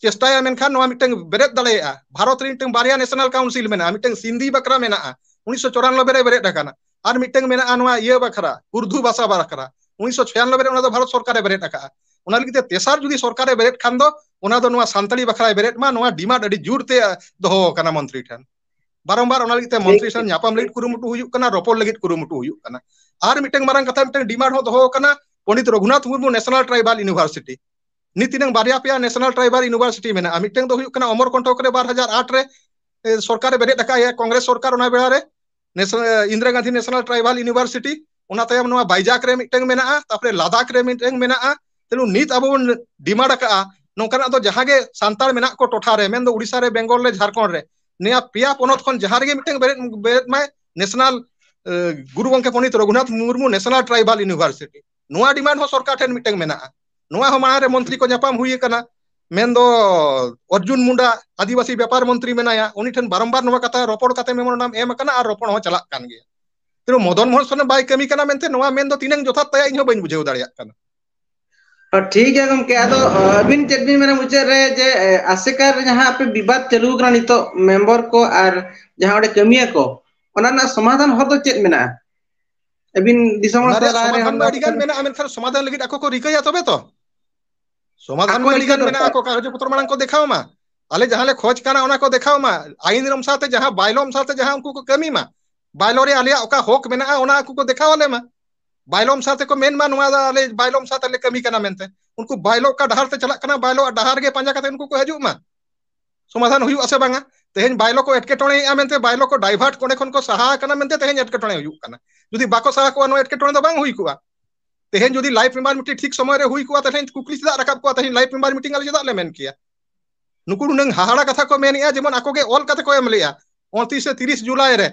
ᱪᱮᱥᱴᱟᱭᱟ ᱢᱮᱱᱠᱷᱟᱱ ᱱᱚᱣᱟ ᱢᱤᱫᱴᱟᱝ ᱵᱮᱨᱮᱫ ᱫᱟᱲᱮᱭᱟᱜᱼᱟ ᱵᱷᱟᱨᱚᱛ ᱨᱮ ᱢᱤᱫᱴᱟᱝ ᱵᱟᱨᱭᱟ ᱱᱮᱥᱱᱟᱞ ᱠᱟᱣᱩᱱᱥᱤᱞ ᱢᱮᱱᱟᱜᱼᱟ ᱢᱤᱫᱴᱟᱝ ᱥᱤᱱᱫᱷᱤ ᱵᱟᱠᱷᱨᱟ ᱢᱮᱱᱟᱜᱼᱟ ᱩᱱᱤᱥᱥᱚ ᱪᱚᱨᱟᱱᱚᱵᱵᱮ ᱨᱮ ᱵᱮᱨᱮᱫ ᱟᱠᱟᱱᱟ ᱟᱨ ᱢᱤᱫᱴᱟᱝ ᱢᱮᱱᱟᱜᱼᱟ ᱱᱚᱣᱟ ᱤᱭᱟᱹ ᱵᱟᱠᱷᱨᱟ ᱩᱨᱫᱩ ᱵᱷᱟᱥᱟ ᱵᱟᱠᱷᱨᱟ ᱩᱱᱤᱥᱥᱚ ᱪᱷᱤᱭᱟᱱᱚᱵᱵᱮ ᱨᱮ ᱚᱱᱟ ᱫᱚ ᱵᱷᱟᱨᱚᱛ ᱥᱚᱨᱠᱟᱨᱮ ᱵᱮᱨᱮᱫ ᱟᱠᱟᱫᱼᱟ ᱚᱱᱟ ᱞᱟᱹᱜᱤᱫ ᱛᱮ ᱛᱮᱥᱟᱨ ᱡᱩᱫᱤ ᱥᱚᱨᱠᱟᱨᱮ ᱵᱮᱨᱮᱫ ᱠᱷᱟᱱ ᱫᱚ ᱚᱱᱟ ᱫᱚ ᱱᱚᱣᱟ ᱥᱟᱱᱛᱟᱲᱤ ᱵᱟᱠᱷᱨᱟᱭ ᱵᱮᱨᱮᱫ ᱢᱟ ᱱᱚᱣᱟ ᱰᱤᱢᱟᱱᱰ ᱟᱹᱰᱤ ᱡᱳᱨᱛᱮ ᱫᱚᱦᱚ ᱟᱠᱟᱱᱟ ᱢᱚᱱᱛᱨᱤ ᱴᱷᱮᱱ ᱵᱟᱨᱚᱢᱵᱟᱨ ᱚᱱᱟ ᱞᱟᱹᱜᱤᱫ ᱛᱮ ᱴᱷᱤᱠ ᱢᱚᱱᱛᱨᱤ ᱥᱟᱶ ᱴᱷᱤᱠ ᱧᱟᱯᱟᱢ ᱴᱷᱤᱠ ᱞᱟᱹᱜᱤᱫ ᱠᱩᱨᱩᱢᱩᱴᱩ ᱦᱩᱭᱩᱜ ᱠᱟᱱᱟ ᱨᱚᱯᱚᱲ ᱞᱟᱹᱜᱤᱫ ᱠᱩᱨᱩᱢᱩᱴᱩ ᱦᱩᱭᱩᱜ ᱠᱟᱱᱟ ᱟᱨ ᱢᱤᱫᱴᱟᱝ ᱢᱟᱨᱟᱝ ᱠᱟᱛᱷᱟ ᱢᱤᱫᱴᱟᱝ ᱰᱤᱢᱟᱱᱰ ᱦᱚᱸ ᱫᱚᱦᱚ ᱟᱠᱟᱱᱟ Pandit Raghunath Murmu national tribal university ᱱᱤᱛ ᱛᱤᱱᱟᱹᱝ ᱵᱟᱨᱭᱟ ᱯᱮᱭᱟ ᱱᱮᱥᱱᱟᱞ ᱴᱨᱟᱭᱵᱟᱞ ᱤᱱᱩᱵᱷᱟᱨᱥᱤᱴᱤ ᱢᱮᱱᱟᱜᱼᱟ ᱢᱤᱫᱴᱟᱝ ᱫᱚ ᱦᱩᱭᱩᱜ ᱠᱟᱱᱟ ᱚᱢᱚᱨ ᱠᱚᱱᱴᱚᱠ ᱨᱮ ᱵᱟᱨ ᱦᱟᱡᱟᱨ ᱟᱴ ᱨᱮ ᱥᱚᱨᱠᱟᱨᱮ ᱵᱮᱨᱮᱫ ᱟᱠᱟᱫ ᱮᱭᱟ ᱠᱚᱝᱜᱨᱮᱥ ᱥᱚᱨᱠᱟᱨ ᱚᱱᱟ ᱵᱮᱲᱟ ᱨᱮ national Indira Gandhi national tribal university ᱚᱱᱟ ᱛᱟᱭᱚᱢ ᱱᱚᱣᱟ ᱵᱟᱭᱡᱟᱠ ᱨᱮ ᱢᱤᱫᱴᱟᱝ ᱢᱮᱱᱟᱜᱼᱟ ᱛᱟᱯᱚᱨᱮ ᱞᱟᱫᱟᱠ ᱨᱮ ᱢᱤᱫᱴᱟᱝ ᱢᱮᱱᱟᱜᱼᱟ ᱛᱮᱞᱩ ᱱᱤᱛ ᱟᱵᱚ ᱵᱚᱱ ᱰᱤᱢᱟᱱᱰ ᱟᱠᱟᱜᱼᱟ ᱱᱚᱝᱠᱟᱱᱟᱜ ᱫᱚ ᱡᱟᱦᱟᱸ ᱜᱮ ᱥᱟᱱᱛᱟᱲ ᱢᱮᱱᱟᱜ ᱠᱚ ᱴᱚᱴᱷᱟ ᱨᱮ ᱢᱮᱱᱫᱚ ᱩᱲᱤᱥᱥᱟ ᱨᱮ ᱵᱮᱝᱜᱚᱞ ᱨᱮ ᱡᱷᱟᱲᱠᱷᱚᱸᱰ ᱨᱮ ᱱᱤᱭᱟᱹ ᱯᱮᱭᱟ ᱯᱚᱱᱚᱛ ᱠᱷᱚᱱ ᱡᱟᱦᱟᱸ ᱨᱮᱜᱮ ᱢᱤᱫᱴᱟᱝ ᱵᱮᱨᱮᱫ ᱵᱮᱨᱮᱫ ᱢᱟᱭ ᱱᱮᱥᱱᱟᱞ ᱜᱩᱨᱩ ᱜᱚᱝᱠᱮ Pandit Raghunath Murmu national tribal university ᱱᱚᱣᱟ ᱰᱤᱢᱟᱱᱰ ᱦᱚᱸ ᱥᱚᱨᱠᱟᱨ ᱴᱷᱮᱱ ᱢᱤᱫᱴᱟᱝ ᱢᱮᱱᱟᱜᱼᱟ ᱱᱚᱣᱟ ᱦᱚᱸ ᱢᱟᱲᱟᱝ ᱨᱮ ᱢᱚᱱᱛᱨᱤ ᱠᱚ ᱧᱟᱯᱟᱢ ᱦᱩᱭ ᱟᱠᱟᱱᱟ ᱢᱮᱱᱫᱚ ᱚᱨᱡᱩᱱ ᱢᱩᱱᱰᱟ ᱟᱹᱫᱤᱵᱟᱹᱥᱤ ᱵᱮᱯᱟᱨ ᱢᱚᱱᱛᱨᱤ ᱢᱮᱱᱟᱭᱟ ᱩᱱᱤ ᱴᱷᱮᱱ ᱵᱟᱨᱚᱢᱵᱟᱨ ᱱᱚᱣᱟ ᱠᱟᱛᱷᱟ ᱨᱚᱯᱚᱲ ᱠᱟᱛᱮ ᱢᱮᱢᱳᱨᱮᱱᱰᱟᱢ ᱮᱢ ᱟᱠᱟᱱᱟ ᱟᱨ ᱨᱚᱯᱚᱲ ᱦᱚᱸ ᱪᱟᱞᱟᱜ ᱠᱟᱱ ᱜᱮᱭᱟ ᱠᱤᱱᱛᱩ ᱢᱚᱫᱚᱱ ᱢᱳᱦᱚᱱ ᱥᱚᱨᱮᱱ ᱵᱟᱭ ᱠᱟᱹᱢᱤ ᱠᱟᱱᱟ ᱢᱮᱱᱛᱮ ᱱᱚᱣᱟ ᱢᱮᱱ ᱫᱚ ᱛᱤᱱᱟᱹᱝ ᱡᱚᱛᱷᱟᱛ ᱛᱟᱭᱟ ᱤᱧ ᱦᱚᱸ ᱵᱟᱹᱧ ᱵᱩᱡᱷᱟᱹᱣ ᱫᱟᱲᱮᱭᱟᱜ ᱠᱟᱱᱟ᱾ ᱴᱷᱤᱠ ᱜᱮᱭᱟ ᱜᱚᱝᱠᱮ ᱟᱫᱚ ᱟᱹᱵᱤᱱ ᱪᱮᱫ ᱵᱤᱱ ᱢᱮᱱᱟ ᱢᱩᱪᱟᱹᱫ ᱨᱮ ᱡᱮ ᱟᱥᱮᱠᱟ ᱨᱮ ᱡᱟᱦᱟᱸ ᱟᱯᱮ ᱵᱤᱵᱟᱫ ᱪᱟᱹᱞᱩ ᱠᱟᱱᱟ ᱱᱤᱛᱚᱜ ᱢᱮᱢᱵᱚᱨ ᱠᱚ ᱟᱨ ᱡᱟᱦᱟᱸ ᱚᱸᱰᱮ ᱠᱟᱹᱢᱤᱭᱟ ᱠᱚ ᱚᱱᱟ ᱨᱮᱱᱟᱜ ᱥᱚᱢᱟᱫᱷᱟᱱ ᱦᱚᱨ ᱫᱚ ᱪᱮᱫ ᱢᱮᱱᱟᱜᱼᱟ? ᱟᱹᱵᱤᱱ ᱫᱤᱥᱚᱢ ᱦᱚᱲ ᱚᱱᱟ ᱥᱟᱞᱟᱜ ᱨᱮᱭᱟᱜ ᱨᱟᱭ ᱨᱮ ᱦᱚᱲ ᱥᱚᱢᱟᱫᱷᱟᱱ ᱢᱟ ᱟᱹᱰᱤ ᱜᱟᱱ ᱢᱮᱱᱟᱜᱼᱟ ᱢᱮᱱᱠᱷᱟᱱ ᱥᱚᱢᱟᱫᱷᱟᱱ ᱞᱟᱹᱜᱤᱫ ᱟᱠᱚ ᱠᱚ ᱨᱤᱠᱟᱹᱭᱟ ᱛᱚᱵᱮ ᱛᱚ ᱥᱚᱢᱟᱫᱷᱟᱱ ᱟᱠᱚ ᱢᱟ ᱟᱹᱰᱤ ᱨᱤᱠᱟᱹ ᱜᱟᱱ ᱢᱮᱱᱟᱜᱼᱟ ᱫᱚᱨᱠᱟᱨ ᱟᱠᱚ ᱠᱟᱜᱚᱡᱽ ᱯᱚᱛᱨᱚ ᱢᱟᱲᱟᱝ ᱠᱚ ᱫᱮᱠᱷᱟᱣ ᱢᱟ᱾ ᱟᱞᱮ ᱡᱟᱦᱟᱸ ᱞᱮ ᱠᱷᱚᱡ ᱠᱟᱱᱟ ᱚᱱᱟ ᱠᱚ ᱫᱮᱠᱷᱟᱣ ᱢᱟ ᱟᱭᱤᱱ ᱨᱚᱢ ᱥᱟᱶᱛᱮ ᱡᱟᱦᱟᱸ ᱵᱟᱭᱞᱚᱢ ᱥᱟᱶᱛᱮ ᱡᱟᱦᱟᱸ ᱩᱱᱠᱩ ᱠᱚ ᱠᱟᱹᱢᱤ ᱢᱟ᱾ ᱵᱟᱭᱞᱚᱨ ᱨᱮ ᱟᱞᱮᱭᱟᱜ ᱚᱠᱟ ᱦᱚᱠ ᱢᱮᱱᱟᱜᱼᱟ ᱚᱱᱟ ᱟᱠᱚ ᱠᱚ ᱫᱮᱠᱷᱟᱣ ᱟᱞᱮ ᱢᱟ ᱵᱟᱭᱞᱚᱢ ᱥᱟᱶᱛᱮ ᱠᱚ ᱢᱮᱱ ᱢᱟ ᱱᱚᱣᱟ ᱫᱚ ᱟᱞᱮ ᱵᱟᱭᱞᱚᱢ ᱥᱟᱶᱛᱮ ᱞᱮ ᱠᱟᱹᱢᱤ ᱠᱟᱱᱟ ᱢᱮᱱᱛᱮ ᱩᱱᱠᱩ ᱵᱟᱭᱞᱚ ᱚᱠᱟ ᱰᱟᱦᱟᱨ ᱛᱮ ᱪᱟᱞᱟᱜ ᱠᱟᱱᱟ ᱵᱟᱭᱞᱚ ᱟᱜ ᱰᱟᱦᱟᱨ ᱜᱮ ᱯᱟᱸᱡᱟ ᱠᱟᱛᱮ ᱩᱱᱠᱩ ᱠᱚ ᱦᱤᱡᱩᱜ ᱢᱟ ᱥᱚᱢᱟᱫᱷᱟᱱ ᱦᱩᱭᱩᱜ ᱟᱥᱮ ᱵᱟᱝᱟ ᱛᱮᱦᱮᱧ ᱵᱟᱭᱞᱚ ᱠᱚ ᱮᱴᱠᱮᱴᱚᱬᱮᱭᱮᱜᱼᱟ ᱢᱮᱱᱛᱮ ᱵᱟᱭᱞᱚ ᱠᱚ ᱰᱟᱭᱵᱷᱟᱨᱴ ᱚᱸᱰᱮ ᱠᱷᱚᱱ ᱠᱚ ᱥᱟᱦᱟ ᱟᱠᱟᱱᱟ ᱢᱮᱱᱛᱮ ᱛᱮᱦᱮᱧ ᱮᱴᱠᱮᱴᱚᱬᱮ ᱦᱩᱭᱩᱜ ᱠᱟᱱᱟ ᱡᱩᱫᱤ ᱵᱟᱠᱚ ᱥᱟᱦᱟ ᱠᱚᱜᱼᱟ ᱱᱚᱣᱟ ᱮᱴᱠᱮᱴᱚᱬᱮ ᱫᱚ ᱵᱟᱝ ᱦᱩᱭ ᱠᱚᱜᱼᱟ ᱛᱮᱦᱮᱧ ᱡᱩᱫᱤ ᱞᱟᱭᱤᱯᱷ ᱢᱮᱢᱵᱟᱨ ᱢᱤᱫᱴᱤᱡ ᱴᱷᱤᱠ ᱥᱚᱢᱚᱭ ᱨᱮ ᱦᱩᱭ ᱠᱚᱜᱼᱟ ᱛᱮᱦᱮᱧ ᱠᱩᱠᱞᱤ ᱪᱮᱫᱟᱜ ᱨᱟᱠᱟᱵ ᱠᱚᱜᱼᱟ ᱛᱮᱦᱮᱧ ᱞᱟᱭᱤᱯᱷ ᱢᱮᱢᱵᱟᱨ ᱢᱤᱴᱤᱝ ᱟᱞᱮ ᱪᱮᱫᱟᱜ ᱞᱮ ᱢᱮᱱ ᱠᱮᱭᱟ ᱱᱩᱠᱩ ᱱᱩᱱᱟᱹᱝ ᱦᱟᱦᱟᱲᱟ ᱠᱟᱛᱷᱟ ᱠᱚ ᱢᱮᱱᱮᱜᱼᱟ ᱡᱮᱢᱚᱱ ᱟᱠᱚ ᱜᱮ ᱚᱞ ᱠᱟᱛᱮ ᱠᱚ ᱮᱢ ᱞᱮᱜᱼᱟ ᱩᱱᱛᱨᱤᱥ ᱥᱮ ᱛᱤᱨᱤᱥ ᱡᱩᱞᱟᱭ ᱨᱮ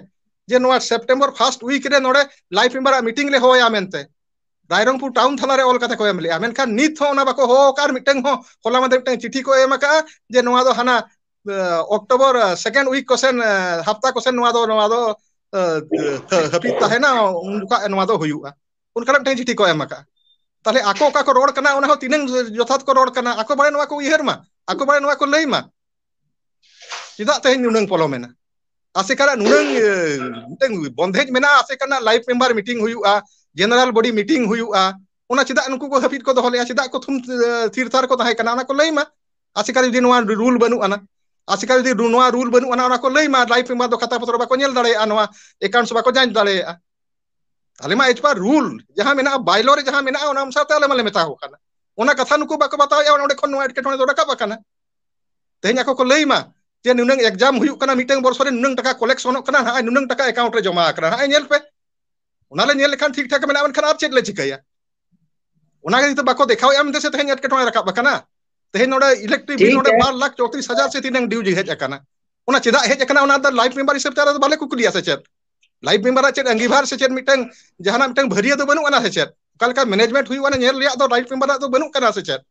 ᱡᱮ ᱱᱚᱣᱟ ᱥᱮᱯᱴᱮᱢᱵᱚᱨ ᱯᱷᱟᱥᱴ ᱩᱭᱤᱠ ᱨᱮ ᱱᱚᱰᱮ ᱞᱟᱭᱤᱯᱷ ᱢᱮᱢᱵᱟᱨᱟᱜ ᱢᱤᱴᱤᱝ ᱞᱮ ᱦᱚᱦᱚᱭᱟ ᱢᱮᱱᱛᱮ ᱨᱟᱭᱨᱚᱝᱯᱩᱨ ᱴᱟᱣᱩᱱ ᱛᱷᱟᱱᱟ ᱨᱮ ᱚᱞ ᱠᱟᱛᱮ ᱠᱚ ᱮᱢ ᱞᱮᱜᱼᱟ ᱢᱮᱱᱠᱷᱟᱱ ᱱᱤᱛ ᱦᱚᱸ ᱚᱱᱟ ᱵᱟᱠᱚ ᱦᱚᱦᱚ ᱟᱠᱟᱫᱼᱟ ᱟᱨ ᱢᱤᱫᱴᱟᱝ ᱦᱚᱸ ᱦᱚᱞᱟ ᱢᱟᱫᱷᱮᱨ ᱢᱤᱫᱴᱟᱝ ᱪᱤᱴᱷᱤ ᱠᱚ ᱮᱢ ᱟᱠᱟᱜᱼᱟ ᱡᱮ ᱱᱚᱣᱟ ᱫᱚ ᱦᱟᱱᱟ ᱚᱠᱴᱳᱵᱚᱨ ᱥᱮᱠᱮᱱᱰ ᱩᱭᱤᱠ ᱠᱚᱥᱮᱱ ᱦᱟᱯᱛᱟ ᱠᱚᱥᱮᱱ ᱱᱚᱣᱟ ᱫᱚ ᱱᱚᱣᱟ ᱫᱚ ᱦᱟᱹᱯᱤᱫ ᱛᱟᱦᱮᱱᱟ ᱩᱱ ᱡᱚᱠᱷᱟᱜ ᱱᱚᱣᱟ ᱫᱚ ᱦᱩᱭᱩᱜᱼᱟ ᱚᱱᱠᱟᱱᱟᱜ ᱢᱤᱫᱴᱟᱝ ᱪᱤᱴᱷᱤ ᱠᱚ ᱮᱢ ᱟᱠᱟᱫᱼᱟ ᱛᱟᱦᱚᱞᱮ ᱟᱠᱚ ᱚᱠᱟ ᱠᱚ ᱨᱚᱲ ᱠᱟᱱᱟ ᱚᱱᱟ ᱦᱚᱸ ᱛᱤᱱᱟᱹᱝ ᱡᱚᱛᱷᱟᱛ ᱠᱚ ᱨᱚᱲ ᱠᱟᱱᱟ ᱟᱠᱚ ᱵᱟᱨᱮ ᱱᱚᱣᱟ ᱠᱚ ᱩᱭᱦᱟᱹᱨ ᱢᱟ ᱟᱠᱚ ᱵᱟᱨᱮ ᱱᱚᱣᱟ ᱠᱚ ᱞᱟᱹᱭ ᱢᱟ ᱪᱮᱫᱟᱜ ᱛᱮᱦᱮᱧ ᱱᱩᱱᱟᱹᱝ ᱯᱚᱞᱚᱢᱮᱱᱟ ᱟᱥᱮᱠᱟᱱᱟᱜ ᱱᱩᱱᱟᱹᱝ ᱢᱤᱫᱴᱟᱝ ᱵᱚᱱᱫᱷᱮᱡᱽ ᱢᱮᱱᱟᱜᱼᱟ ᱟᱥᱮᱠᱟᱱᱟᱜ ᱞᱟᱭᱤᱯᱷ ᱢᱮᱢᱵᱟᱨ ᱢᱤᱴᱤᱝ ᱦᱩᱭᱩᱜᱼᱟ ᱡᱮᱱᱟᱨᱮᱞ ᱵᱚᱰᱤ ᱢᱤᱴᱤᱝ ᱦᱩᱭᱩᱜᱼᱟ ᱚᱱᱟ ᱪᱮᱫᱟᱜ ᱱᱩᱠᱩ ᱠᱚ ᱦᱟᱹᱯᱤᱫ ᱠᱚ ᱫᱚᱦᱚ ᱞᱮᱜᱼᱟ ᱪᱮᱫᱟᱜ ᱠᱚ ᱛᱷᱩᱢ ᱛᱷᱤᱨ ᱛᱷᱟᱨ ᱠᱚ ᱛᱟᱦᱮᱸ ᱠᱟᱱᱟ ᱚᱱᱟ ᱠᱚ ᱞᱟᱹᱭ ᱢᱟ ᱟᱥᱮᱠᱟ ᱡᱩᱫᱤ ᱱᱚᱣᱟ ᱨᱩᱞ ᱵᱟᱹᱱᱩᱜ ᱟᱱᱟ ᱟᱥᱮᱠᱟ ᱡᱩᱫᱤ ᱱᱚᱣᱟ ᱨᱩᱞ ᱵᱟᱹᱱᱩᱜ ᱟᱱᱟ ᱚᱱᱟ ᱠᱚ ᱞᱟᱹᱭ ᱢᱟ ᱞᱟᱭᱤᱯᱷ ᱢᱮᱢᱵᱟᱨ ᱫᱚ ᱠᱷᱟᱛᱟ ᱯᱚᱛᱨᱚ ᱵᱟᱠᱚ ᱧᱮᱞ ᱫᱟᱲᱮᱭᱟᱜᱼᱟ ᱱᱚᱣᱟ ᱮᱠᱟᱣᱩᱱᱴᱥ ᱵᱟᱠᱚ ᱡᱟᱸᱪ ᱫᱟᱲᱮᱭᱟᱜᱼᱟ ᱟᱞᱮ ᱢᱟ ᱮᱡ ᱯᱟᱨ ᱨᱩᱞ ᱡᱟᱦᱟᱸ ᱢᱮᱱᱟᱜᱼᱟ ᱵᱟᱭᱞᱚ ᱨᱮ ᱡᱟᱦᱟᱸ ᱢᱮᱱᱟᱜᱼᱟ ᱚᱱᱟ ᱚᱱᱩᱥᱟᱨ ᱛᱮ ᱟᱞᱮ ᱢᱟᱞᱮ ᱢᱮᱛᱟ ᱠᱚ ᱠᱟᱱᱟ ᱚᱱᱟ ᱠᱟᱛᱷᱟ ᱱᱩᱠᱩ ᱵᱟᱠᱚ ᱵᱟᱛᱟᱣᱮᱜᱼᱟ ᱚᱸᱰᱮ ᱠᱷᱚᱱ ᱱᱚᱣᱟ ᱮᱴᱠᱮᱴᱚᱬᱮ ᱫᱚ ᱨᱟᱠᱟᱵ ᱟᱠᱟᱱᱟ ᱛᱮᱦᱮᱧ ᱟᱠᱚ ᱠᱚ ᱞᱟᱹᱭ ᱢᱟ ᱡᱮ ᱱᱩᱱᱟᱹᱝ ᱮᱠᱡᱟᱢ ᱦᱩᱭᱩᱜ ᱠᱟᱱᱟ ᱢᱤᱫᱴᱟᱝ ᱵᱚᱨᱥᱚ ᱨᱮ ᱱᱩᱱᱟᱹᱝ ᱴᱟᱠᱟ ᱠᱚᱞᱮᱠᱥᱚᱱᱚᱜ ᱠᱟᱱᱟ ᱱᱟᱜᱼᱚᱭ ᱱᱩᱱᱟᱹᱝ ᱴᱟᱠᱟ ᱮᱠᱟᱣᱩᱱᱴ ᱨᱮ ᱡᱚᱢᱟ ᱟᱠᱟᱱᱟ ᱱᱟᱜᱼᱚᱭ ᱧᱮᱞ ᱯᱮ ᱚᱱᱟ ᱞᱮ ᱧᱮᱞ ᱞᱮᱠᱷᱟᱱ ᱴᱷᱤᱠ ᱴᱷᱟᱠ ᱢᱮᱱᱟᱜᱼᱟ ᱢᱮᱱᱠᱷᱟᱱ ᱟᱨ ᱪᱮᱫ ᱞᱮ ᱪᱤᱠᱟᱹᱭᱟ ᱚᱱᱟ ᱜᱮ ᱱᱤᱛᱚᱜ ᱵᱟᱠᱚ ᱫᱮᱠᱷᱟᱣᱮᱜᱼᱟ ᱢᱮᱱᱛᱮ ᱥᱮ ᱛᱮᱦᱮᱧ ᱮᱴᱠᱮᱴᱚᱬᱮ ᱨᱟᱠᱟᱵ ᱟᱠᱟᱱᱟ ᱛᱮᱦᱮᱧ ᱱᱚᱰᱮ ᱤᱞᱮᱠᱴᱨᱤᱠ ᱵᱤᱞ ᱴᱷᱤᱠ ᱱᱚᱰᱮ ᱜᱮᱭᱟ ᱵᱟᱨ ᱞᱟᱠᱷ ᱪᱚᱛᱨᱤᱥ ᱦᱟᱡᱟᱨ ᱥᱮ ᱛᱤᱱᱟᱹᱝ ᱰᱤᱭᱩ ᱡᱮ ᱦᱮᱡ ᱟᱠᱟᱱᱟ ᱚᱱᱟ ᱪᱮᱫᱟᱜ ᱦᱮᱡ ᱟᱠᱟᱱᱟ ᱚᱱᱟ ᱫᱚ ᱞᱟᱭᱤᱯᱷ ᱢᱮᱢᱵᱟᱨ ᱦᱤᱥᱟᱹᱵ ᱛᱮ ᱟᱞᱮ ᱫᱚ ᱵᱟᱞᱮ ᱠᱩᱠᱞᱤᱭᱟ ᱥᱮ ᱪᱮᱫ ᱞᱟᱭᱤᱯᱷ ᱢᱮᱢᱵᱟᱨᱟᱜ ᱪᱮᱫ ᱟᱸᱜᱤᱵᱷᱟᱨ ᱥᱮ ᱪᱮᱫ ᱢᱤᱫᱴᱟᱝ ᱡᱟᱦᱟᱱᱟᱜ ᱢᱤᱫᱴᱟᱝ ᱵᱷᱟᱹᱨᱭᱟᱹ ᱫᱚ ᱵᱟᱹᱱᱩᱜ ᱟᱱᱟ ᱥᱮ ᱪᱮᱫ ᱚᱠᱟ ᱞᱮᱠᱟ ᱢᱮᱱᱮᱡᱽᱢᱮᱱᱴ ᱦᱩᱭᱩᱜ ᱟᱱᱟ ᱧᱮᱞ ᱨᱮᱭᱟᱜ ᱫᱚ ᱞᱟᱭᱤᱯᱷ ᱢᱮᱢᱵᱟᱨᱟᱜ ᱫᱚ ᱵᱟᱹᱱᱩᱜ ᱟᱠᱟᱫᱟ ᱥᱮ ᱪᱮᱫ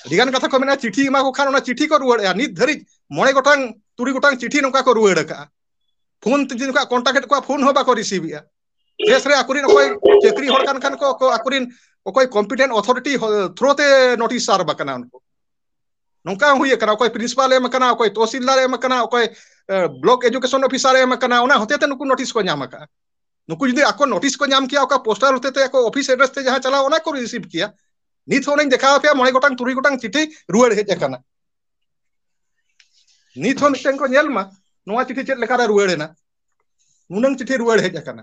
ᱟᱹᱰᱤ ᱜᱟᱱ ᱠᱟᱛᱷᱟ ᱠᱚ ᱢᱮᱱᱟᱜᱼᱟ ᱪᱤᱴᱷᱤ ᱮᱢᱟ ᱠᱚ ᱠᱷᱟᱱ ᱚᱱᱟ ᱪᱤᱴᱷᱤ ᱠᱚ ᱨᱩᱣᱟᱹᱲᱮᱜᱼᱟ ᱱᱤᱛ ᱫᱷᱟᱹᱨᱤᱡ ᱢᱚᱬᱮ ᱜᱚᱴᱟᱝ ᱛᱩᱨᱩᱭ ᱜᱚᱴᱟᱝ ᱪᱤᱴᱷᱤ ᱱᱚᱝᱠᱟ ᱠᱚ ᱨᱩᱣᱟᱹᱲ ᱟᱠᱟᱜᱼᱟ ᱯᱷᱳᱱ ᱛᱮ ᱡᱩᱫᱤ ᱱᱚᱝᱠᱟ ᱠᱚᱱᱴᱟᱠᱴ ᱮᱫ ᱠᱚᱣᱟ ᱯᱷᱳᱱ ᱦᱚᱸ ᱵᱟᱠᱚ ᱨᱤᱥᱤᱵᱷᱮᱜᱼᱟ ᱫᱮᱥ ᱨᱮ ᱟᱠᱚᱨᱮᱱ ᱚᱠᱚᱭ ᱪᱟᱹᱠᱨᱤ ᱦᱚᱲ ᱠᱟᱱ ᱠᱷᱟᱱ ᱠᱚ ᱟᱠᱚᱨᱮᱱ ᱚᱠᱚᱭ ᱠᱚᱢᱯᱤᱴᱮᱱᱴ ᱚᱛᱷᱚᱨᱤᱴᱤ ᱛᱷᱨᱩ ᱛᱮ ᱱᱳᱴᱤᱥ ᱥᱟᱨᱵᱷ ᱟᱠᱟᱱᱟ ᱩᱱᱠᱩ ᱱᱚᱝᱠᱟ ᱦᱚᱸ ᱦᱩᱭ ᱟᱠᱟᱱᱟ ᱚᱠᱚᱭ ᱯᱨᱤᱱᱥᱤᱯᱟᱞ ᱮᱢ ᱟᱠᱟᱱᱟ ᱚᱠᱚᱭ ᱛᱚᱥᱤᱞᱫᱟᱨ ᱮᱢ ᱟᱠᱟᱱᱟ ᱚᱠᱚᱭ ᱵᱞᱚᱠ ᱮᱰᱩᱠᱮᱥᱚᱱ ᱚᱯᱷᱤᱥᱟᱨ ᱮᱢ ᱟᱠᱟᱱᱟ ᱚᱱᱟ ᱦᱚᱛᱮ ᱛᱮ ᱱᱩᱠᱩ ᱱᱳᱴᱤᱥ ᱠᱚ ᱧᱟᱢ ᱟᱠᱟᱫᱼᱟ ᱱᱩᱠᱩ ᱡᱩᱫᱤ ᱟᱠᱚ ᱱᱳᱴᱤᱥ ᱠᱚ ᱧᱟᱢ ᱠᱮᱭᱟ ᱚᱠᱟ ᱯᱳᱥᱴᱟᱨ ᱦᱚᱛᱮ ᱛᱮ ᱟᱠᱚ ᱚᱯᱷᱤᱥ ᱮᱰᱨᱮᱥ ᱛᱮ ᱡᱟᱦᱟᱸ ᱪᱟᱞᱟᱣ ᱚᱱᱟ ᱠᱚ ᱨᱤᱥᱤᱵᱷ ᱠᱮᱭᱟ ᱱᱤᱛ ᱦᱚᱸ ᱚᱱᱮᱧ ᱫᱮᱠᱷᱟᱣ ᱟᱯᱮᱭᱟ ᱢᱚᱬᱮ ᱜᱚᱴᱟᱝ ᱛᱩᱨᱩᱭ ᱜᱚᱴᱟᱝ ᱪᱤᱴᱷᱤ ᱨᱩᱣᱟᱹᱲ ᱦᱮᱡ ᱟᱠᱟᱱᱟ ᱱᱤᱛ ᱦᱚᱸ ᱢᱤᱫᱴᱮᱱ ᱠᱚ ᱧᱮᱞ ᱢᱟ ᱱᱚᱣᱟ ᱪᱤᱴᱷᱤ ᱪᱮᱫ ᱞᱮᱠᱟᱨᱮ ᱨᱩᱣᱟᱹᱲ ᱮᱱᱟ ᱱᱩᱱᱟᱹᱝ ᱪᱤᱴᱷᱤ ᱨᱩᱣᱟᱹᱲ ᱦᱮᱡ ᱟᱠᱟᱱᱟ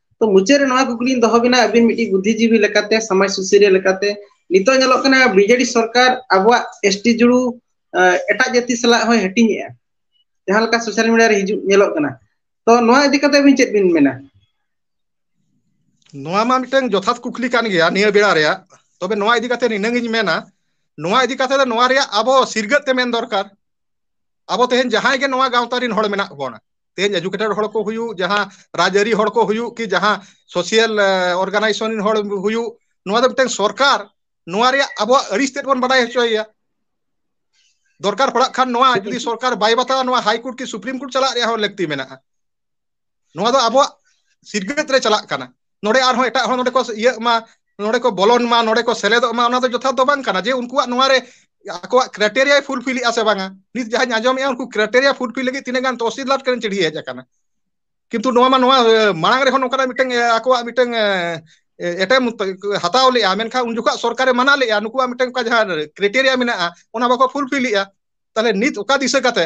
ᱛᱚ ᱢᱩᱪᱟᱹᱫ ᱨᱮ ᱱᱚᱣᱟ ᱠᱩᱠᱞᱤᱧ ᱫᱚᱦᱚ ᱵᱤᱱᱟ ᱟᱹᱵᱤᱱ ᱢᱤᱫᱴᱤᱡ ᱵᱩᱫᱽᱫᱷᱤ ᱡᱤᱵᱤ ᱞᱮᱠᱟᱛᱮ ᱥᱚᱢᱟᱡᱽ ᱥᱩᱥᱟᱹᱨᱤᱭᱟᱹ ᱞᱮᱠᱟᱛᱮ ᱱᱤᱛᱚᱜ ᱧᱮᱞᱚᱜ ᱠᱟᱱᱟ ᱵᱤᱡᱮᱰᱤ ᱥᱚᱨᱠᱟᱨ ᱟᱵᱚᱣᱟᱜ ᱮᱥ ᱴᱤ ᱡᱩᱲᱩ ᱮᱴᱟᱜ ᱡᱟᱹᱛᱤ ᱥᱟᱞᱟᱜ ᱦᱚᱸᱭ ᱦᱟᱹᱴᱤᱧᱮᱜᱼᱟ ᱡᱟᱦᱟᱸ ᱞᱮᱠᱟ ᱥᱳᱥᱟᱞ ᱢᱤᱰᱤᱭᱟ ᱨᱮ ᱦᱤᱡᱩᱜ ᱧᱮᱞᱚᱜ ᱠᱟᱱᱟ ᱛᱚ ᱱᱚᱣᱟ ᱤᱫᱤ ᱠᱟᱛᱮ ᱟᱵᱤᱱ ᱪᱮᱫ ᱵᱤᱱ ᱢᱮᱱᱟ ᱱᱚᱣᱟ ᱢᱟ ᱢᱤᱫᱴᱟᱝ ᱡᱚᱛᱷᱟᱛ ᱠᱩᱠᱞᱤ ᱠᱟᱱ ᱜᱮᱭᱟ ᱱᱤᱭᱟᱹ ᱵᱮᱲᱟ ᱨᱮᱭᱟᱜ ᱛᱚᱵᱮ ᱱᱚᱣᱟ ᱤᱫᱤ ᱠᱟᱛᱮ ᱱᱤᱱᱟᱹᱝ ᱤᱧ ᱢᱮᱱᱟ ᱱᱚᱣᱟ ᱤᱫᱤ ᱠᱟᱛᱮ ᱫᱚ ᱱᱚᱣᱟ ᱨᱮᱭᱟᱜ ᱟᱵᱚ ᱥᱤᱨᱜᱟᱹᱛ ᱛᱮ ᱢᱮᱱ ᱫᱚᱨᱠᱟᱨ ᱟᱵᱚ ᱛᱮᱦᱮᱧ ᱡᱟᱦᱟᱸᱭ ᱜᱮ ᱱᱚᱣᱟ ᱜᱟᱶᱛᱟ ᱨᱮᱱ ᱦᱚᱲ ᱢᱮᱱᱟᱜ ᱵᱚᱱᱟ ᱛᱮᱦᱮᱧ ᱮᱰᱩᱠᱮᱴᱮᱰ ᱦᱚᱲ ᱠᱚ ᱦᱩᱭᱩᱜ ᱡᱟᱦᱟᱸ ᱨᱟᱡᱽᱟᱹᱨᱤ ᱦᱚᱲ ᱠᱚ ᱦᱩᱭᱩᱜ ᱠᱤ ᱡᱟᱦᱟᱸ ᱥᱳᱥᱤᱭᱟᱞ ᱚᱨᱜᱟᱱᱟᱭᱡᱮᱥᱚᱱ ᱨᱮᱱ ᱦᱚᱲ ᱦᱩᱭᱩᱜ ᱱᱚᱣᱟ ᱫᱚ ᱢᱤᱫᱴᱟᱝ ᱥᱚᱨᱠᱟᱨ ᱱᱚᱣᱟ ᱨᱮᱭᱟᱜ ᱟᱵᱚᱣᱟᱜ ᱟᱹᱲᱤᱥ ᱛᱮᱫ ᱵᱚᱱ ᱵᱟᱰᱟᱭ ᱦᱚᱪᱚᱭᱮᱭᱟ ᱫᱚᱨᱠᱟᱨ ᱯᱟᱲᱟᱜ ᱠᱷᱟᱱ ᱱᱚᱣᱟ ᱡᱩᱫᱤ ᱥᱚᱨᱠᱟᱨ ᱵᱟᱭ ᱵᱟᱛᱟᱟᱣᱟ ᱱᱚᱣᱟ ᱦᱟᱭᱠᱳᱨᱴ ᱠᱤ ᱥᱩᱯᱨᱤᱢ ᱠᱳᱨᱴ ᱪᱟᱞᱟᱜ ᱨᱮᱭᱟᱜ ᱦᱚᱸ ᱞᱟᱹᱠᱛᱤ ᱢᱮᱱᱟᱜᱼᱟ ᱱᱚᱣᱟ ᱫᱚ ᱟᱵᱚᱣᱟᱜ ᱥᱤᱠᱷᱱᱟᱹᱛ ᱨᱮ ᱪᱟᱞᱟᱜ ᱠᱟᱱᱟ ᱱᱚᱰᱮ ᱟᱨᱦᱚᱸ ᱮᱴᱟᱜ ᱦᱚᱲ ᱱᱚᱰᱮ ᱠᱚ ᱤᱭᱟᱹᱜ ᱢᱟ ᱱᱚᱰᱮ ᱠᱚ ᱵᱚᱞᱚᱱ ᱢᱟ ᱱᱚᱰᱮ ᱠᱚ ᱥᱮᱞᱮᱫᱚᱜ ᱢᱟ ᱚᱱᱟ ᱫᱚ ᱡᱚᱛᱷᱟᱛ ᱫᱚ ᱵᱟᱝ ᱠᱟᱱᱟ ᱡᱮ ᱩᱱᱠᱩᱣᱟᱜ ᱱᱚᱣᱟ ᱨᱮ ᱟᱠᱚᱣᱟᱜ ᱠᱨᱟᱭᱴᱮᱨᱤᱭᱟ ᱯᱷᱩᱞᱯᱷᱤᱞᱮᱜᱼᱟ ᱥᱮ ᱵᱟᱝᱟ ᱱᱤᱛ ᱡᱟᱦᱟᱸᱧ ᱟᱸᱡᱚᱢᱮᱜᱼᱟ ᱩᱱᱠᱩ ᱠᱨᱟᱭᱴᱮᱨᱤᱭᱟ ᱯᱷᱩᱞᱯᱷᱤᱞ ᱞᱟᱹᱜᱤᱫ ᱛᱤᱱᱟᱹᱜ ᱜᱟᱱ ᱛᱚᱥᱤᱞ ᱞᱟᱴ ᱠᱟᱱᱟ ᱪᱤᱲᱭᱟᱹ ᱦᱮᱡ ᱟᱠᱟᱱᱟ ᱠᱤᱱᱛᱩ ᱱᱚᱣᱟ ᱢᱟ ᱱᱚᱣᱟ ᱢᱟᱲᱟᱝ ᱨᱮᱦᱚᱸ ᱱᱚᱝᱠᱟᱱᱟᱜ ᱢᱤᱫᱴᱟᱝ ᱟᱠᱚᱣᱟᱜ ᱢᱤᱫᱴᱟᱝ ᱮᱴᱮᱢ ᱦᱟᱛᱟᱣ ᱞᱮᱜᱼᱟ ᱢᱮᱱᱠᱷᱟᱱ ᱩᱱ ᱡᱚᱠᱷᱚᱱ ᱥᱚᱨᱠᱟᱨᱮ ᱢᱟᱱᱟ ᱞᱮᱜᱼᱟ ᱱᱩᱠᱩᱣᱟᱜ ᱢᱤᱫᱴᱟᱝ ᱚᱱᱠᱟ ᱡᱟᱦᱟᱸ ᱠᱨᱟᱭᱴᱮᱨᱤᱭᱟ ᱢᱮᱱᱟᱜᱼᱟ ᱚᱱᱟ ᱵᱟᱠᱚ ᱯᱷᱩᱞᱯᱷᱤᱞᱮᱜᱼᱟ ᱛᱟᱦᱚᱞᱮ ᱱᱤᱛ ᱚᱠᱟ ᱫᱤᱥᱟᱹ ᱠᱟᱛᱮ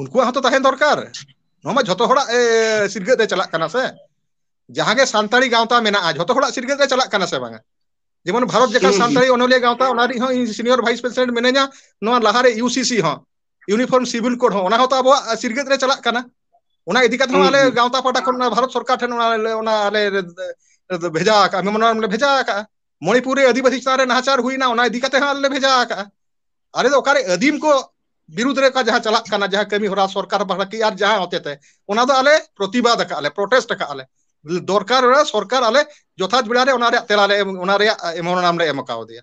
ᱩᱱᱠᱩᱣᱟᱜ ᱦᱚᱸᱛᱚ ᱛᱟᱦᱮᱸᱱ ᱫᱚᱨᱠᱟᱨ ᱱᱚᱣᱟ ᱢᱟ ᱡᱷᱚᱛᱚ ᱦᱚᱲᱟᱜ ᱥᱤᱨᱜᱟᱹ ᱛᱮ ᱪᱟᱞᱟᱜ ᱠᱟᱱᱟ ᱥᱮ ᱡᱟᱦᱟᱸ ᱜᱮ ᱥᱟᱱᱛᱟᱲᱤ ᱜᱟᱶᱛᱟ ᱢᱮᱱᱟᱜᱼᱟ ᱡᱷᱚᱛᱚ ᱦᱚᱲᱟᱜ ᱥᱤᱨᱜᱟᱹ ᱜᱮ ᱪᱟᱞᱟᱜ ᱠᱟᱱᱟ ᱥᱮ ᱵᱟᱝ ᱟ ᱡᱮᱢᱚᱱ ᱵᱷᱟᱨᱚᱛ ᱡᱟᱠᱟᱛ ᱦᱩᱸ ᱦᱩᱸ ᱥᱟᱱᱛᱟᱲᱤ ᱚᱱᱚᱞᱤᱭᱟᱹ ᱜᱟᱶᱛᱟ ᱚᱱᱟ ᱨᱮ ᱦᱚᱸ ᱤᱧ ᱥᱤᱱᱤᱭᱚᱨ ᱵᱷᱟᱭᱤᱥ ᱯᱨᱮᱥᱤᱰᱮᱱᱴ ᱢᱤᱱᱟᱹᱧᱟ ᱱᱚᱣᱟ ᱞᱟᱦᱟ ᱨᱮ ᱤᱭᱩ ᱥᱤ ᱥᱤ ᱦᱚᱸ ᱤᱭᱩᱱᱤᱯᱷᱚᱨᱢ ᱥᱤᱵᱤᱞ ᱠᱳᱰ ᱦᱚᱸ ᱚᱱᱟ ᱦᱚᱸᱛᱚ ᱟᱵᱚᱣᱟᱜ ᱥᱤᱨᱜᱟᱹᱫ ᱨᱮ ᱪᱟᱞᱟᱜ ᱠᱟᱱᱟ ᱚᱱᱟ ᱤᱫᱤ ᱠᱟᱛᱮ ᱦᱚᱸ ᱦᱩᱸ ᱟᱞᱮ ᱦᱩᱸ ᱜᱟᱶᱛᱟ ᱯᱟᱦᱴᱟ ᱠᱷᱚᱱ ᱵᱷᱟᱨᱚᱛ ᱥᱚᱨᱠᱟᱨ ᱴᱷᱮᱱ ᱚᱱᱟ ᱟᱞᱮ ᱵᱷᱮᱡᱟ ᱟᱠᱟᱜᱼᱟ ᱢᱮᱢᱳᱨᱮᱱᱰᱚᱢ ᱞᱮ ᱵᱷᱮᱡᱟ ᱟᱠᱟᱜᱼᱟ ᱢᱚᱱᱤᱯᱩᱨ ᱨᱮ ᱟᱹᱫᱤᱵᱟᱹᱥᱤ ᱪᱮᱛᱟᱱ ᱨᱮ ᱱᱟᱦᱟᱪᱟᱨ ᱦᱩᱭᱱᱟ ᱚᱱᱟ ᱤᱫᱤ ᱠᱟᱛᱮ ᱦᱚᱸ ᱟᱞᱮ ᱞᱮ ᱵᱷᱮᱡᱟ ᱟᱠᱟᱜᱼᱟ ᱟᱞᱮ ᱫᱚ ᱚᱠᱟᱨᱮ ᱟᱹᱫᱤᱢ ᱠᱚ ᱵᱤᱨᱩᱫᱽ ᱨᱮ ᱚᱠᱟ ᱡᱟᱦᱟᱸ ᱪᱟᱞᱟᱜ ᱠᱟᱱᱟ ᱡᱟᱦᱟᱸ ᱠᱟᱹᱢᱤ ᱦᱚᱨᱟ ᱥᱚᱨᱠᱟᱨ ᱯᱟᱦᱴᱟ ᱠᱤ ᱟᱨ ᱡᱟᱦᱟᱸ ᱦᱚᱛᱮ ᱛᱮ ᱚᱱᱟ ᱫᱚ ᱟᱞᱮ ᱯᱨᱚᱛᱤᱵᱟᱫ ᱟᱠᱟᱜᱼᱟ ᱞᱮ ᱯᱨᱚᱴᱮᱥᱴ ᱟᱠᱟᱜᱼᱟ ᱞᱮ ᱫᱚᱨᱠᱟᱨ ᱨᱮ ᱥᱚᱨᱠᱟᱨ ᱟᱞᱮ ᱡᱚᱛᱷᱟᱛ ᱵᱮᱲᱟ ᱨᱮ ᱚᱱᱟ ᱨᱮᱭᱟᱜ ᱛᱮᱞᱟ ᱞᱮ ᱮᱢ ᱚᱱᱟ ᱨᱮᱭᱟᱜ ᱮᱢᱚᱱᱟᱢ ᱞᱮ ᱮᱢ ᱠᱟᱣᱫᱮᱭᱟ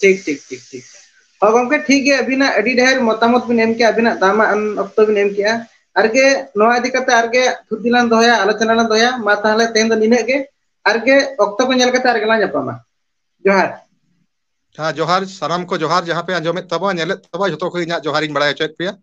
ᱴᱷᱤᱠ ᱴᱷᱤᱠ ᱴᱷᱤᱠ ᱴᱷᱤᱠ ᱦᱚᱭ ᱜᱚᱝᱠᱮ ᱴᱷᱤᱠ ᱜᱮᱭᱟ ᱟᱹᱵᱤᱱᱟᱜ ᱟᱹᱰᱤ ᱰᱷᱮᱨ ᱢᱚᱛᱟᱢᱚᱛ ᱵᱤᱱ ᱮᱢ ᱠᱮᱜᱼᱟ ᱟᱹᱵᱤᱱᱟᱜ ᱫᱟᱢᱟᱜ ᱟᱱ ᱚᱠᱛᱚ ᱵᱤᱱ ᱮᱢ ᱠᱮᱜᱼᱟ ᱾ ᱟᱨᱜᱮ ᱱᱚᱣᱟ ᱤᱫᱤ ᱠᱟᱛᱮ ᱟᱨᱜᱮ ᱛᱷᱩᱛᱤ ᱞᱟᱝ ᱫᱚᱦᱚᱭᱟ ᱟᱞᱳᱪᱚᱱᱟ ᱞᱟᱝ ᱫᱚᱦᱚᱭᱟ ᱢᱟ ᱛᱟᱦᱚᱞᱮ ᱛᱮᱦᱮᱧ ᱫᱚ ᱱᱤᱱᱟᱹᱜ ᱜᱮ ᱾ ᱟᱨᱜᱮ ᱚᱠᱛᱚ ᱠᱚ ᱧᱮᱞ ᱠᱟᱛᱮ ᱟᱨᱜᱮᱞᱟᱝ ᱧᱟᱯᱟᱢᱟ ᱡᱚᱦᱟᱨ ᱾ ᱦᱮᱸ ᱡᱚᱦᱟᱨ ᱥᱟᱱᱟᱢ ᱠᱚ ᱡᱚᱦᱟᱨ ᱡᱟᱦᱟᱸ ᱯᱮ ᱟᱸᱡᱚᱢᱮᱫ ᱛᱟᱵᱚᱣᱟ ᱧᱮᱞᱮᱫ ᱛᱟᱵᱚᱣᱟ ᱡᱚᱛᱚ ᱠᱚ ᱤᱧᱟᱹᱜ ᱡᱚᱦᱟᱨᱤᱧ ᱵᱟᱲᱟᱭ ᱦᱚᱪᱚᱭᱮᱫ ᱯᱮᱭᱟ ᱾